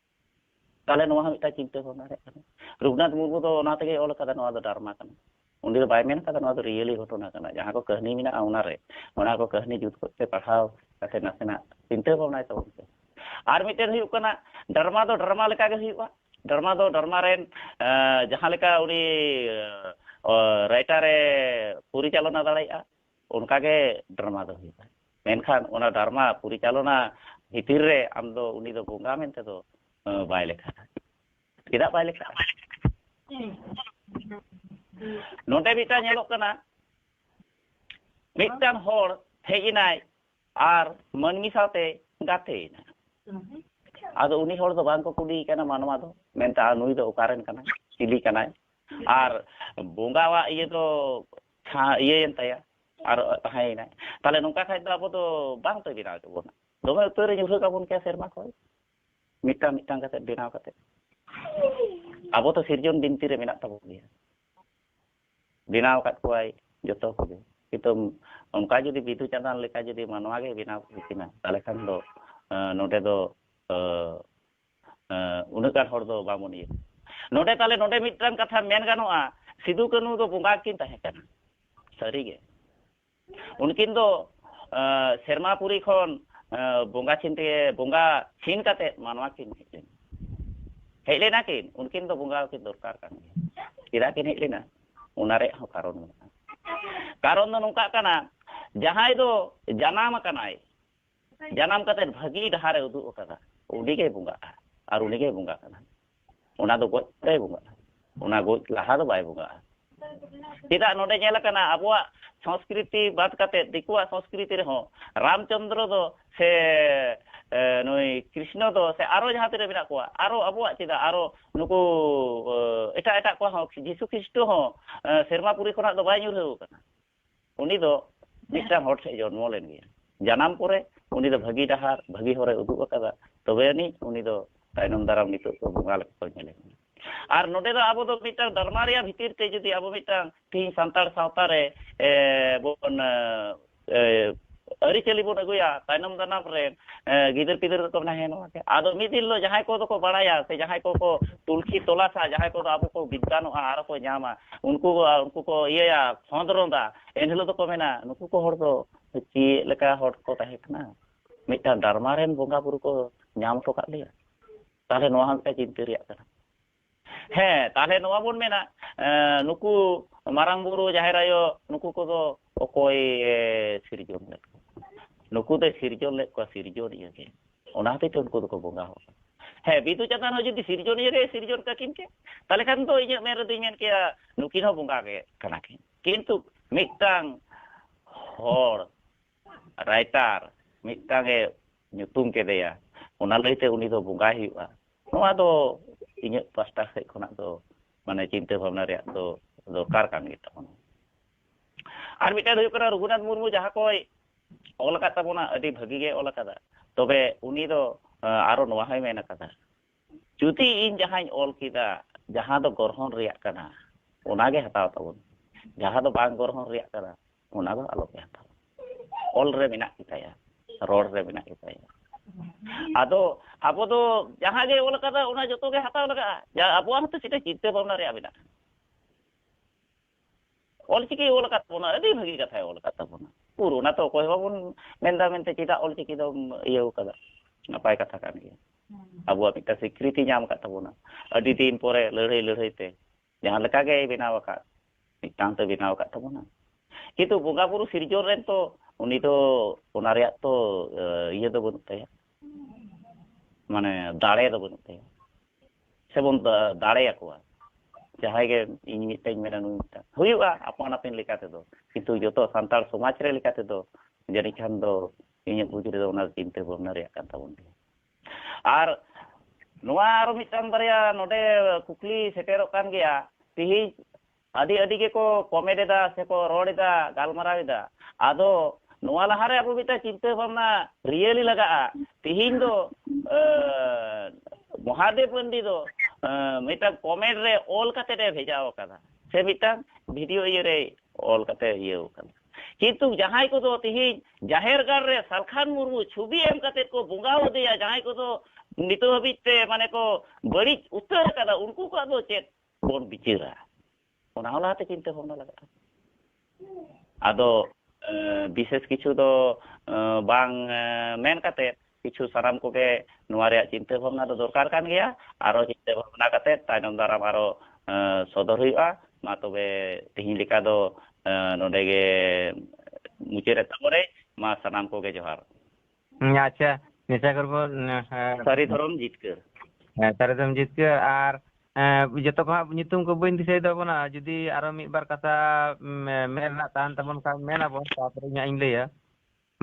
ᱛᱟᱦᱚᱞᱮ ᱱᱚᱣᱟ ᱦᱚᱸ ᱢᱤᱫᱴᱟᱝ ᱪᱤᱱᱛᱟᱹ ᱵᱷᱟᱵᱽᱱᱟ ᱨᱮᱭᱟᱜ ᱠᱟᱱᱟ ᱨᱚᱜᱷᱩᱱᱟᱛᱷ ᱢᱩᱨᱢᱩ ᱫᱚ ᱚᱱᱟ ᱛᱮᱜᱮ ᱚᱞ ᱟᱠᱟᱫᱟ ᱱᱚᱣᱟ ᱫᱚ ᱰᱟᱨᱢᱟ ᱠᱟᱱᱟ ᱩᱱᱤ ᱫᱚ ᱵᱟᱭ ᱢᱮᱱ ᱟᱠᱟᱫᱟ ᱱᱚᱣᱟ ᱫᱚ ᱨᱤᱭᱮᱞᱤ ᱜᱷᱚᱴᱚᱱᱟ ᱠᱟᱱᱟ ᱡᱟᱦᱟᱸ ᱠᱚ ᱠᱟᱹᱦᱱᱤ ᱢᱮᱱᱟᱜᱼᱟ ᱚᱱᱟ ᱨᱮ ᱚᱱᱟ ᱠᱚ ᱠᱟᱹᱦᱱᱤ ᱡᱩᱛ ᱠᱚᱛᱮ ᱯᱟᱲᱦᱟᱣ ᱠᱟᱛᱮ ᱱᱟᱥᱮᱱᱟᱜ ᱪᱤᱱᱛᱟᱹ ᱵᱷᱟᱵᱽᱱᱟᱭ ᱛᱟᱵᱚᱱ ᱯᱮ ᱟᱨ ᱢᱤᱫᱴᱮᱱ ᱦᱩᱭᱩᱜ ᱠᱟᱱᱟ ᱰᱟᱨᱢᱟ ᱫᱚ ᱰᱟᱨᱢᱟ ᱞᱮᱠᱟ ᱜᱮ ᱦᱩᱭᱩᱜᱼᱟ ᱰᱟᱨᱢᱟ ᱫᱚ ᱰᱟᱨᱢᱟ ᱨᱮᱱ ᱡᱟᱦᱟᱸ ᱞᱮᱠᱟ ᱩᱱᱤ ᱨᱟᱭᱴᱟᱨᱮ ᱯᱚᱨᱤᱪᱟᱞᱚᱱᱟ ᱫᱟᱲᱮᱭᱟᱜᱼᱟ ᱚᱱᱠᱟ ᱜᱮ ᱰᱨᱟᱢᱟ ᱫᱚ ᱦᱩᱭᱩᱜᱼᱟ ᱢᱮᱱᱠᱷᱟᱱ ᱚᱱᱟ ᱰᱨᱟᱢᱟ ᱯᱚᱨᱤᱪᱟᱞᱚᱱᱟ ᱵᱷᱤᱛᱤᱨ ᱨᱮ ᱟᱢ ᱫᱚ ᱩᱱᱤ ᱫᱚ ᱵᱚᱸᱜᱟ ᱢᱮᱱᱛᱮ ᱫᱚ ᱵᱟᱭ ᱞᱮᱠᱷᱟᱜᱼᱟ ᱪᱮᱫᱟᱜ ᱵᱟᱭ ᱞᱮᱠᱷᱟᱜᱼᱟ ᱱᱚᱰᱮ ᱢᱤᱫᱴᱟᱝ ᱧᱮᱞᱚᱜ ᱠᱟᱱᱟ ᱢᱤᱫᱴᱟᱝ ᱦᱚᱲ ᱦᱮᱡ ᱮᱱᱟᱭ ᱟᱨ ᱢᱟᱹᱱᱢᱤ ᱥᱟᱶᱛᱮ ᱜᱟᱛᱮᱭᱮᱱᱟ ᱟᱫᱚ ᱩᱱᱤ ᱦᱚᱲ ᱫᱚ ᱵᱟᱝ ᱠᱚ ᱠᱩᱞᱤᱭᱮ ᱠᱟᱱᱟ ᱢᱟᱱᱣᱟ ᱫᱚ ᱢᱮᱱᱛᱮ ᱱᱩᱭ ᱫᱚ ᱚᱠᱟᱨᱮᱱ ᱠᱟᱱᱟᱭ ᱪᱤᱞᱤ ᱠᱟᱱᱟᱭ ᱟᱨ ᱵᱚᱸᱜᱟᱣᱟᱜ ᱤᱭᱟᱹ ᱫᱚ ᱛᱷᱟ ᱤᱭᱟᱹᱭᱮᱱ ᱛᱟᱭᱟ ᱟᱨ ᱛᱟᱦᱮᱸᱭᱮᱱᱟᱭ ᱛᱟᱦᱚᱞᱮ ᱱᱚᱝᱠᱟ ᱠᱷᱟᱡ ᱫᱚ ᱟᱵᱚ ᱫᱚ ᱵᱟᱝ ᱛᱚᱭ ᱵᱮᱱᱟᱣ ᱠᱮᱫ ᱵᱚᱱᱟ ᱫᱚᱢᱮ ᱩᱛᱟᱹᱨ ᱮ ᱧᱩᱨᱦᱟᱹ ᱠᱟᱵᱚᱱ ᱠᱮᱭᱟ ᱥᱮᱨᱢᱟ ᱠᱷᱚᱡ ᱢᱤᱫᱴᱟᱝ ᱢᱤᱫᱴᱟᱝ ᱠᱟᱛᱮ ᱵᱮᱱᱟᱣ ᱠᱟᱛᱮ ᱟᱵᱚ ᱫᱚ ᱥᱤᱨᱡᱚᱱ ᱵᱤᱱᱛᱤ ᱨᱮ ᱢᱮᱱᱟᱜ ᱛᱟᱵᱚᱱ ᱜᱮᱭᱟ ᱵᱮᱱᱟᱣ ᱟᱠᱟᱫ ᱠᱚᱣᱟᱭ ᱡᱚᱛᱚ ᱠᱚᱜᱮ ᱠᱤᱱᱛᱩ ᱚᱱᱠᱟ ᱡᱩᱫᱤ ᱵᱤᱫᱩ ᱪᱟᱸᱫᱟᱱ ᱞᱮᱠᱟ ᱡᱩᱫᱤ ᱢᱟᱱᱣᱟ ᱜᱮ ᱵᱮᱱᱟᱣ ᱦᱩᱭ ᱠᱤᱱᱟ ᱛᱟᱦᱚᱞᱮ ᱠᱷᱟᱱ ᱫᱚ ᱱᱚᱰᱮ ᱫᱚ ᱩᱱᱟᱹᱜ ᱜᱟᱱ ᱦᱚᱲ ᱫᱚ ᱵᱟᱵᱚᱱ ᱤᱭᱟᱹ ᱱᱚᱰᱮ ᱛᱟᱦᱞᱮ ᱱᱚᱰᱮ ᱢᱤᱫᱴᱟᱝ ᱠᱟᱛᱷᱟ ᱢᱮᱱ ᱜᱟᱱᱚᱜᱼᱟ ᱥᱤᱫᱩ ᱠᱟᱹᱱᱩ ᱫᱚ ᱵᱚᱸᱜᱟ ᱠᱤᱱ ᱛᱟᱦᱮᱸ ᱠᱟᱱᱟ ᱥᱟᱹᱨᱤ ᱜᱮ ᱩᱱᱠᱤᱱ ᱫᱚ ᱥᱮᱨᱢᱟ ᱯᱩᱨᱤ ᱠᱷᱚᱱ ᱵᱚᱸᱜᱟ ᱪᱷᱤᱱ ᱛᱮ ᱵᱚᱸᱜᱟ ᱪᱷᱤᱱ ᱠᱟᱛᱮ ᱢᱟᱱᱣᱟ ᱠᱤᱱ ᱦᱮᱡ ᱞᱮᱱᱟ ᱦᱮᱡ ᱞᱮᱱᱟ ᱠᱤᱱ ᱩᱱᱠᱤᱱ ᱫᱚ ᱵᱚᱸᱜᱟ ᱠᱤᱱ ᱫᱚᱨᱠᱟᱨ ᱠᱟᱱ ᱜᱮᱭᱟ ᱪᱮᱫᱟᱜ ᱠᱤᱱ ᱦᱮᱡ ᱞᱮᱱᱟ ᱚᱱᱟ ᱨᱮᱭᱟᱜ ᱦᱚᱸ ᱠᱟᱨᱚᱱ ᱢᱮᱱᱟᱜᱼᱟ ᱠᱟᱨᱚᱱ ᱫᱚ ᱱᱚᱝᱠᱟᱜ ᱠᱟᱱᱟ ᱡᱟᱦᱟᱸᱭ ᱫᱚ ᱡᱟᱱᱟᱢ ᱟᱠᱟᱱᱟᱭ ᱡᱟᱱᱟᱢ ᱠᱟᱛᱮ ᱵᱷᱟᱹᱜᱤ ᱰᱟᱦᱟᱨᱮ ᱩᱫᱩᱜ ᱟᱠᱟᱫᱟ ᱩᱱᱤ ᱜᱮ ᱵᱚᱸᱜᱟᱜᱼᱟ ᱟᱨ ᱩᱱᱤ ᱜᱮ ᱵᱚᱸᱜᱟ ᱠᱟᱱᱟ ᱚᱱᱟ ᱫᱚ ᱜᱚᱡ ᱯᱚᱨᱮ ᱵᱚᱸᱜᱟᱜᱼᱟ ᱚᱱᱟ ᱜᱚᱡ ᱞᱟᱦᱟ ᱫᱚ ᱵᱟᱭ ᱵᱚᱸᱜᱟᱜᱼᱟ ᱪᱮᱫᱟᱜ ᱱᱚᱰᱮ ᱧᱮᱞ ᱟᱠᱟᱱᱟ ᱟᱵᱚᱣᱟᱜ ᱥᱚᱝᱥᱠᱨᱤᱛᱤ ᱵᱟᱫ ᱠᱟᱛᱮ ᱫᱤᱠᱩᱣᱟᱜ ᱥᱚᱝᱥᱠᱨᱤᱛᱤ ᱨᱮᱦᱚᱸ ᱨᱟᱢᱪᱚᱱᱫᱨᱚ ᱫᱚ ᱥᱮ ᱱᱩᱭ ᱠᱨᱤᱥᱱᱚ ᱫᱚ ᱥᱮ ᱟᱨᱚ ᱡᱟᱦᱟᱸ ᱛᱤᱱᱟᱹᱜ ᱢᱮᱱᱟᱜ ᱠᱚᱣᱟ ᱟᱨᱚ ᱟᱵᱚᱣᱟᱜ ᱪᱮᱫᱟᱜ ᱟᱨᱚ ᱱᱩᱠᱩ ᱮᱴᱟᱜ ᱮᱴᱟᱜ ᱠᱚᱣᱟᱜ ᱦᱚᱸ ᱡᱤᱥᱩ ᱠᱷᱨᱤᱥᱴᱚ ᱦᱚᱸ ᱥᱮᱨᱢᱟ ᱯᱩᱨᱤ ᱠᱷᱚᱱᱟᱜ ᱫᱚ ᱵᱟᱭ ᱧᱩᱨᱦᱟᱹᱣ ᱟᱠᱟᱱᱟ ᱩᱱᱤ ᱫᱚ ᱢᱤᱫᱴᱟᱝ ᱦᱚᱲ ᱴᱷᱮᱱ ᱡᱚᱱᱢᱚ ᱞᱮᱱ ᱜᱮᱭᱟ ᱡᱟᱱᱟᱢ ᱯᱚᱨᱮ ᱩᱱᱤ ᱫᱚ ᱵᱷᱟᱹᱜᱤ ᱰᱟᱦᱟᱨ ᱵᱷᱟᱹᱜᱤ ᱦᱚᱨᱮ ᱩᱫᱩᱜ ᱟᱠᱟᱫᱟ ᱛᱚᱵᱮ ᱟᱹᱱᱤᱡ ᱩᱱᱤ ᱫᱚ ᱛᱟᱭᱱᱚᱢ ᱫᱟᱨᱟᱢ ᱱᱤᱛᱚᱜ ᱠᱚ ᱵᱚᱸᱜᱟ ᱞᱮᱠᱟ ᱠᱚ ᱧᱮᱞᱮ ᱠᱟᱱᱟ ᱟᱨ ᱱᱚᱰᱮ ᱫᱚ ᱟᱵᱚ ᱫᱚ ᱢᱤᱫᱴᱟᱝ ᱫᱟᱨᱢᱟ ᱨᱮᱭᱟᱜ ᱵᱷᱤᱛᱤᱨ ᱛᱮ ᱡᱩᱫᱤ ᱟᱵᱚ ᱢᱤᱫᱴᱟᱝ ᱛᱤᱦᱤᱧ ᱥᱟᱱᱛᱟᱲ ᱥᱟᱶᱛᱟ ᱨᱮ ᱵᱚᱱ ᱟᱹᱨᱤᱪᱟᱹᱞᱤ ᱵᱚᱱ ᱟᱹᱜᱩᱭᱟ ᱛᱟᱭᱱᱚᱢ ᱫᱟᱱᱟᱢ ᱨᱮ ᱜᱤᱫᱟᱹᱨ ᱯᱤᱫᱟᱹᱨ ᱫᱚᱠᱚ ᱢᱮᱱᱟ ᱦᱮᱸ ᱱᱚᱣᱟ ᱜᱮ ᱟᱫᱚ ᱢᱤᱫ ᱫᱤᱱ ᱦᱤᱞᱳᱜ ᱡᱟᱦᱟᱸᱭ ᱠᱚᱫᱚ ᱠᱚ ᱵᱟᱲᱟᱭᱟ ᱥᱮ ᱡᱟᱦᱟᱸᱭ ᱠᱚᱠᱚ ᱛᱩᱞᱠᱷᱤ ᱛᱚᱞᱟᱥᱟ ᱡᱟᱦᱟᱸᱭ ᱠᱚᱫᱚ ᱟᱵᱚ ᱠᱚ ᱵᱤᱫᱽᱫᱟᱱᱚᱜᱼᱟ ᱟᱨ ᱠᱚ ᱧᱟᱢᱟ ᱩᱱᱠᱩ ᱩᱱᱠᱩ ᱠᱚ ᱤᱭᱟᱹᱭᱟ ᱠᱷᱚᱸᱫᱽᱨᱚᱸᱫᱟ ᱮᱱ ᱦᱤᱞᱳᱜ ᱫᱚᱠᱚ ᱢᱮᱱᱟ ᱱᱩᱠᱩ ᱠᱚ ᱦᱚᱲ ᱫᱚ ᱪᱮᱫ ᱞᱮᱠᱟ ᱦᱚᱲ ᱠᱚ ᱛᱟᱦᱮᱸ ᱠᱟᱱᱟ ᱢᱤᱫᱴᱟᱝ ᱰᱟᱨᱢᱟ ᱨᱮᱱ ᱵᱚᱸᱜᱟ ᱵᱩᱨᱩ ᱠᱚ ᱧᱟᱢ ᱦᱚᱴᱚ ᱠᱟᱜ ᱞᱮᱭᱟ ᱛᱟᱦᱚᱞᱮ ᱱᱚᱣᱟ ᱦᱚᱸ ᱢᱤᱫᱴᱟᱝ ᱪᱤᱱᱛᱟᱹ ᱨᱮᱭᱟᱜ ᱠᱟᱱᱟ ᱦᱮᱸ ᱛᱟᱦᱚᱞᱮ ᱱᱚᱣᱟ ᱵᱚᱱ ᱢᱮᱱᱟ ᱱᱩᱠᱩ ᱢᱟᱨᱟᱝ ᱵᱩᱨᱩ ᱡᱟᱦᱮᱨ ᱟᱭᱳ ᱱᱩᱠᱩ ᱠᱚᱫᱚ ᱚᱠᱚᱭ ᱥᱤᱨᱡᱚᱱ ᱞᱮᱫ ᱠᱚᱣᱟ ᱱᱩᱠᱩ ᱫᱚ ᱥᱤᱨᱡᱚᱱ ᱞᱮᱫ ᱠᱚᱣᱟ ᱥᱤᱨᱡᱚᱱᱤᱭᱟᱹ ᱜᱮ ᱚᱱᱟ ᱦᱚᱛᱮᱡ ᱛᱮ ᱩᱱᱠᱩ ᱫᱚᱠᱚ ᱵᱚᱸᱜᱟ ᱦᱚᱸ ᱦᱮᱸ ᱵᱤᱫᱩ ᱪᱟᱸᱫᱟᱱ ᱦᱚᱸ ᱡᱩᱫᱤ ᱥᱤᱨᱡᱚᱱᱤᱭᱟᱹ ᱜᱮ ᱥᱤᱨᱡᱚᱱ ᱠᱟᱠᱤᱱ ᱠᱮ ᱛᱟᱦᱚᱞᱮ ᱠᱷᱟᱱ ᱫᱚ ᱤᱧᱟᱹᱜ ᱢᱮᱱ ᱨᱮᱫᱚᱧ ᱢᱮᱱ ᱠᱮᱭᱟ ᱱᱩᱠᱤᱱ ᱦᱚᱸ ᱵᱚᱸᱜᱟ ᱜᱮ ᱠᱟᱱᱟ ᱠᱤᱱ ᱠᱤᱱᱛᱩ ᱢᱤᱫᱴᱟᱝ ᱦᱚᱲ ᱨᱟᱭᱴᱟᱨ ᱢᱤᱫᱴᱟᱝ ᱮ ᱧᱩᱛᱩᱢ ᱠᱮᱫᱮᱭᱟ ᱚᱱᱟ ᱞᱟᱹᱭᱛᱮ ᱩᱱᱤ ᱫᱚ ᱵᱚᱸᱜᱟᱭ ᱦᱩᱭᱩᱜᱼᱟ ᱱᱚᱣᱟ ᱫᱚ ᱤᱧᱟᱹᱜ ᱯᱟᱥᱴᱟ ᱥᱮᱫ ᱠᱷᱚᱱᱟᱜ ᱫᱚ ᱢᱟᱱᱮ ᱪᱤᱱᱛᱟᱹ ᱵᱷᱟᱵᱽᱱᱟ ᱨᱮᱭᱟᱜ ᱫᱚ ᱫᱚᱨᱠᱟᱨ ᱠᱟᱱ ᱜᱮ ᱛᱟᱵᱚᱱᱟ ᱟᱨ ᱢᱤᱫᱴᱟᱝ ᱦᱩᱭᱩᱜ ᱠᱟᱱᱟ ᱨᱚᱜᱷᱩᱱᱟᱛᱷ ᱢᱩᱨᱢᱩ ᱡᱟᱦᱟᱸ ᱠᱚᱭ ᱚᱞ ᱟᱠᱟᱫ ᱛᱟᱵᱚᱱᱟ ᱟᱹᱰᱤ ᱵᱷᱟᱹᱜᱤ ᱜᱮ ᱚᱞ ᱟᱠᱟᱫᱟ ᱛᱚᱵᱮ ᱩᱱᱤ ᱫᱚ ᱟᱨᱚ ᱱᱚᱣᱟ ᱦᱚᱸᱭ ᱢᱮᱱ ᱟᱠᱟᱫᱟ ᱡᱩᱫᱤ ᱤᱧ ᱡᱟᱦᱟᱸᱧ ᱚᱞ ᱠᱮᱫᱟ ᱡᱟᱦᱟᱸ ᱫᱚ ᱜᱚᱨᱦᱚᱱ ᱨᱮᱭᱟᱜ ᱠᱟᱱᱟ ᱚᱱᱟᱜᱮ ᱦᱟᱛᱟᱣ ᱛᱟᱵᱚᱱ ᱡᱟᱦᱟᱸ ᱫᱚ ᱵᱟᱝ ᱜᱚᱨᱦᱚᱱ ᱨᱮᱭᱟᱜ ᱠᱟᱱᱟ ᱚᱱᱟ ᱫᱚ ᱟᱞᱚᱯᱮ ᱦᱟᱛᱟᱣ ᱚᱞ ᱨᱮ ᱢᱮᱱᱟᱜ ᱜᱮᱛᱟᱭᱟ ᱨᱚᱲ ᱨᱮ ᱢᱮᱱᱟᱜ ᱜᱮᱛᱟᱭᱟ ᱟᱫᱚ ᱟᱵᱚ ᱫᱚ ᱡᱟᱦᱟᱸ ᱜᱮ ᱚᱞ ᱠᱟᱫᱟ ᱚᱱᱟ ᱡᱚᱛᱚ ᱜᱮ ᱦᱟᱛᱟᱣ ᱞᱟᱜᱟᱜᱼᱟ ᱟᱵᱚᱣᱟᱜ ᱦᱚᱸᱛᱚ ᱪᱮᱫ ᱪᱤᱱᱛᱟᱹ ᱵᱷᱟᱵᱽᱱᱟ ᱨᱮᱭᱟᱜ ᱢᱮᱱᱟᱜᱼᱟ ᱚᱞᱪᱤᱠᱤ ᱚᱞ ᱟᱠᱟᱫ ᱵᱚᱱᱟ ᱟᱹᱰᱤ ᱵᱷᱟᱹᱜᱤ ᱠᱟᱛᱷᱟᱭ ᱚᱞ ᱟᱠᱟᱫ ᱛᱟᱵᱚᱱᱟ ᱯᱩᱨ ᱚᱱᱟ ᱛᱚ ᱚᱠᱚᱭ ᱵᱟᱵᱚᱱ ᱢᱮᱱᱫᱟ ᱢᱮᱱᱛᱮ ᱪᱮᱫᱟᱜ ᱚᱞᱪᱤᱠᱤ ᱫᱚᱢ ᱤᱭᱟᱹ ᱟᱠᱟᱫᱟ ᱱᱟᱯᱟᱭ ᱠᱟᱛᱷᱟ ᱠᱟᱱ ᱜᱮᱭᱟ ᱟᱵᱚᱣᱟᱜ ᱢᱤᱫᱴᱟᱝ ᱥᱤᱠᱨᱤᱛᱤ ᱧᱟᱢ ᱟᱠᱟᱫ ᱛᱟᱵᱚᱱᱟ ᱟᱹᱰᱤ ᱫᱤᱱ ᱯᱚᱨᱮ ᱞᱟᱹᱲᱦᱟᱹᱭ ᱞᱟᱹᱲᱦᱟᱹᱭ ᱛᱮ ᱡᱟᱦᱟᱸ ᱞᱮᱠᱟ ᱜᱮᱭ ᱵᱮᱱᱟᱣ ᱟᱠᱟᱫ ᱢᱤᱫᱴᱟᱝ ᱛᱮ ᱵᱮᱱᱟᱣ ᱟᱠᱟᱫ ᱛᱟᱵᱚᱱᱟ ᱠᱤᱱᱛᱩ ᱵᱚᱸᱜᱟ ᱵᱩᱨᱩ ᱥᱤᱨᱡᱚᱱ ᱨᱮᱱ ᱛᱚ ᱩᱱᱤ ᱫᱚ ᱚᱱᱟ ᱨᱮᱭᱟᱜ ᱛᱚ ᱤᱭᱟᱹ ᱫᱚ ᱵᱟᱹᱱᱩᱜ ᱛᱟᱭᱟ ᱢᱟᱱᱮ ᱫᱟᱲᱮ ᱫᱚ ᱵᱟᱹᱱᱩᱜ ᱛᱟᱭᱟ ᱥᱮᱵᱚᱱ ᱫᱟᱲᱮᱭᱟᱠᱚᱣᱟ ᱡᱟᱦᱟᱸᱭ ᱜᱮ ᱤᱧ ᱢᱤᱫᱴᱟᱹᱧ ᱢᱮᱱᱟ ᱱᱩᱭ ᱢᱤᱫᱴᱟᱝ ᱦᱩᱭᱩᱜᱼᱟ ᱟᱯᱟᱱ ᱟᱹᱯᱤᱱ ᱞᱮᱠᱟ ᱛᱮᱫᱚ ᱠᱤᱱᱛᱩ ᱡᱚᱛᱚ ᱥᱟᱱᱛᱟᱲ ᱥᱚᱢᱟᱡᱽ ᱨᱮ ᱞᱮᱠᱟ ᱛᱮᱫᱚ ᱡᱟᱹᱱᱤᱡ ᱠᱷᱟᱱ ᱫᱚ ᱤᱧᱟᱹᱜ ᱵᱩᱡᱽ ᱨᱮᱫᱚ ᱚᱱᱟ ᱪᱤᱱᱛᱟᱹ ᱵᱷᱟᱵᱽᱱᱟ ᱨᱮᱭᱟᱜ ᱠᱟᱱ ᱛᱟᱵᱚᱱ ᱜᱮᱭᱟ ᱟᱨ ᱱᱚᱣᱟ ᱟᱨᱚ ᱢᱤᱫᱴᱟᱝ ᱵᱟᱨᱭᱟ ᱱᱚᱰᱮ ᱠᱩᱠᱞᱤ ᱥᱮᱴᱮᱨᱚᱜ ᱠᱟᱱ ᱜᱮᱭᱟ ᱛᱤᱦᱤᱧ ᱟᱹᱰᱤ ᱟᱹᱰᱤ ᱜᱮᱠᱚ ᱠᱚᱢᱮᱴ ᱮᱫᱟ ᱥᱮᱠᱚ ᱨᱚᱲ ᱮᱫᱟ ᱜᱟᱞᱢᱟᱨᱟᱣ ᱮᱫᱟ ᱟᱫᱚ ᱱᱚᱣᱟ ᱞᱟᱦᱟ ᱨᱮ ᱟᱵᱚ ᱢᱤᱫᱴᱟᱝ ᱪᱤᱱᱛᱟᱹ ᱵᱷᱟᱵᱽᱱᱟ ᱨᱤᱭᱮᱞᱤ ᱞᱟᱜᱟᱜᱼᱟ ᱛᱤᱦᱤᱧ ᱫᱚ ᱢᱚᱦᱟᱫᱮᱵ ᱢᱟᱱᱰᱤ ᱫᱚ ᱢᱤᱫᱴᱟᱝ ᱠᱚᱢᱮᱴ ᱨᱮ ᱚᱞ ᱠᱟᱛᱮ ᱮ ᱵᱷᱮᱡᱟ ᱟᱠᱟᱫᱟ ᱥᱮ ᱢᱤᱫᱴᱟᱝ ᱵᱷᱤᱰᱤᱭᱳ ᱤᱭᱟᱹ ᱨᱮ ᱚᱞ ᱠᱟᱛᱮ ᱤᱭᱟᱹ ᱟᱠᱟᱫᱟ ᱠᱤᱱᱛᱩ ᱡᱟᱦᱟᱸᱭ ᱠᱚᱫᱚ ᱛᱤᱦᱤᱧ ᱡᱟᱦᱮᱨ ᱜᱟᱲ ᱨᱮ ᱥᱟᱞᱠᱷᱟᱱ ᱢᱩᱨᱢᱩ ᱪᱷᱩᱵᱤ ᱮᱢ ᱠᱟᱛᱮ ᱠᱚ ᱵᱚᱸᱜᱟ ᱟᱫᱮᱭᱟ ᱡᱟᱦᱟᱸᱭ ᱠᱚᱫᱚ ᱱᱤᱛᱚᱜ ᱦᱟᱹᱵᱤᱡ ᱛᱮ ᱢᱟᱱᱮ ᱠᱚ ᱵᱟᱹᱲᱤᱡ ᱩᱛᱟᱹᱨ ᱟᱠᱟᱫᱟ ᱩᱱᱠᱩ ᱠᱚᱣᱟᱜ ᱫᱚ ᱪᱮᱫ ᱵᱚᱱ ᱵᱤᱪᱟᱹᱨᱟ ᱚᱱᱟ ᱦᱚᱸ ᱞᱟᱦᱟᱛᱮ ᱪᱤᱱᱛᱟᱹ ᱵᱷᱟᱵᱽᱱᱟ ᱞᱟᱜᱟᱜᱼᱟ ᱟᱫᱚ ᱵᱤᱥᱮᱥ ᱠᱤᱪᱷᱩ ᱫᱚ ᱵᱟᱝ ᱢᱮᱱ ᱠᱟᱛᱮ ᱠᱤᱪᱷᱩ ᱥᱟᱱᱟᱢ ᱠᱚᱜᱮ ᱱᱚᱣᱟ ᱨᱮᱭᱟᱜ ᱪᱤᱱᱛᱟᱹ ᱵᱷᱟᱵᱽᱱᱟ ᱫᱚ ᱫᱚᱨᱠᱟᱨ ᱠᱟᱱ ᱜᱮᱭᱟ ᱟᱨᱚ ᱪᱤᱱᱛᱟᱹ ᱵᱷᱟᱵᱽᱱᱟ ᱠᱟᱛᱮ ᱛᱟᱭᱱᱚᱢ ᱫᱟᱨᱟᱢ ᱟᱨᱚ ᱥᱚᱫᱚᱨ ᱦᱩᱭᱩᱜᱼᱟ ᱢᱟ ᱛᱚᱵᱮ ᱛᱮᱦᱮᱧ ᱞᱮᱠᱟ ᱫᱚ ᱱᱚᱰᱮ ᱜᱮ ᱢᱩᱪᱟᱹᱫ ᱮᱫ ᱛᱟᱵᱚᱱᱟᱹᱧ ᱢᱟ ᱥᱟᱱᱟᱢ ᱠᱚᱜᱮ ᱡᱚᱦᱟᱨ ᱟᱪᱪᱷᱟ ᱱᱮᱥᱟ ᱠᱚᱨᱵᱚ ᱥᱟᱹᱨᱤ ᱫᱷᱚᱨᱚᱢ ᱡᱤᱛᱠᱟᱹᱨ ᱦᱮᱸ ᱥᱟᱹᱨᱤ ᱫᱷᱚᱨᱚᱢ ᱡᱤᱛᱠᱟᱹᱨ ᱟᱨ ᱡᱚᱛᱚ ᱠᱚ ᱦᱟᱸᱜ ᱧᱩᱛᱩᱢ ᱠᱚ ᱵᱟᱹᱧ ᱫᱤᱥᱟᱹᱭ ᱛᱟᱵᱚᱱᱟ ᱡᱩᱫᱤ ᱟᱨᱚ ᱢᱤᱫ ᱵᱟᱨ ᱠᱟᱛᱷᱟ ᱢᱮᱱ ᱨᱮᱱᱟᱜ ᱛᱟᱦᱮᱱ ᱛᱟᱵᱚᱱ ᱠᱷᱟᱱ ᱢᱮᱱ ᱟᱵᱚᱱ ᱛᱟᱯᱚᱨᱮ ᱤᱧ ᱦᱟᱸᱜ ᱤᱧ ᱞᱟᱹᱭᱟ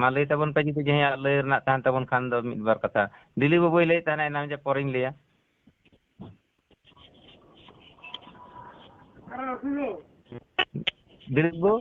ᱢᱟ ᱞᱟᱹᱭ ᱛᱟᱵᱚᱱ ᱯᱮ ᱡᱩᱫᱤ ᱡᱟᱦᱟᱸᱭᱟᱜ ᱞᱟᱹᱭ ᱨᱮᱱᱟᱜ ᱛᱟᱦᱮᱱ ᱛᱟᱵᱚᱱ ᱠᱷᱟᱱ ᱫᱚ ᱢᱤᱫ ᱵᱟᱨ ᱠᱟᱛᱷᱟ ᱫᱤᱞᱤ ᱵᱟᱹᱵᱩᱭ ᱞᱟᱹᱭᱮᱫ ᱛᱟᱦᱮᱱᱟ ᱮᱱᱟᱝ ᱡᱮ ᱯᱚᱨᱮᱧ ᱞᱟᱹᱭᱟ ᱫᱤᱞᱤᱯ ᱵᱟᱹᱵᱩ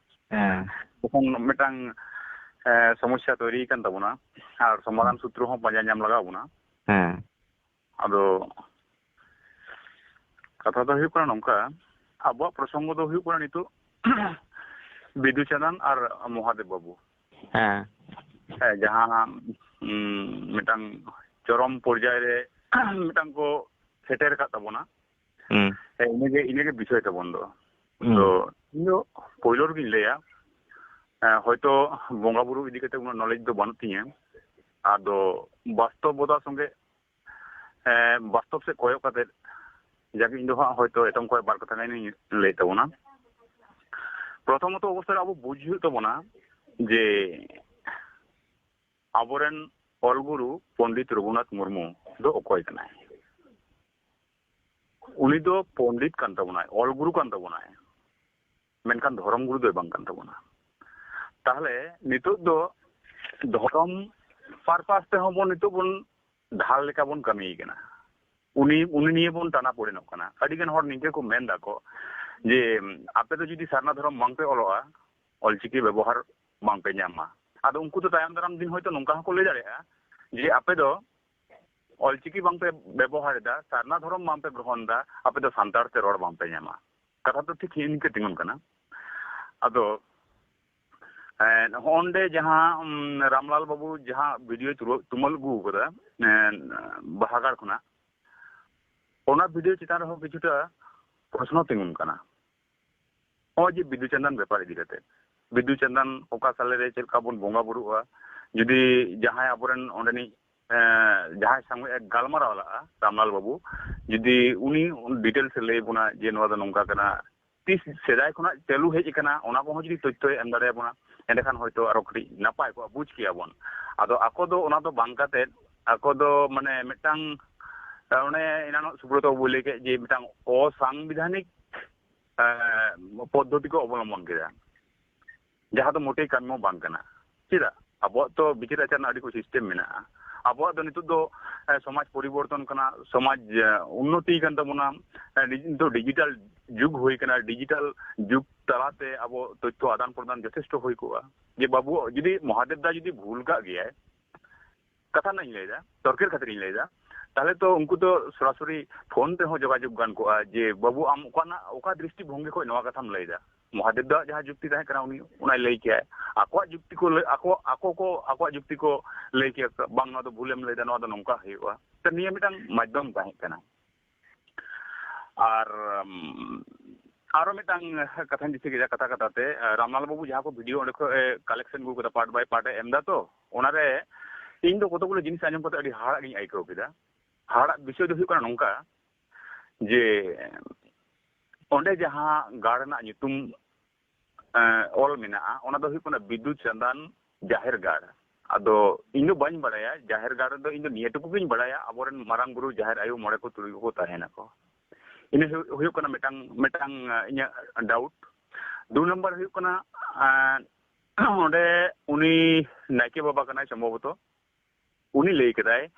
ᱦᱮᱸ ᱛᱚᱠᱷᱚᱱ ᱢᱤᱫᱴᱟᱝ ᱥᱚᱢᱚᱥᱥᱟ ᱛᱚᱭᱨᱤ ᱠᱟᱱ ᱛᱟᱵᱚᱱᱟ ᱟᱨ ᱥᱚᱢᱟᱫᱷᱟᱱ ᱥᱩᱛᱨᱚ ᱦᱚᱸ ᱯᱟᱸᱡᱟ ᱧᱟᱢ ᱞᱟᱜᱟᱣ ᱵᱚᱱᱟ ᱦᱮᱸ ᱟᱫᱚ ᱠᱟᱛᱷᱟ ᱫᱚ ᱦᱩᱭᱩᱜ ᱠᱟᱱᱟ ᱱᱚᱝᱠᱟ ᱟᱵᱚᱣᱟᱜ ᱯᱨᱚᱥᱚᱝᱜᱚ ᱫᱚ ᱦᱩᱭᱩᱜ ᱠᱟᱱᱟ ᱱᱤᱛᱚᱜ ᱵᱤᱫᱩ ᱪᱟᱸᱫᱟᱱ ᱟᱨ ᱢᱚᱦᱟᱫᱮᱵ ᱵᱟᱵᱩ ᱦᱮᱸ ᱦᱮᱸ ᱡᱟᱦᱟᱸ ᱢᱤᱫᱴᱟᱝ ᱪᱚᱨᱚᱢ ᱯᱚᱨᱡᱟᱭ ᱨᱮ ᱢᱤᱫᱴᱟᱝ ᱠᱚ ᱥᱮᱴᱮᱨ ᱟᱠᱟᱫ ᱛᱟᱵᱚᱱᱟ ᱦᱮᱸ ᱤᱱᱟᱹᱜᱮ ᱤᱱᱟᱹᱜᱮ ᱵᱤᱥᱚᱭ ᱛᱟᱵᱚᱱ ᱫᱚ ᱛᱚ ᱤᱧ ᱫᱚ ᱯᱳᱭᱞᱳ ᱨᱮᱜᱤᱧ ᱞᱟᱹᱭᱟ ᱦᱚᱭᱛᱚ ᱵᱚᱸᱜᱟ ᱵᱩᱨᱩ ᱤᱫᱤ ᱠᱟᱛᱮ ᱩᱱᱟᱹᱜ ᱱᱚᱞᱮᱡᱽ ᱫᱚ ᱵᱟᱹᱱᱩᱜ ᱛᱤᱧᱟᱹ ᱟᱫᱚ ᱵᱟᱥᱛᱚᱵᱚᱛᱟ ᱥᱚᱸᱜᱮ ᱵᱟᱥᱛᱚᱵ ᱥᱮᱫ ᱠᱚᱭᱚᱜ ᱠᱟᱛᱮ ᱡᱟᱜᱮ ᱤᱧ ᱫᱚ ᱦᱟᱸᱜ ᱦᱚᱭᱛᱚ ᱮᱛᱚᱢ ᱠᱷᱚᱡ ᱵᱟᱨ ᱠᱟᱛᱷᱟ ᱜᱟᱱᱤᱧ ᱞᱟᱹᱭ ᱛᱟᱵᱚᱱᱟ ᱯᱨᱚᱛᱷᱚᱢᱚᱛᱚ ᱚᱵᱚᱥᱛᱟ ᱨᱮ ᱟᱵᱚ ᱵᱩᱡᱽ ᱦᱩᱭᱩᱜ ᱛᱟᱵᱚᱱᱟ ᱡᱮ ᱟᱵᱚᱨᱮᱱ ᱚᱞᱜᱩᱨᱩ ᱯᱚᱱᱰᱤᱛ ᱨᱚᱜᱷᱩᱱᱟᱛᱷ ᱢᱩᱨᱢᱩ ᱫᱚ ᱚᱠᱚᱭ ᱠᱟᱱᱟᱭ ᱩᱱᱤ ᱫᱚ ᱯᱚᱱᱰᱤᱛ ᱠᱟᱱ ᱛᱟᱵᱚᱱᱟᱭ ᱚᱞ ᱜᱩᱨᱩ ᱠᱟᱱ ᱛᱟᱵᱚᱱᱟᱭ ᱢᱮᱱᱠᱷᱟᱱ ᱫᱷᱚᱨᱚᱢ ᱜᱩᱨᱩ ᱫᱚᱭ ᱵᱟᱝ ᱠᱟᱱ ᱛᱟᱵᱚᱱᱟ ᱛᱟᱦᱞᱮ ᱱᱤᱛᱚᱜ ᱫᱚ ᱫᱷᱚᱨᱚᱢ ᱯᱟᱨᱯᱟᱥ ᱛᱮᱦᱚᱸ ᱵᱚᱱ ᱱᱤᱛᱚᱜ ᱵᱚᱱ ᱰᱷᱟᱞ ᱞᱮᱠᱟ ᱵᱚᱱ ᱠᱟᱹᱢᱤ ᱠᱟᱱᱟ ᱩᱱᱤ ᱩᱱᱤ ᱱᱤᱭᱮ ᱵᱚᱱ ᱴᱟᱱᱟ ᱯᱚᱲᱮᱱᱚᱜ ᱠᱟᱱᱟ ᱟᱹᱰᱤ ᱜᱟᱱ ᱦᱚᱲ ᱱᱤᱝᱠᱟᱹ ᱠᱚ ᱢᱮᱱ ᱫᱟᱠᱚ ᱡᱮ ᱟᱯᱮ ᱫᱚ ᱡᱩᱫᱤ ᱥᱟᱨᱱᱟ ᱫᱷᱚᱨᱚᱢ ᱵᱟᱝ ᱯᱮ ᱚᱞᱚᱜᱼᱟ ᱚᱞᱪᱤᱠᱤ ᱵᱮᱵᱚᱦᱟᱨ ᱵᱟᱝ ᱯᱮ ᱧᱟᱢᱟ ᱟᱫᱚ ᱩᱱᱠᱩ ᱫᱚ ᱛᱟᱭᱚᱢ ᱫᱟᱨᱟᱢ ᱫᱤᱱ ᱦᱚᱭᱛᱚ ᱱᱚᱝᱠᱟ ᱦᱚᱸᱠᱚ ᱞᱟᱹᱭ ᱫᱟᱲᱮᱭᱟᱜᱼᱟ ᱡᱮ ᱟᱯᱮ ᱫᱚ ᱚᱞ ᱪᱤᱠᱤ ᱵᱟᱝ ᱯᱮ ᱵᱮᱵᱚᱦᱟᱨ ᱮᱫᱟ ᱥᱟᱨᱱᱟ ᱫᱷᱚᱨᱚᱢ ᱵᱟᱝ ᱯᱮ ᱜᱨᱚᱦᱚᱱ ᱮᱫᱟ ᱟᱯᱮ ᱫᱚ ᱥᱟᱱᱛᱟᱲ ᱛᱮ ᱨᱚᱲ ᱵᱟᱝ ᱯᱮ ᱧᱟᱢᱟ ᱠᱟᱛᱷᱟ ᱫᱚ ᱴᱷᱤᱠ ᱤᱱᱠᱟᱹ ᱛᱤᱸᱜᱩᱱ ᱠᱟᱱᱟ ᱟᱫᱚ ᱦᱚᱸᱰᱮ ᱡᱟᱦᱟᱸ ᱨᱟᱢᱞᱟᱞ ᱵᱟᱹᱵᱩ ᱡᱟᱦᱟᱸ ᱵᱷᱤᱰᱤᱭᱳ ᱛᱩᱢᱟᱹᱞ ᱟᱹᱜᱩ ᱟᱠᱟᱫᱟ ᱵᱟᱦᱟᱜᱟᱲ ᱠᱷᱚᱱᱟᱜ ᱚᱱᱟ ᱵᱷᱤᱰᱤᱭᱳ ᱪᱮᱛᱟᱱ ᱨᱮᱦᱚᱸ ᱠᱤᱪᱷᱩᱴᱟ ᱯᱨᱚᱥᱱᱚ ᱛᱤᱸᱜᱩᱱ ᱠᱟᱱᱟ ᱱᱚᱜᱼᱚᱭ ᱡᱮ ᱵᱤᱫᱩ ᱪᱟᱸᱫᱟᱱ ᱵᱮᱯᱟᱨ ᱤᱫᱤ ᱠᱟᱛᱮ ᱵᱤᱫᱩ ᱪᱟᱸᱫᱟᱱ ᱚᱠᱟ ᱥᱟᱞᱮ ᱨᱮ ᱪᱮᱫ ᱞᱮᱠᱟ ᱵᱚᱱ ᱵᱚᱸᱜᱟ ᱵᱩᱨᱩᱜᱼᱟ ᱡᱩᱫᱤ ᱡᱟᱦᱟᱸᱭ ᱟᱵᱚᱨᱮᱱ ᱚᱸᱰᱮᱱᱤᱡ ᱡᱟᱦᱟᱸᱭ ᱥᱟᱝᱜᱮ ᱜᱟᱞᱢᱟᱨᱟᱣ ᱞᱟᱜᱼᱟ ᱨᱟᱢᱞᱟᱞ ᱵᱟᱹᱵᱩ ᱡᱩᱫᱤ ᱩᱱᱤ ᱰᱤᱴᱮᱞᱥ ᱞᱟᱹᱭ ᱵᱚᱱᱟ ᱡᱮ ᱱᱚᱣᱟ ᱫᱚ ᱱᱚᱝᱠᱟ ᱠᱟᱱᱟ ᱛᱤᱥ ᱥᱮᱫᱟᱭ ᱠᱷᱚᱱᱟᱜ ᱪᱟᱹᱞᱩ ᱦᱮᱡ ᱟᱠᱟᱱᱟ ᱚᱱᱟ ᱠᱚᱦᱚᱸ ᱡᱩᱫᱤ ᱛᱚᱛᱛᱷᱚᱭ ᱮᱢ ᱫᱟᱲᱮᱭᱟᱵᱚᱱᱟ ᱮᱸᱰᱮᱠᱷᱟᱱ ᱦᱚᱭᱛᱳ ᱟᱨᱚ ᱠᱟᱹᱴᱤᱡ ᱱᱟᱯᱟᱭ ᱠᱚᱜᱼᱟ ᱵᱩᱡᱽ ᱠᱮᱭᱟᱵᱚᱱ ᱟᱫᱚ ᱟᱠᱚ ᱫᱚ ᱚᱱᱟ ᱫᱚ ᱵᱟᱝ ᱠᱟᱛᱮ ᱟᱠᱚ ᱫᱚ ᱢᱟᱱᱮ ᱢᱤᱫᱴᱟᱝ ᱚᱱᱮ ᱮᱱᱟᱱᱚᱜ ᱥᱩᱵᱨᱚᱛᱚ ᱵᱟᱹᱵᱩᱭ ᱞᱟᱹᱭ ᱠᱮᱫ ᱡᱮ ᱢᱤᱫᱴᱟᱝ ᱚᱥᱟᱝᱵᱤᱫᱷᱟᱱᱤᱠ ᱯᱚᱫᱽᱫᱷᱚᱛᱤ ᱠᱚ ᱚᱵᱚᱞᱚᱢᱵᱚᱱ ᱠᱮᱫᱟ ᱡᱟᱦᱟᱸ ᱫᱚ ᱢᱳᱴᱮ ᱠᱟᱹᱢᱤ ᱦᱚᱸ ᱵᱟᱝ ᱠᱟᱱᱟ ᱪᱮᱫᱟᱜ ᱟᱵᱚᱣᱟᱜ ᱛᱚ ᱵᱤᱪᱟᱹᱨ ᱟᱪᱟᱨ ᱨᱮᱱᱟᱜ ᱟᱹᱰᱤ ᱠᱚ ᱥᱤᱥᱴᱮᱢ ᱢᱮᱱᱟᱜᱼᱟ ᱟᱵᱚᱣᱟᱜ ᱫᱚ ᱱᱤᱛᱚᱜ ᱫᱚ ᱥᱚᱢᱟᱡᱽ ᱯᱚᱨᱤᱵᱚᱨᱛᱚᱱ ᱠᱟᱱᱟ ᱥᱚᱢᱟᱡᱽ ᱩᱱᱱᱚᱛᱤ ᱠᱟᱱ ᱛᱟᱵᱚᱱᱟ ᱱᱤᱛᱚᱜ ᱫᱚ ᱰᱤᱡᱤᱴᱟᱞ ᱡᱩᱜᱽ ᱦᱩᱭ ᱠᱟᱱᱟ ᱰᱤᱡᱤᱴᱟᱞ ᱡᱩᱜᱽ ᱛᱟᱞᱟᱛᱮ ᱟᱵᱚ ᱛᱚᱛᱛᱷᱚ ᱟᱫᱟᱱ ᱯᱨᱚᱫᱟᱱ ᱡᱚᱛᱷᱮᱥᱴᱚ ᱦᱩᱭ ᱠᱚᱜᱼᱟ ᱡᱮ ᱵᱟᱹᱵᱩ ᱡᱩᱫᱤ ᱢᱚᱦᱟᱫᱮᱵ ᱫᱟ ᱡᱩᱫᱤ ᱵᱷᱩᱞ ᱠᱟᱜ ᱜᱮᱭᱟᱭ ᱠᱟᱛᱷᱟ ᱨᱮᱱᱟᱜ ᱤᱧ ᱞᱟᱹᱭᱫᱟ ᱛᱚᱨᱠᱮᱨ ᱠᱷᱟᱹᱛᱤᱨ ᱤᱧ ᱞᱟᱹᱭᱫᱟ ᱛᱟᱦᱞᱮ ᱛᱚ ᱩᱱᱠᱩ ᱫᱚ ᱥᱚᱨᱟᱥᱚᱨᱤ ᱯᱷᱳᱱ ᱛᱮᱦᱚᱸ ᱡᱳᱜᱟᱡᱳᱜ ᱜᱟᱱ ᱠᱚᱜᱼᱟ ᱡᱮ ᱵᱟᱹᱵᱩ ᱟᱢ ᱚᱠᱟᱱᱟᱜ ᱚᱠᱟ ᱫᱨᱤᱥᱴᱤ ᱵᱷᱚᱝᱜᱤ ᱠᱷᱚᱱ ᱱᱚᱣᱟ ᱠᱟᱛᱷᱟᱢ ᱞᱟᱹᱭᱫᱟ ᱢᱚᱦᱟᱫᱮᱵ ᱫᱚ ᱡᱟᱦᱟᱸ ᱡᱩᱠᱛᱤ ᱛᱟᱦᱮᱸ ᱠᱟᱱᱟ ᱩᱱᱤ ᱚᱱᱟᱭ ᱞᱟᱹᱭ ᱠᱮᱭᱟ ᱟᱠᱚᱣᱟᱜ ᱡᱩᱠᱛᱤ ᱠᱚ ᱟᱠᱚ ᱟᱠᱚ ᱠᱚ ᱟᱠᱚᱣᱟᱜ ᱡᱩᱠᱛᱤ ᱠᱚ ᱞᱟᱹᱭ ᱠᱮᱭᱟ ᱵᱟᱝ ᱱᱚᱣᱟ ᱫᱚ ᱵᱷᱩᱞᱮᱢ ᱞᱟᱹᱭᱫᱟ ᱱᱚᱣᱟ ᱫᱚ ᱱᱚᱝᱠᱟ ᱦᱩᱭᱩᱜᱼᱟ ᱛᱚ ᱱᱤᱭᱟᱹ ᱢᱤᱫᱴᱟᱝ ᱢᱟᱫᱽᱫᱷᱚᱢ ᱛᱟᱦᱮᱸ ᱠᱟᱱᱟ ᱟᱨ ᱟᱨᱚ ᱢᱤᱫᱴᱟᱝ ᱠᱟᱛᱷᱟᱧ ᱫᱤᱥᱟᱹ ᱠᱮᱫᱟ ᱠᱟᱛᱷᱟ ᱠᱟᱛᱷᱟ ᱛᱮ ᱨᱟᱢᱞᱟᱞ ᱵᱟᱹᱵᱩ ᱡᱟᱦᱟᱸ ᱠᱚ ᱵᱷᱤᱰᱤᱭᱳ ᱚᱸᱰᱮ ᱠᱷᱚᱱ ᱠᱟᱞᱮᱠᱥᱚᱱ ᱟᱹᱜᱩ ᱠᱟᱫᱟ ᱯᱟᱨᱴ ᱵᱟᱭ ᱯᱟᱨᱴ ᱮᱢ ᱫᱟ ᱛᱚ ᱚᱱᱟᱨᱮ ᱤᱧ ᱫᱚ ᱠᱚᱛᱚ ᱜᱩᱞᱳ ᱡᱤᱱᱤᱥ ᱟᱸᱡᱚᱢ ᱠᱟᱛᱮ ᱟᱹᱰᱤ ᱦᱟᱦᱟᱲᱟᱜ ᱜᱤᱧ ᱟᱹᱭᱠᱟᱹᱣ ᱠᱮᱫᱟ ᱦᱟᱦᱟᱲᱟᱜ ᱵᱤᱥᱚᱭ ᱫᱚ ᱦᱩᱭᱩᱜ ᱠᱟᱱᱟ ᱱᱚᱝᱠᱟ ᱡᱮ ᱚᱸᱰᱮ ᱡᱟᱦᱟᱸ ᱜᱟᱲ ᱨᱮᱱᱟᱜ ᱧᱩᱛᱩᱢ ᱚᱞ ᱢᱮᱱᱟᱜᱼᱟ ᱚᱱᱟ ᱫᱚ ᱦᱩᱭᱩᱜ ᱠᱟᱱᱟ ᱵᱤᱫᱩ ᱪᱟᱸᱫᱟᱱ ᱡᱟᱦᱮᱨ ᱜᱟᱲ ᱟᱫᱚ ᱤᱧ ᱫᱚ ᱵᱟᱹᱧ ᱵᱟᱲᱟᱭᱟ ᱡᱟᱦᱮᱨ ᱜᱟᱲ ᱨᱮᱫᱚ ᱤᱧ ᱫᱚ ᱱᱤᱭᱟᱹ ᱴᱩᱠᱩ ᱜᱤᱧ ᱵᱟᱲᱟᱭᱟ ᱟᱵᱚᱨᱮᱱ ᱢᱟᱨᱟᱝ ᱵᱩᱨᱩ ᱡᱟᱦᱮᱨ ᱟᱭᱳ ᱢᱚᱬᱮ ᱠᱚ ᱛᱩᱨᱩᱭ ᱠᱚᱠᱚ ᱛᱟᱦᱮᱱᱟᱠᱚ ᱤᱱᱟᱹ ᱦᱩᱭᱩᱜ ᱠᱟᱱᱟ ᱢᱤᱫᱴᱟᱝ ᱢᱤᱫᱴᱟᱝ ᱤᱧᱟᱹᱜ ᱰᱟᱣᱩᱴ ᱫᱩ ᱱᱟᱢᱵᱟᱨ ᱦᱩᱭᱩᱜ ᱠᱟᱱᱟ ᱚᱸᱰᱮ ᱩᱱᱤ ᱱᱟᱭᱠᱮ ᱵᱟᱵᱟ ᱠᱟᱱᱟᱭ ᱥᱚᱢᱵᱷᱚᱵᱚᱛᱚ ᱩᱱᱤ ᱞᱟᱹᱭ ᱠᱮᱫᱟᱭ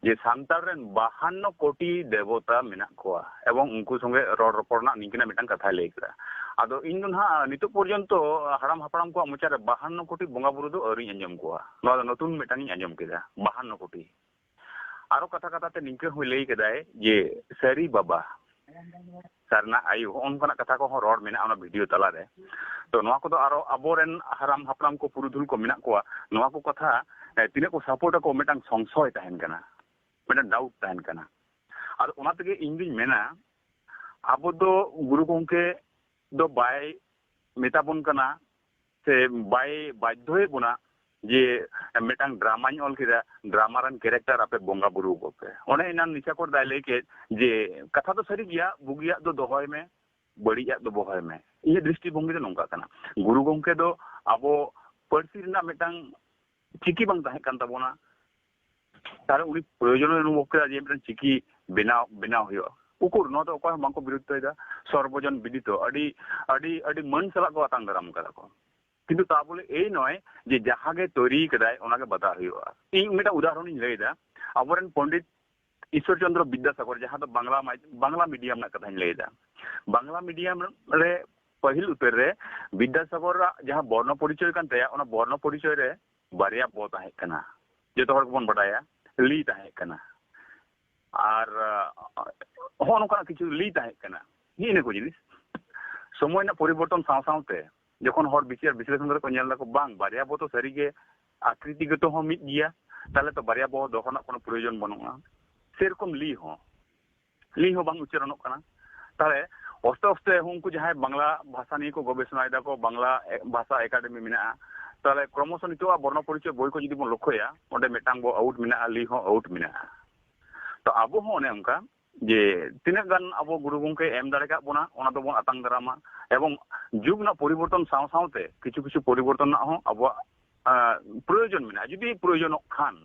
ᱡᱮ ᱥᱟᱱᱛᱟᱲ ᱨᱮᱱ ᱵᱟᱦᱟᱱᱱᱚ ᱠᱳᱴᱤ ᱫᱮᱵᱚᱛᱟ ᱢᱮᱱᱟᱜ ᱠᱚᱣᱟ ᱮᱵᱚᱝ ᱩᱱᱠᱩ ᱥᱚᱸᱜᱮ ᱨᱚᱲ ᱨᱚᱯᱚᱲ ᱨᱮᱱᱟᱜ ᱱᱤᱝᱠᱟᱹᱱᱟᱜ ᱢᱤᱫᱴᱟᱝ ᱠᱟᱛᱷᱟᱭ ᱞᱟᱹᱭ ᱠᱮᱫᱟ ᱟᱫᱚ ᱤᱧ ᱫᱚ ᱱᱟᱦᱟᱜ ᱱᱤᱛᱚᱜ ᱯᱚᱨᱡᱚᱱᱛᱚ ᱦᱟᱲᱟᱢ ᱦᱟᱯᱲᱟᱢ ᱠᱚᱣᱟᱜ ᱢᱚᱪᱟ ᱨᱮ ᱵᱟᱦᱟᱱᱱᱚ ᱠᱳᱴᱤ ᱵᱚᱸᱜᱟ ᱵᱩᱨᱩ ᱫᱚ ᱟᱹᱣᱨᱤᱧ ᱟᱸᱡᱚᱢ ᱠᱚᱣᱟ ᱱᱚᱣᱟ ᱫᱚ ᱱᱚᱛᱩᱱ ᱢᱤᱫᱴᱟᱝ ᱤᱧ ᱟᱸᱡᱚᱢ ᱠᱮᱫᱟ ᱵᱟᱦᱟᱱᱱᱚ ᱠᱳᱴᱤ ᱟᱨᱚ ᱠᱟᱛᱷᱟ ᱠᱟᱛᱷᱟ ᱛᱮ ᱱᱤᱝᱠᱟᱹ ᱦᱚᱸᱭ ᱞᱟᱹᱭ ᱠᱮᱫᱟᱭ ᱡᱮ ᱥᱟᱹᱨᱤ ᱵᱟᱵᱟ ᱥᱟᱨᱱᱟ ᱟᱭᱩ ᱦᱚᱸ ᱚᱱᱠᱟᱱᱟᱜ ᱠᱟᱛᱷᱟ ᱠᱚᱦᱚᱸ ᱨᱚᱲ ᱢᱮᱱᱟᱜᱼᱟ ᱚᱱᱟ ᱵᱷᱤᱰᱤᱭᱳ ᱛᱟᱞᱟᱨᱮ ᱛᱚ ᱱᱚᱣᱟ ᱠᱚᱫᱚ ᱟᱨᱚ ᱟᱵᱚᱨᱮᱱ ᱦᱟᱲᱟᱢ ᱦᱟᱯᱲᱟᱢ ᱠᱚ ᱯᱩᱨᱩᱫᱷᱩᱞ ᱠᱚ ᱢᱮᱱᱟᱜ ᱠᱚᱣᱟ ᱱᱚᱣᱟ ᱠᱚ ᱠᱟᱛᱷᱟ ᱛᱤᱱᱟᱹᱜ ᱠᱚ ᱥᱟᱯᱳᱨᱴ ᱟᱠᱚ ᱢᱤᱫᱴᱟᱝ ᱥᱚᱝᱥᱚᱭ ᱛᱟᱦᱮᱱ ᱠᱟᱱᱟ ᱢᱤᱫᱴᱟᱝ ᱰᱟᱣᱩᱴ ᱛᱟᱦᱮᱱ ᱠᱟᱱᱟ ᱟᱫᱚ ᱚᱱᱟ ᱛᱮᱜᱮ ᱤᱧ ᱫᱩᱧ ᱢᱮᱱᱟ ᱟᱵᱚ ᱫᱚ ᱜᱩᱨᱩ ᱜᱚᱝᱠᱮ ᱫᱚ ᱵᱟᱭ ᱢᱮᱛᱟ ᱵᱚᱱ ᱠᱟᱱᱟ ᱥᱮ ᱵᱟᱭ ᱵᱟᱫᱽᱫᱷᱚᱭᱮᱫ ᱵᱚᱱᱟ ᱡᱮ ᱢᱤᱫᱴᱟᱝ ᱰᱨᱟᱢᱟᱧ ᱚᱞ ᱠᱮᱫᱟ ᱰᱨᱟᱢᱟ ᱨᱮᱱ ᱠᱮᱨᱮᱠᱴᱟᱨ ᱟᱯᱮ ᱵᱚᱸᱜᱟ ᱵᱩᱨᱩ ᱟᱠᱚ ᱯᱮ ᱚᱱᱮ ᱮᱱᱟᱱ ᱱᱤᱥᱟ ᱠᱚᱨ ᱫᱟᱭ ᱞᱟᱹᱭ ᱠᱮᱫ ᱡᱮ ᱠᱟᱛᱷᱟ ᱫᱚ ᱥᱟᱹᱨᱤ ᱜᱮᱭᱟ ᱵᱩᱜᱤᱭᱟᱜ ᱫᱚ ᱫᱚᱦᱚᱭ ᱢᱮ ᱵᱟᱹᱲᱤᱡᱟᱜ ᱫᱚ ᱵᱚᱦᱚᱭ ᱢᱮ ᱤᱧᱟᱹᱜ ᱫᱨᱤᱥᱴᱤ ᱵᱷᱚᱝᱜᱤ ᱫᱚ ᱱᱚᱝᱠᱟ ᱠᱟᱱᱟ ᱜᱩᱨᱩ ᱜᱚᱝᱠᱮ ᱫᱚ ᱟᱵᱚ ᱯᱟᱹᱨᱥᱤ ᱨᱮᱱᱟᱜ ᱢᱤᱫᱴᱟᱝ ᱪᱤᱠᱤ ᱵᱟᱝ ᱛᱟᱦᱮᱸ ᱠᱟᱱ ᱛᱟᱵᱚᱱᱟ ᱛᱟᱦᱚᱞᱮ ᱩᱱᱤ ᱯᱨᱚᱭᱳᱡᱚᱱ ᱚᱱᱩᱵᱷᱚᱵ ᱠᱮᱫᱟ ᱡᱮ ᱢᱤᱫᱴᱮᱱ ᱪᱤᱠᱤ ᱵᱮᱱᱟᱣ ᱵᱮᱱᱟᱣ ᱦᱩᱭᱩᱜᱼᱟ ᱩᱠᱩᱨ ᱱᱚᱣᱟ ᱫᱚ ᱚᱠᱚᱭ ᱦᱚᱸ ᱵᱟᱝᱠᱚ ᱵᱤᱨᱩᱫᱷᱚᱭᱮᱫᱟ ᱥᱚᱨᱵᱚᱡᱚᱱ ᱵᱤᱫᱤᱛᱚ ᱟᱹᱰᱤ ᱟᱹᱰᱤ ᱟᱹᱰᱤ ᱢᱟᱹᱱ ᱥᱟᱞᱟᱜ ᱠᱚ ᱟᱛᱟᱝ ᱫᱟᱨᱟᱢ ᱠᱟᱫᱟ ᱠᱚ ᱠᱤᱱᱛᱩ ᱛᱟ ᱵᱚᱞᱮ ᱮᱭ ᱱᱚᱭ ᱡᱮ ᱡᱟᱦᱟᱸ ᱜᱮ ᱛᱚᱭᱨᱤ ᱠᱟᱫᱟᱭ ᱚᱱᱟ ᱜᱮ ᱵᱟᱫᱟ ᱦᱩᱭᱩᱜᱼᱟ ᱤᱧ ᱢᱤᱫᱴᱟᱝ ᱩᱫᱟᱦᱚᱨᱚᱱ ᱤᱧ ᱞᱟᱹᱭᱫᱟ ᱟᱵᱚᱨᱮᱱ ᱯᱚᱱᱰᱤᱛ ᱤᱥᱚᱨ ᱪᱚᱱᱫᱨᱚ ᱵᱤᱫᱽᱫᱟᱥᱟᱜᱚᱨ ᱡᱟᱦᱟᱸ ᱫᱚ ᱵᱟᱝᱞᱟ ᱵᱟᱝᱞᱟ ᱢᱤᱰᱤᱭᱟᱢ ᱨᱮᱱᱟᱜ ᱠᱟᱛᱷᱟᱧ ᱞᱟᱹᱭᱫᱟ ᱵᱟᱝᱞᱟ ᱢᱤᱰᱤᱭᱟᱢ ᱨᱮ ᱯᱟᱹᱦᱤᱞ ᱩᱛᱟᱹᱨ ᱨᱮ ᱵᱤᱫᱽᱫᱟᱥᱟᱜᱚᱨᱟᱜ ᱡᱟᱦᱟᱸ ᱵᱚᱨᱱᱚ ᱯᱚᱨᱤᱪᱚᱭ ᱠᱟᱱ ᱛᱟᱭᱟ ᱚᱱᱟ ᱵᱚᱨᱱᱚ ᱯᱚᱨᱤᱪᱚᱭ ᱨᱮ ᱵᱟᱨᱭᱟ ᱵᱚ ᱛᱟᱦᱮᱸ ᱠᱟᱱᱟ ᱡᱚᱛᱚ ᱦᱚᱲ ᱜᱮᱵᱚᱱ ᱵᱟᱰᱟᱭᱟ ᱞᱤ ᱛᱟᱦᱮᱸ ᱠᱟᱱᱟ ᱟᱨ ᱦᱚᱸ ᱱᱚᱝᱠᱟᱱᱟᱜ ᱠᱤᱪᱷᱩ ᱞᱤ ᱛᱟᱦᱮᱸ ᱠᱟᱱᱟ ᱱᱤᱭᱟᱹ ᱤᱱᱟᱹ ᱠᱚ ᱡᱤᱱᱤᱥ ᱥᱚᱢᱚᱭ ᱨᱮᱱᱟᱜ ᱯᱚᱨᱤᱵᱚᱨᱛᱚᱱ ᱥᱟᱶ ᱥᱟᱶᱛᱮ ᱡᱚᱠᱷᱚᱱ ᱦᱚᱲ ᱵᱤᱪᱟᱹᱨ ᱵᱤᱥᱞᱮᱥᱚᱱ ᱠᱟᱛᱮ ᱠᱚ ᱧᱮᱞ ᱫᱟᱠᱚ ᱵᱟᱝ ᱵᱟᱨᱭᱟ ᱵᱚ ᱛᱚ ᱥᱟᱹᱨᱤᱜᱮ ᱟᱠᱨᱤᱛᱤᱜᱚᱛᱚ ᱦᱚᱸ ᱢᱤᱫ ᱜᱮᱭᱟ ᱛᱟᱦᱞᱮ ᱛᱚ ᱵᱟᱨᱭᱟ ᱵᱚ ᱫᱚᱦᱚ ᱨᱮᱱᱟᱜ ᱠᱳᱱᱳ ᱯᱨᱚᱭᱳᱡᱚᱱ ᱵᱟᱹᱱᱩᱜᱼᱟ ᱥᱮᱨᱚᱠᱚᱢ ᱞᱤ ᱦᱚᱸ ᱞᱤ ᱦᱚᱸ ᱵᱟᱝ ᱩᱪᱟᱨᱚᱱᱚᱜ ᱠᱟᱱᱟ ᱛᱟᱦᱚᱞᱮ ᱚᱥᱛᱮ ᱚᱥᱛᱮ ᱩᱱᱠᱩ ᱡᱟᱦᱟᱸᱭ ᱵᱟᱝᱞᱟ ᱵᱷᱟᱥᱟ ᱱᱤᱭᱮ ᱠᱚ ᱜᱚᱵᱮᱥᱚᱱᱟ ᱮᱫᱟ ᱠᱚ ᱵᱟᱝᱞᱟ ᱵᱷᱟᱥᱟ ᱮᱠᱟᱰᱮᱢᱤ ᱢᱮᱱᱟᱜᱼᱟ ᱛᱟᱦᱚᱞᱮ ᱠᱨᱚᱢᱚᱥᱚ ᱱᱤᱛᱚᱜ ᱵᱚᱨᱱᱚ ᱯᱚᱨᱤᱪᱚᱭ ᱵᱳᱭ ᱠᱚ ᱡᱩᱫᱤ ᱵᱚᱱ ᱞᱚᱠᱠᱷᱚᱭᱟ ᱚᱸᱰᱮ ᱢᱤᱫᱴᱟᱝ ᱵᱚ ᱟᱣᱩᱴ ᱢᱮᱱᱟᱜᱼᱟ ᱞᱤ ᱦᱚᱸ ᱟᱣᱩᱴ ᱢᱮᱱᱟᱜᱼᱟ ᱛᱚ ᱟᱵᱚ ᱦᱚᱸ ᱚᱱᱮ ᱚᱱᱠᱟ ᱡᱮ ᱛᱤᱱᱟᱹᱜ ᱜᱟᱱ ᱟᱵᱚ ᱜᱩᱨᱩ ᱜᱚᱢᱠᱮ ᱮᱢ ᱫᱟᱲᱮ ᱠᱟᱜ ᱵᱚᱱᱟ ᱚᱱᱟ ᱫᱚᱵᱚᱱ ᱟᱛᱟᱝ ᱫᱟᱨᱟᱢᱟ ᱮᱵᱚᱝ ᱡᱩᱜᱽ ᱨᱮᱱᱟᱜ ᱯᱚᱨᱤᱵᱚᱨᱛᱚᱱ ᱥᱟᱶ ᱥᱟᱶᱛᱮ ᱠᱤᱪᱷᱩ ᱠᱤᱪᱷᱩ ᱯᱚᱨᱤᱵᱚᱨᱛᱚᱱ ᱨᱮᱱᱟᱜ ᱦᱚᱸ ᱟᱵᱚᱣᱟᱜ ᱯᱨᱚᱭᱳᱡᱚᱱ ᱢᱮᱱᱟᱜᱼᱟ ᱡᱩᱫᱤ ᱯᱨᱚᱭᱳᱡᱚᱱᱚᱜ ᱠᱷᱟᱱ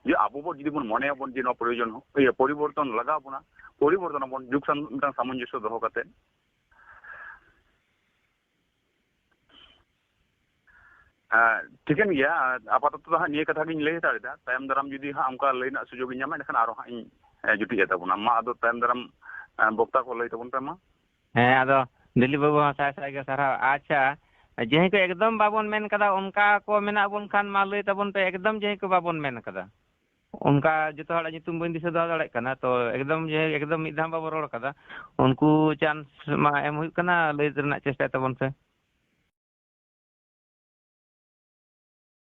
ᱡᱮ ᱟᱵᱚ ᱵᱚ ᱡᱩᱫᱤ ᱵᱚᱱ ᱢᱚᱱᱮ ᱟᱵᱚᱱ ᱡᱮ ᱱᱚᱣᱟ ᱯᱨᱚᱭᱳᱡᱚᱱ ᱤᱭᱟᱹ ᱯᱚᱨᱤᱵᱚᱨᱛᱚᱱ ᱞᱟᱜᱟᱣ ᱵᱚᱱᱟ ᱯᱚᱨᱤᱵᱚᱨᱛᱚᱱ ᱟᱵᱚᱱ ᱡᱩᱜᱽ ᱥᱟᱶ ᱢᱤᱫᱴᱟᱝ ᱥᱟᱢᱚᱧᱡᱚᱥᱥᱚ ᱫᱚᱦᱚ ᱠᱟᱛᱮ ᱴᱷᱤᱠᱟᱹᱱ ᱜᱮᱭᱟ ᱟᱯᱟᱛᱚᱛᱚ ᱫᱚ ᱦᱟᱸᱜ ᱱᱤᱭᱟᱹ ᱠᱟᱛᱷᱟ ᱜᱤᱧ ᱞᱟᱹᱭ ᱦᱟᱛᱟᱲᱮᱫᱟ ᱛᱟᱭᱚᱢ ᱫᱟᱨᱟᱢ ᱡᱩᱫᱤ ᱦᱟᱸᱜ ᱚᱱᱠᱟ ᱞᱟᱹᱭ ᱨᱮᱱᱟᱜ ᱥᱩᱡᱳᱜᱽ ᱤᱧ ᱧᱟᱢᱟ ᱮᱱᱠᱷᱟᱱ ᱟᱨᱚ ᱦᱟᱸᱜ ᱤᱧ ᱡᱩᱴᱤᱡ ᱟᱛᱟᱵᱚᱱᱟ ᱢᱟ ᱟᱫᱚ ᱛᱟᱭᱚᱢ ᱫᱟᱨᱟᱢ ᱵᱚᱠᱛᱟ ᱠᱚ ᱞᱟᱹᱭ ᱛᱟᱵᱚᱱ ᱯᱮ ᱢᱟ ᱦᱮᱸ ᱟᱫᱚ ᱫᱤᱞᱤᱯ ᱵᱟᱹᱵᱩ ᱦᱚᱸ ᱥᱟᱭ ᱥᱟᱭ ᱜᱮ ᱥᱟᱨᱦᱟᱣ ᱟᱪᱪᱷᱟ ᱡᱟᱦᱟᱸᱭ ᱠᱚ ᱮᱠᱫᱚᱢ ᱵᱟᱵᱚᱱ ᱢᱮᱱ ᱠᱟᱫᱟ ᱚᱱᱠᱟ ᱠᱚ ᱢᱮᱱᱟᱜ ᱵᱚᱱ ᱠᱷᱟᱱ ᱢᱟ ᱞᱟᱹᱭ ᱛᱟᱵᱚᱱ ᱯᱮ ᱮᱠᱫᱚᱢ ᱡᱟᱦᱟᱸᱭ ᱠᱚ ᱵᱟᱵᱚᱱ ᱢᱮᱱ ᱠᱟᱫᱟ ᱚᱱᱠᱟ ᱡᱚᱛᱚ ᱦᱚᱲᱟᱜ ᱧᱩᱛᱩᱢ ᱵᱟᱹᱧ ᱫᱤᱥᱟᱹ ᱫᱚᱦᱚ ᱫᱟᱲᱮᱭᱟᱜ ᱠᱟᱱᱟ ᱛᱚ ᱮᱠᱫᱚᱢ ᱡᱟᱦᱟᱸᱭ ᱮᱠᱫᱚᱢ ᱢᱤᱫ ᱫᱷᱟᱣ ᱵᱟᱵᱚᱱ ᱨᱚᱲ ᱠᱟᱫᱟ ᱩᱱᱠᱩ ᱪᱟᱱᱥ ᱢᱟ ᱮᱢ ᱦᱩᱭᱩᱜ ᱠᱟᱱᱟ ᱞᱟᱹᱭ ᱨᱮᱱᱟᱜ ᱪᱮᱥᱴᱟᱭ ᱛᱟᱵᱚᱱ ᱯᱮ